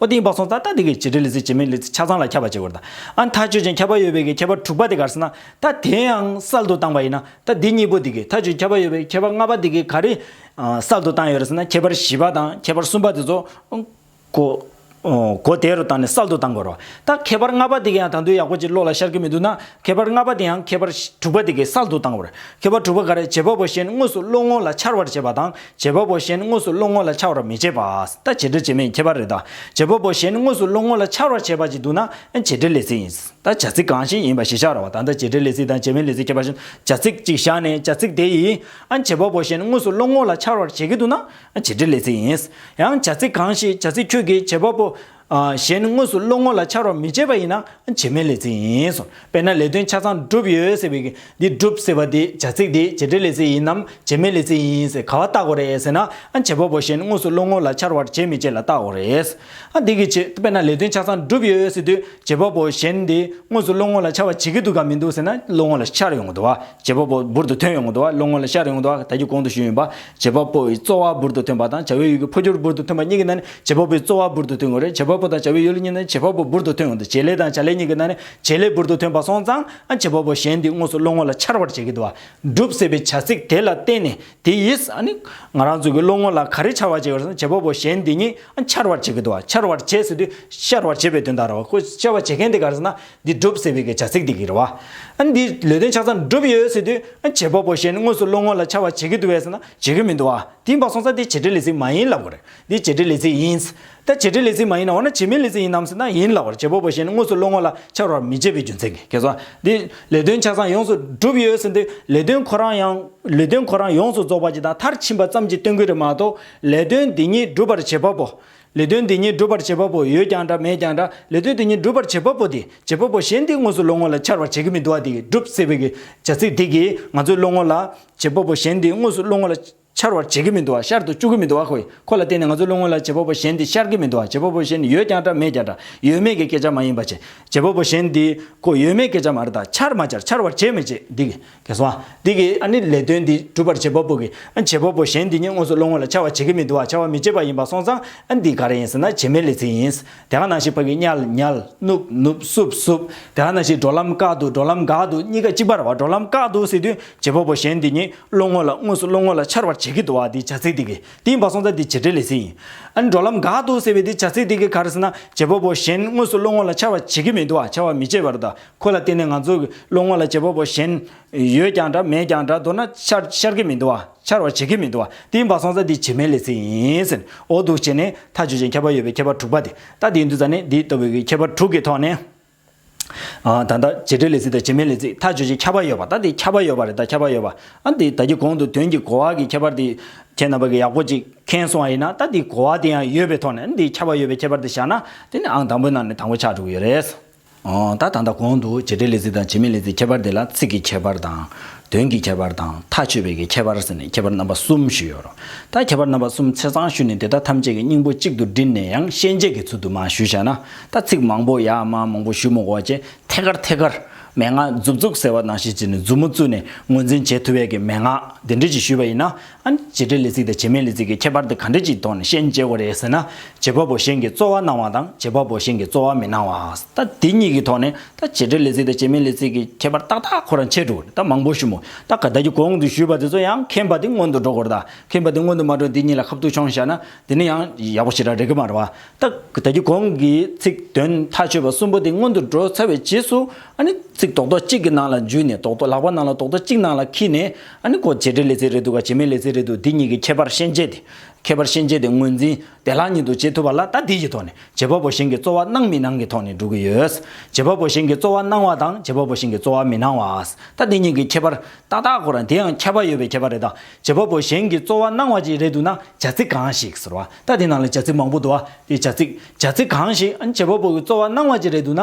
ཨོ་ཏི་ཡིན་པ་སོང་ཙང་ད་དེ་གའི་བྱེད་འབྲེལ་ལས་ཚིག་བྱེད་མིན་ལས་ཚིག་ཆ་ཚང་ལ་ཁྱབ་པ་བྱེད་དགོས་དང་ཨ་མཐའ་ཆོད་ཅིང་ཁྱབ་པ་ཡོད་པའི་གའི་ཁྱད་པར་དྲུག་པ་དེ་གར་སྲིད་ན་ད་དེ་ཡང་གསལ་དུ་བཏང་བ་ཡིན་ན་ད་དེ་གཉིས་པོ་དེ་གའི་མཐའ་ཆོད་ཁྱབ་པ་ཡོད་པའི་ཁྱད་པར་ལྔ་པ་དེ་གའི་ག་རེ་གསལ་དུ་བཏང་ཡོད་རེད་ཟེར་ན་ཁྱད་པར་བཞི་པ་དང་ཁྱད་པར་གསུམ་པ་དེ་ཚོ་གོ་བདེ་རུ་བཏང་ནས་གསལ་དུ་བཏང་དགོས་རོགས་ད་ཁྱད་པར་ལྔ་པ་དེ་ག་ཡང་ད་དུང་ཡག་པོ་ཅིག་བློ་ལ་ཤར་གི་མི་འདུག་ན་ཁྱད་པར་ལྔ་པ་དེའང་ཁྱད་པར་དྲུག་པ་དེ་ཀའི་སར་འདུག་སྟངས་བར། ཁྱད་པར་དྲུག་པ་འགའ་རེ་བྱེད་པ་པོ་གཞན་དངོས་སུ་བློ་ངོ་ལ་འཆར་བར་བྱེད་པ་དང་བྱེད་པ་པོ་གཞན་དངོས་སུ་བློ་ངོ་ལ་འཆར་བར་མི་བྱེད་པ། ད་བྱེད་འབྲེལ་བྱེད་མིན་ཁྱད་པར་རེ་ད། བྱེད་པ་པོ་གཞན་དངོས་སུ་བློ་ངོ་ལ་འཆར་བར་བྱེད་པ་ཅིག་འདུག་ན་བྱེད་འབྲེལ་ལས་ཚིག་ཡིན། ད་བྱ་ཚིག་གང་ཞིག་ཡིན་པ་ཞིག་བཞག་རོགས་བདག་ད་བྱེད་འབྲེལ་ལས་ཚིག་དང་བྱེད་མིན་ལས་ཚིག་ཁྱད་པར་བཞིན་བྱ་ཚིག་ཅིག་བཞག་ནས་བྱ་ཚིག་དེ་ཡིས་བྱེད་པ་པོ་གཞན་དངོས་སུ་བློ་ངོ་ལ་འཆར་བར་བྱེད་ཀྱི་འདུག་ན་བྱེད་འབྲེལ་ལས་ཚིག་ཡིན། ཡང་བྱ་ཚིག་གང་ཞིག་བྱ་ཚིག་ཁྱོད་ཀྱིས་བྱེད་པ་པོ། གཞན་དངོས་སུ་བློ་ངོ་ལ་འཆར་བར་མི་བྱེད་པ་ཡིན་ན་བྱེ་སྨྲའི་ལས་ཚིག་ཡིན། དཔེར་ན་ལས་དོན་ཆ་ཚང་བསྒྲུབས་ཡོད་ཟེར་བའི་འདི་བསྒྲུབས་ཟེར་བ་དེ་བྱ་ཚིག་དེ་བྱེད་སྒྲའི་ལས་ཚིག་ཡིན་ནམ་བྱེ་སྨྲའི་ལས་ཚིག་ཡིན་ཟེར་ག་བ་བརྟག་གོ་རེད་ཟེར་ན་བྱེད་པ་པོ་གཞན་དངོས་སུ་བློ་ངོ་ལ་འཆར་བར་བྱེད་མི་བྱེད་ལ་བརྟག་གོ་རེད། འདི་གི་ཆེད་དཔེར་ན་ལས་དོན་ཆ་ཚང་བསྒྲུབས་ཡོད་ཟེར་དུས་བྱེད་པ་པོ་གཞན་དེ་དངོས་སུ་བློ་ངོ་ལ་འཆར་བར་བྱེད་ཀྱི་འདུག་གམ་མི་འདུག་ཟེར་ན་བློ་ངོ་ལ་འཆར་ཡོང་གི་འདུག་བ། བྱེད་པ་པོ་འབུར་དུ་ཐོན་ཡོང་དུ་བ་བློ་ངོ་ལ་ཤར་ཡོང་དུ་བ་ད་ཀྱི་གོང་དུ་ཞུས་ཡོད་པ་བྱེད་པ་པོ་ཡི་རྩོལ་བ་འབུར་དུ་ཐོན་པ་དང་བྱ་བའི་ཡུལ་གྱི་འཕོ་འགྱུར་འབུར་དུ་ཐོན་པ་གཉིས་ཀྱི་ནང་ནས་བྱེད་པ་པོའི་རྩོལ་བ་འབུར་དུ་ཐོན་དགོས་རེད་བྱེད་པ་པོ་དང་བྱ་བའི་ཡུལ་གཉིས་ནས་བྱེད་པ་པོ་འབུར་དུ་ཐོན་ཡོང་དུ་བྱེད་ལས་དང་བྱ་ལས་གཉིས་ཀྱི་ནང་ནས་བྱེད་ལས་འབུར་དུ་ཐོན་པ་སོང་ཙང་ཨ་བྱེད་པ་པོ་གཞན་དེ་དངོས་སུ་བློ་ངོ་ལ་འཆར་བར་བྱེད་ཀྱི་འདུག་བསྒྲུབ་ཟེར་བའི་བྱ་ཚིག་དེ་ལ་བརྟེན་ནས་དེ་ཡིས་ཨ་ནི་ང་རང་ཚོ་གི་བློ་ངོ་ལ་ག་རེ་འཆར་བར་བྱེད་ཀྱི་རེད་སོང་བྱེད་པ་པོ་གཞན་དེ་གཉིས་ཨ་འཆར་བར་བྱེད་ཀྱི་འདུག་འཆར་བར་བྱེད་ཟེར་དུས་ཤར་བར་བྱེད་པའི་དོན་དག་རེད་བ་ཁོས་འཆར་བར་བྱེད་མཁན་དེ་ག་རེ་ཟེར་ན་འདི་བསྒྲུབ་ཟེར་བའི་གི་བྱ་ཚིག་དེ་གི་རེད་བ། འདི་ལས་དོན་ཆ་ཚང་བསྒྲུབ་ཡོད་ཟེར་དུས་བྱེད་པ་པོ་ཞེས་ནི་དངོས་སུ་བློ་ངོ་ལ་འཆར་བ་བྱེད་གི་འདུག་བས་ཟེར་ན་བྱེད་གི་མི་འདུག་བ། དེའི་བར་སོང་ཚ་འདི་བྱེད་འབྲེལ་ལས་ཚིག་མ་ཡིན་ལབ་གི་རེད། འདི་བྱེད་འབྲེལ་ལས་ཚིག་ཡིན། ད་བྱེད་འབྲེལ་ལས་ཚིག་མ་ཡིན་ན་འོ་ན་བྱེད་མིན་ལས་ཚིག་ཡིན་ནམ་ཟེར་ན་ཡིན་ལབ་གི་རེད་བྱེད་པོ་པོ་ཞེས་ནི་དངོས་སུ་བློ་ངོ་ལ་འཆར་བར་མི་བྱེད་པའི་རྒྱུ་མཚན་གི་གེ་སོ། འདི་ལས་དོན་ཆ་ཚང་ཡོངས་སུ་བསྒྲུབ་ཡོད་ཟེར་དུས་ལས་དོན་ཁོ་རང་ཡང་ལས་དོན་ཁོ་རང་ཡོངས་སུ་རྫོགས་པ་ཅིག་དང་མཐར་ཕྱིན་པ་ཙམ་གྱི་སྟོན་གི་རེད་མ་གཏོགས་ལས་དོན་འདི་ཉིད་བསྒྲུབ་པར་བྱེད་པ་པོ་ལས་དོན་དེ་ཉིད་སྒྲུབ་པར་བྱེད་པ་པོ་ཡོད་ཀྱང་འདྲ་མེད་ཀྱང་འདྲ་ལས་དོན་དེ་ཉིད་སྒྲུབ་པར་བྱེད་པ་པོ་དེས་བྱེད་པ་པོ་གཞན་དེའི་ངོ་སོ་བློ་ངོ་ལ་འཆར་བར་བྱེད་ཀྱི་མི་འདུག་བ་དེ་ཡིས་བསྒྲུབས་ཟེར་བའི་བྱ་ཚིག་དེ་གིས་ང་ཚོའི་བློ་ངོ་ལ། བྱེད་པ་པོ་གཞན་དེའི་ངོ་སོ་བློ་ངོ་ལ། འཆར་བར་བྱེད་ཀྱི་མི་འདུག་བ་ཤར་དུ་བཅུག་གི་མི་འདུག་བ་ཁོ་ལ་བརྟེན་ནས་ང་ཚོའི་བློ་ངོ་ལ་བྱེད་པ་པོ་གཞན་དེ་ཤར་གྱི་མི་འདུག་བ་བྱེད་པ་པོ་གཞན་ནི་ཡོད་ཀྱང་འདྲ་མེད་ཀྱང་འདྲ་ཡོད་མེད་ཀྱི་སྐད་ཆ་མ་ཡིན་པ་བྱེད་བྱེད་པ་པོ་གཞན་དེས་ཁོ་ཡོད་མེད་སྐད་ཆ་མ་རེད་ད་འཆར་མ་འཆར་འཆར་བར་བྱེད་མི་བྱེད་འདི་གིས། དེ་སོང་འདི་གི་ཨ་ནི་ལས་དོན་འདི་སྒྲུབ་པར་བྱེད་པ་པོ་གི་ཨ་བྱེད་པ་པོ་གཞན་འདི་གཉིས་དངོས་སུ་བློ་ངོ་ལ་འཆར་བ་བྱེད་ཀྱི་མི་འདུག་ཨ་འཆར་བ་མི་བྱེད་པ་ཡིན་པ་སོང་ཙང་ཨ་འདི་ག་རེ་ཡིན་ཟེར་ན་བྱེ་མའི་ལས་ཚིག་ཡིན། དེ་ག་ནང་ཞིག་ཕ་གི་གཉལ་གཉལ་ནུབ་ནུབ་བསུབ་བསུབ་དེ་ག་ནང་ཞིག་འགྲོ་ལམ་བཀག་འདུག་འགྲོ་ལམ་འགག་འདུག་གཉིས་ཀ་གཅིག་པར་བ་འགྲོ་ལམ་བཀག་འདུག་ཟེར་དུས་བྱེད་པ་པོ་གཞན་འདི་གཉིས་བློ་ངོ་ལ་དངོས་སུ་བློ་ངོ་ལ་འཆར་བར་བྱེད་ཀྱི་འདུག་ཨ་འདི་བྱ་ཚིག་འདི་གི་འདི་ཡིན་པ་སོང་ཙང་འདི་བྱེད་འབྲེལ་ལས་ཚིག་ཡིན། ཨ་ནི་འགྲོ་ལམ་འགག་འདུག་ཟེར་བའི་འདི་བྱ་ཚིག་འདི་གི་ག་རེ་ཟེར་ན་བྱེད་པ་པོ་གཞན་དངོས་སུ་བློ་ངོ་ལ་འཆར་བ་བྱེད་ཀྱི་མི་འདུག་ཨ་འཆར་བ་མི་བྱེད་པར་དང་ཁོ་ལ་བརྟེན་ནས་ང་ཚོའི་བློ་ངོ་ལ་བྱེད་པ་པོ་གཞན་ཡོད་ཀྱང་འདྲ་མེད་ཀྱང་འདྲ་མདོར་ན་ཤར་ཤར་གྱི་མི་འདུག་ཨ་འཆར་བར་བྱེད་ཀྱི་མི་འདུག་ཨ་དེའི་འབའ་སོང་ས་འདི་བྱེ་མའི་ལེ་ཚེ་ཡིན་ཟེར་ཨོ་འདུག་བྱས་ནས་མཐའ་བརྗོད་བྱེད་མཁས་པ་ཡོད་པའི་ཁྱད་པར་དྲུག་པ་དེ་ལྟ་དེའི་འདུག་ས་ནི་འདི་ལྟ་བུའི་ཁྱད་པར་དྲུག་གི་ཐོག་ནས་ད་ལྟ་བྱེ་བྲལ་ལེ་ཚེ་དང་བྱེ་མའི་ལེ་ཚེ་མཐའ་བརྗོད་བྱེད་ཁྱད་པར་ཡོད་པ་ད་དེ་ཁྱད་པར་ཡོད་པ་རེད་ད་ཁྱད་པར་ཡོད་པ་ཨ་འདི་ད་ཀྱི་གོང་དུ་དོན་གྱི་གོ་བ་གི་ཁྱད་པར་དེ་ཁྱེད་རྣམ་པ་གི་ཡག་པོ་ཅིག་མཁྱེན་སོང་བ་ཡིན་ན་ད་དེའི་གོ་བ་དེ་ཡང་ཡོད་པའི་ཐོག་ནས་འདི་ཁྱད་པར་ཡོད་པའི་ཁྱད་པར་དེ་བཞག་ན་དེ་ནི་ཨང་དང་པོའི་ནང་ནས་དང་པོ་ཆགས་འགྲོ་གི་ཡོད་རེད། ད་ད་ལྟ་གོང་དུ་བྱེད་སྒྲའི་ལས་ཚིག་དང་བྱེད་མའི་ལས་ཚིག་ཁྱད་པར་དེ་ལ་ཚིག་གི་ཁྱད་པར་དང། དོན་གྱི་ཁྱད་པར་དང་མཐའ་ཆོད་པའི་གི་ཁྱད་པར་ཟེར་ནས་ཁྱད་པར་རྣམ་པ་གསུམ་ཞུས་ཡོད། ད་ཁྱད་པར་རྣམ་པ་གསུམ་ཚེ་ཚང་ཞུས་ནས་དེ་དག་ཐམས་ཅད་ཀྱི་སྙིང་པོ་གཅིག་ཏུ་བསྒྲིལ་ནས་ཡང་ཤན་འབྱེད་ཀྱི་ཚུལ་དུ་མ་ཞུས་བྱས་ན་ད་ཚིག་མང་པོ་ཡ་མ་མང་པོ་ཞུས་མོ་གོ་ཅེས་ཐད་ཀར་ཐད་ཀར། མན་ངག་མཛུབ་བཙུགས་ཟེར་བ་ནང་བཞིན་བྱས་ནས་མཛུབ་མོ་བཙུགས་ནས་ངོས་འཛིན་བྱེད་ཐུབ་བས་ཀྱི་མན་ངག་དེ་འབྲེལ་གྱིས་ཞུས་པ་ཡིན་ན། ཨཱ། བྱེད་འབྲེལ་ལས་ཚིག་དང་བྱེད་མེད་ལས་ཚིག་གི་ཁྱད་པར་དེ་ག་འདྲས་ཀྱི་ཐོག་ནས་ཤན་འབྱེད་པ་རེད་ཟེར་ན། བྱེད་པ་པོ་གཞན་གྱིས་རྩོལ་བ་གནང་བ་དང་བྱེད་པ་པོ་གཞན་གྱིས་རྩོལ་བ་མི་གནང་བ། ད་དེ་གཉིས་ཀྱི་ཐོག་ནས་ད་བྱེད་འབྲེལ་ལས་ཚིག་དང་བྱེད་མེད་ལས་ཚིག་གི་ཁྱད་པར་ཏག་ཏག་ཁོ་རང་འཆད་འགྲོ་གི་རེད་ད་མང་པོ་ཞུ་མོ། ད་ག་བདག་གིས་གོང་དུ་ཞུས་པ་དེ་ཚོ་ཡང་མཁྱེན་པ་དེ་སྔོན་དུ་འགྲོ་དགོས་རེད་ད། མཁྱེན་པ་དེ་སྔོན་དུ་མ་འགྲོ་འདི་གཉིས་ལ་ཁ་བཏུགས་ཆོང་བཞག་ན་དེ་ནི་ཡང་ཡག་པོ་ཞིག་རག་རེད་གི་མ་རེད་བ། ད་ག་བདག་གིས་གོང་གི་ཚིག་དོན་མཐའ་ཆོད་པ་གསུམ་པོ་དེ་སྔོན་དུ་འགྲོ་ཚར་བའི་རྗེས་སུ། ཨཱ་ནི། ཚིག་རྡོག་རྡོག་གཅིག་གི་ནང་ལ་འཇུས་ནས་རྡོག་རྡོག་ལག་པ་ནང་ལ་རྡོག་རྡོག་གཅིག་ནང་ལ་འཁྱིལ་ནས། ཨ་ནི་གོ་བྱེད་བྲལ་ལེ་ཚེ་རེད་འདུག་ག་བྱེད་མེད་ལེ་ཚེ་རེད་འདུག་འདི་གཉིས་ཀྱི་ཁྱད་པར་ཤན་འབྱེད་དེ། ཁྱད་པར་ཤན་འབྱེད་དེ་ངོས་འཛིན་བདེ་བླག་ཉིད་དུ་བྱེད་ཐུབ་པ་ལ་ལྟ་འདི་ཡི་ཐོག་ནས་བྱེད་པ་པོ་གཞན་གྱི་རྩོལ་བ་སྣང་མི་སྣང་གི་ཐོག་ནས་འགྲོ་གི་ཡོད། བྱེད་པ་པོ་གཞན་གྱི་རྩོལ་བ་སྣང་བ་དང་བྱེད་པ་པོ་གཞན་གྱི་རྩོལ་བ་མི་སྣང་བ། ལྟ་འདི་གཉིས་ཀྱི་ཁྱད་པར་ཏག་ཏག་གོ་ར་འདི་ཡང་ཁྱད་པར་ཡོད་པའི་ཁྱད་པར་རེད་ད། བྱེད་པ་པོ་གཞན་གྱི་རྩོལ་བ་སྣང་བ་ཅིག་རེད་འདུག་ན་བྱ་ཚིག་གང་ཞིག་ཟེར་བ་ལྟ་དེ་ནང་ལ་བྱ་ཚིག་མང་པོ་འདུག་ཨ་དེ་བྱ་ཚིག། བྱ་ཚིག་གང་ཞིག་ཨ་ནི་བྱེད་པ་པོ་གི་རྩོལ་བ་སྣང་བ་ཅིག་རེད་འདུག་ན།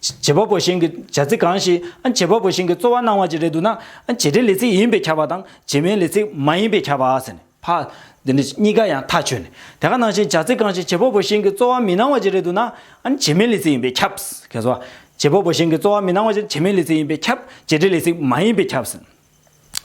བྱེད་པ་པོ་གཞན་གྱི་བྱ་ཚིག་གང་ཞིག་བྱེད་པ་པོ་གཞན་གྱི་རྩོལ་བ་གནང་བ་ཅིག་རེད་འདུག་ན། བྱེད་འབྲེལ་ལས་ཚིག་ཡིན་པས་ཁྱབ་པ་དང་བྱེད་མའི་ལས་ཚིག་མ་ཡིན་པས་ཁྱབ་པ་ཟེར་ནས་ཕ། འདི་འདྲ་གཉིས་ཀ་ཡང་ཐག་ཆོད་ནས་དེ་ག་ནང་བཞིན་བྱ་ཚིག་གང་ཞིག་བྱེད་པ་པོ་གཞན་གྱི་རྩོལ་བ་མི་གནང་བ་ཅིག་རེད་འདུག་ན། བྱེད་མའི་ལས་ཚིག་ཡིན་པས་ཁྱབ། ཁྱེད་གསོལ་བ། བྱེད་པ་པོ་གཞན་གྱི་རྩོལ་བ་མི་གནང་བ་ཅིག་བྱེད་མའི་ལས་ཚིག་ཡིན་པས་ཁྱབ། བྱེད་འབྲེལ་ལས་ཚིག་མ་ཡིན་པས་ཁྱབ།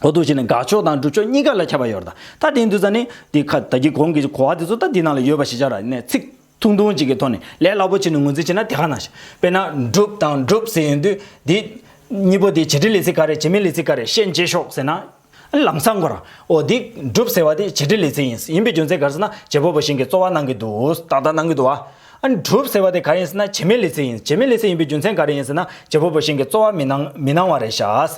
འོ་དོ་ཞེས་ནི་དགག་ཕྱོགས་དང་སྒྲུབ་ཕྱོགས་གཉིས་ཀ་ལ་ཁྱབ་པར་ཡོད། ད་དེའི་འདུས་ས་ནི། དེ་ཁ་ད་གི་གོང་གི་གོ་བ་དེ་ཚོ་ད་འདི་ན་ལ་ཡོད་པ་ཞིག་ཆགས་ར་ནས་ཚིག། ཐུང་ཐུང་ཅིག་གི་ཐོག་ནས་ལས་སླ་པོ་ཆེ་ནས་ངོས་འཛིན་བྱེད་ན་དེ་ག་ན་ཞིག། དཔེར་ན། བསྒྲུབ་དང་སྒྲུབ་ཟེར་ཡོང་དུས། དེ། གཉིས་པོ་དེ་བྱེད་འབྲེལ་ལས་ཚིག་ག་རེད་བྱེད་མིན་ལས་ཚིག་ག་རེད་ཤན་འབྱེད་ཤོག་ཟེར་ན། ཨ་ལམ་སང་གོ་ར། འོ་དེ། སྒྲུབ་ཟེར་བ་དེ་བྱེད་འབྲེལ་ལས་ཚིག་ཡིན། ཡིན་པའི་རྒྱུ་མཚན་ག་རེ་ཟེར་ན་རྗེ་བོ་བོ་བཞིན་གྱི་རྩོལ་བ་གནང་གི་འདུག་ཏག་ཏག་གནང་གི་འདུག་བ། ཨ་སྒྲུབ་ཟེར་བ་དེ་ག་ཡིན་ཟེར་ན་བྱེད་མིན་ལས་ཚིག་ཡིན་བྱེད་མིན་ལས་ཚིག་ཡིན་པའི་རྒྱུ་མཚན་ག་རེ་ཡིན་ཟེར་ན་རྗེ་བོ་བོ་བཞིན་གྱི་རྩོལ་བ་མི་གནང་མི་གནང་བ་རེད་ཤག།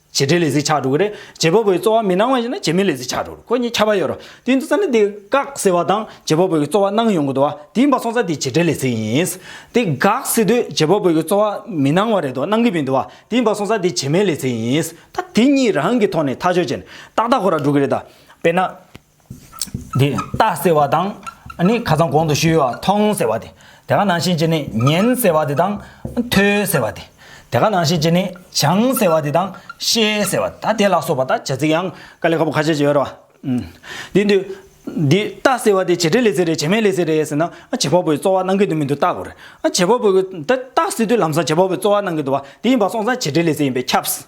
བྱེད་འབྲེལ་ལས་གཟིགས་ཆགས་འགྲོ་གི་རེད། བྱེད་པ་པོའི་རྩོལ་བ་མི་སྣང་བ་ཞིག་ན་བྱེད་མི་ལས་གཟིགས་ཆགས་འགྲོ་རུ་ཁོ་གཉིས་ཁྱབ་པ་ཡོད་རུང་དུས་འདི་ས་ནས་དེ་དགག་ཟེར་བ་དང་བྱེད་པ་པོའི་རྩོལ་བ་སྣང་ཡོང་གི་འདུག་བ་དེ་ཡིན་པ་སོང་ཚ་དེ་བྱེད་འབྲེལ་ལས་གཟིགས་ཡིན། དེ་དགག་ཟེར་དུས་བྱེད་པ་པོའི་རྩོལ་བ་མི་སྣང་བ་རེད་འདུག་སྣང་གི་མི་འདུག་བ་དེ་ཡིན་པ་སོང་ཚ་དེ་བྱེད་མེད་ལས་གཟིགས་ཡིན། ད་དེ་གཉིས་རང་གི་ཐོག་ནས་ཐག་གཅོད་བྱས་ནས་ཏག་ཏག་གོ་ར་འགྲོ་གི་རེད་ད། དཔེར་ན། འདི་རྟ་ཟེར་བ་དང་ནི་ཁ་ཚང་གོང་དུ་ཤི་ཡོ་བ་ཐོང་ཟེར་བ་དེ་དེ་ག་ནང་བཞིན་གྱི་ནི་ཉན་ཟེར་བ་དེ་དང་ཐོས་ཟེར་བ་དེ་དེ་ག་ནང་བཞིན་གྱི་ནི་བྱང་ཟེར་བ་དེ་དང་ཤེས་ཟེར་བ་ད་དེ་ལ་སོགས་པ་དང་བྱ་ཚིག་ཡང་ཀ་ལི་ཁ་པོ་ཁ་ཤས་ཀྱི་ཡོད་རོ། འདི་འདི་འདི་རྟ་ཟེར་བ་དེ་བྱེད་འབྲེལ་ལས་ཟེར་རེད་བྱེད་མེད་ལས་ཟེར་རེད་ཟེར་ན་བྱེད་པ་པོའི་རྩོལ་བ་གནང་གི་འདུག་མི་འདུག་བརྟག་དགོས་རེད། བྱེད་པ་པོ་གི་འདི་རྟ་ཟེར་དུས་ལམ་སང་བྱེད་པ་པོའི་རྩོལ་བ་གནང་གི་འདུག་བ་དེ་ཡིན་པ་སོང་ཙང་བྱེད་འབྲེལ་ལས་ཟེར་ཡིན་པས་ཁྱབས།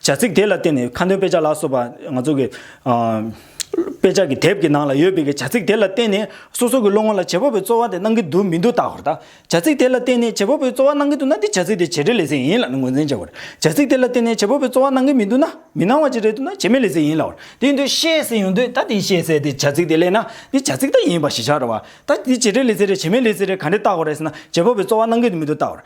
བྱ་ཚིག་དེ་ལ་བརྟེན་ནས་ཁ་འདོན་དཔེ་ཆ་ལ་སོགས་པ་ང་ཚོ་གི། དཔེ་ཆ་གི་དེབ་ཀྱི་ནང་ལ་ཡོད་པའི་བྱ་ཚིག་དེ་ལ་བརྟེན་ནས་སོ་སོ་གི་བློ་ངོར་ལ་བྱེད་པ་པོའི་རྩོལ་བ་དེ་སྣང་གི་འདུག་མི་འདུག་བརྟག་བར་བལྟ། བྱ་ཚིག་དེ་ལ་བརྟེན་ནས་བྱེད་པ་པོའི་རྩོལ་བ་སྣང་གི་འདུག་ན་དེ་བྱ་ཚིག་དེ་བྱེད་སྒྲའི་ལས་ཚིག་ཡིན་ལ་ངོས་འཛིན་བྱ་བར། བྱ་ཚིག་དེ་ལ་བརྟེན་ནས་བྱེད་པ་པོའི་རྩོལ་བ་སྣང་གི་མི་འདུག་ན་མི་སྣང་བ་ཅིག་རེད་འདུག་ན་བྱེད་མེད་ལས་ཚིག་ཡིན་ལ་བར། དེ་ཡིན་དུས་ཤེས་གསལ་ཡོང་དུས་ད་དེ་ཤེས་གསལ་དེ་བྱ་ཚིག་དེ་ལས་ན་དེ་བྱ་ཚིག་ད་ཡིན་པ་ཞིག་ཆགས་འགྲོ་བར། ད་དེ་བྱེད་སྒྲའི་ལས་ཚིག་རེད་བྱེད་མེད་ལས་ཚིག་རེད་ག་འདྲས་བརྟག་བར་ཟེར་ན་བྱེད་པ་པོའི་རྩོལ་བ་སྣང་གི་འདུག་མི་འདུག་བརྟག་བར།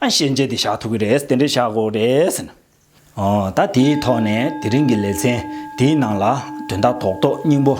ཨ་ཤེས་འཇལ་དེ་བཞག་ཐུབ་ཀྱི་རེད་དེ་འདྲས་བཞག་དགོས་རེད། ད་དེའི་ཐོག་ནས་དེ་རིང་གི་ལེ་ཚན་འདིའི་ནང་ལ་དོན་དག་ཐོག་ཏོག་སྙིང་པོ་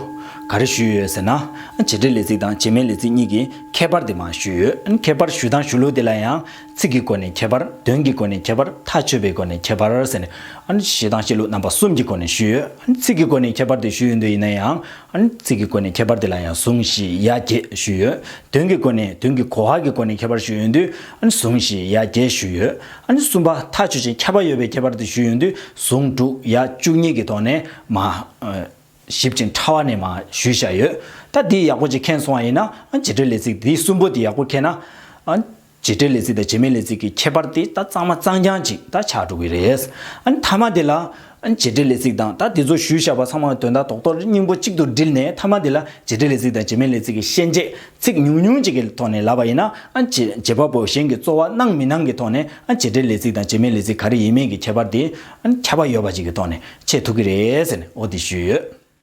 ག་རེ་ཞུས་ཡོད་ཟེར་ན། བྱེད་འབྲེལ་ལས་ཚིག་དང་བྱེད་མིན་ལས་ཚིག་གཉིས་ཀྱི་ཁྱད་པར་དེ་མ་ཞུས་ཡོད། ཁྱད་པར་ཞུ་དང་ཞུ་ལུགས་དེ་ལ་ཡང་ཚིག་གི་སྒོ་ནས་ཁྱད་པར་དོན་གྱི་སྒོ་ནས་ཁྱད་པར་ཐག་ཆོད་པའི་སྒོ་ནས་ཁྱད་པར་ཟེར་ནས། བྱེད་དང་བྱེད་ལུགས་རྣམ་པ་གསུམ་གྱི་སྒོ་ནས་ཞུས་ཡོད། ཚིག་གི་སྒོ་ནས་ཁྱད་པར་དེ་ཞུས་ཡོད་འདོད་ཡིན་ན་ཡང། ཚིག་གི་སྒོ་ནས་ཁྱད་པར་དེ་ལ་ཡང་ཟུང་བཞི་ཡ་བརྒྱད་ཞུས་ཡོད། དོན་གྱི་སྒོ་ནས་དོན་གྱི་གོ་བ་གི་སྒོ་ནས་ཁྱད་པར་ཞུས་ཡོད་དུས་ཟུང་བཞི་ཡ་བརྒྱད་ཞུས་ཡོད། གསུམ་པ་མཐའ་ཆོས་ཅན་ཁྱབ་པ་ཡོད་པའི་ཁྱད་པར་དུ་ཞུས་ཡོད་དུས་ཟུང་དྲུག་ཡ་བཅུ་གཉིས་ཀྱི་ཐོག་ནས་མ། ཞིབ་ཅིང་ཕྲ་བ་ནས་མ་ཞུས་བཞག་ཡོད། ད་འདི་ཡག་པོ་ཅིག་མཁྱེན་སོང་བ་ཡིན་ན་བྱེད་སྒྲའི་ལས་ཚིག་འདི་གསུམ་པོ་འདི་ཡག་པོ་མཁྱེན་ན། བྱེད་འབྲེལ་ལས་ཚིག་དང་བྱེད་མེད་ལས་ཚིག་གི་ཁྱད་པར་དེ་ད་གཙང་མ་གཙང་རྐྱང་གཅིག་ད་ཆགས་འགྲོ་གི་རེད། མཐའ་མ་དེ་ལ། བྱེད་འབྲེལ་ལས་ཚིག་དང་ད་དེ་ཚོ་ཞུས་བཞག་པ་ཚང་མ་དོན་དག་ཐོག་ཐོག་རེ་སྙིང་པོ་གཅིག་ཏུ་བསྒྲིལ་ནས་མཐའ་མ་དེ་ལ་བྱེད་འབྲེལ་ལས་ཚིག་དང་བྱེད་མེད་ལས་ཚིག་གི་ཤན་འབྱེད་ཚིག་ཉུང་ཉུང་གཅིག་གི་ཐོག་ནས་ལབ་པ་ཡིན་ན། བྱེད་པ་པོ་གཞན་གྱི་རྩོལ་བ་གནང་མི་གནང་གི་ཐོག་ནས་བྱེད་འབྲེལ་ལས་ཚིག་དང་བྱེད་མེད་ལས་ཚིག་ག་རེ་ཡིན་མིན་གྱི་ཁྱད་པར་དེ། ཁྱབ་པ་ཡོད་པ་ཅིག་གི་ཐོག་ནས་འཆད་ཐུབ་ཀྱི་རེད་ཟེར་ནས་འོ་དེ་ཞུས་ཡོད།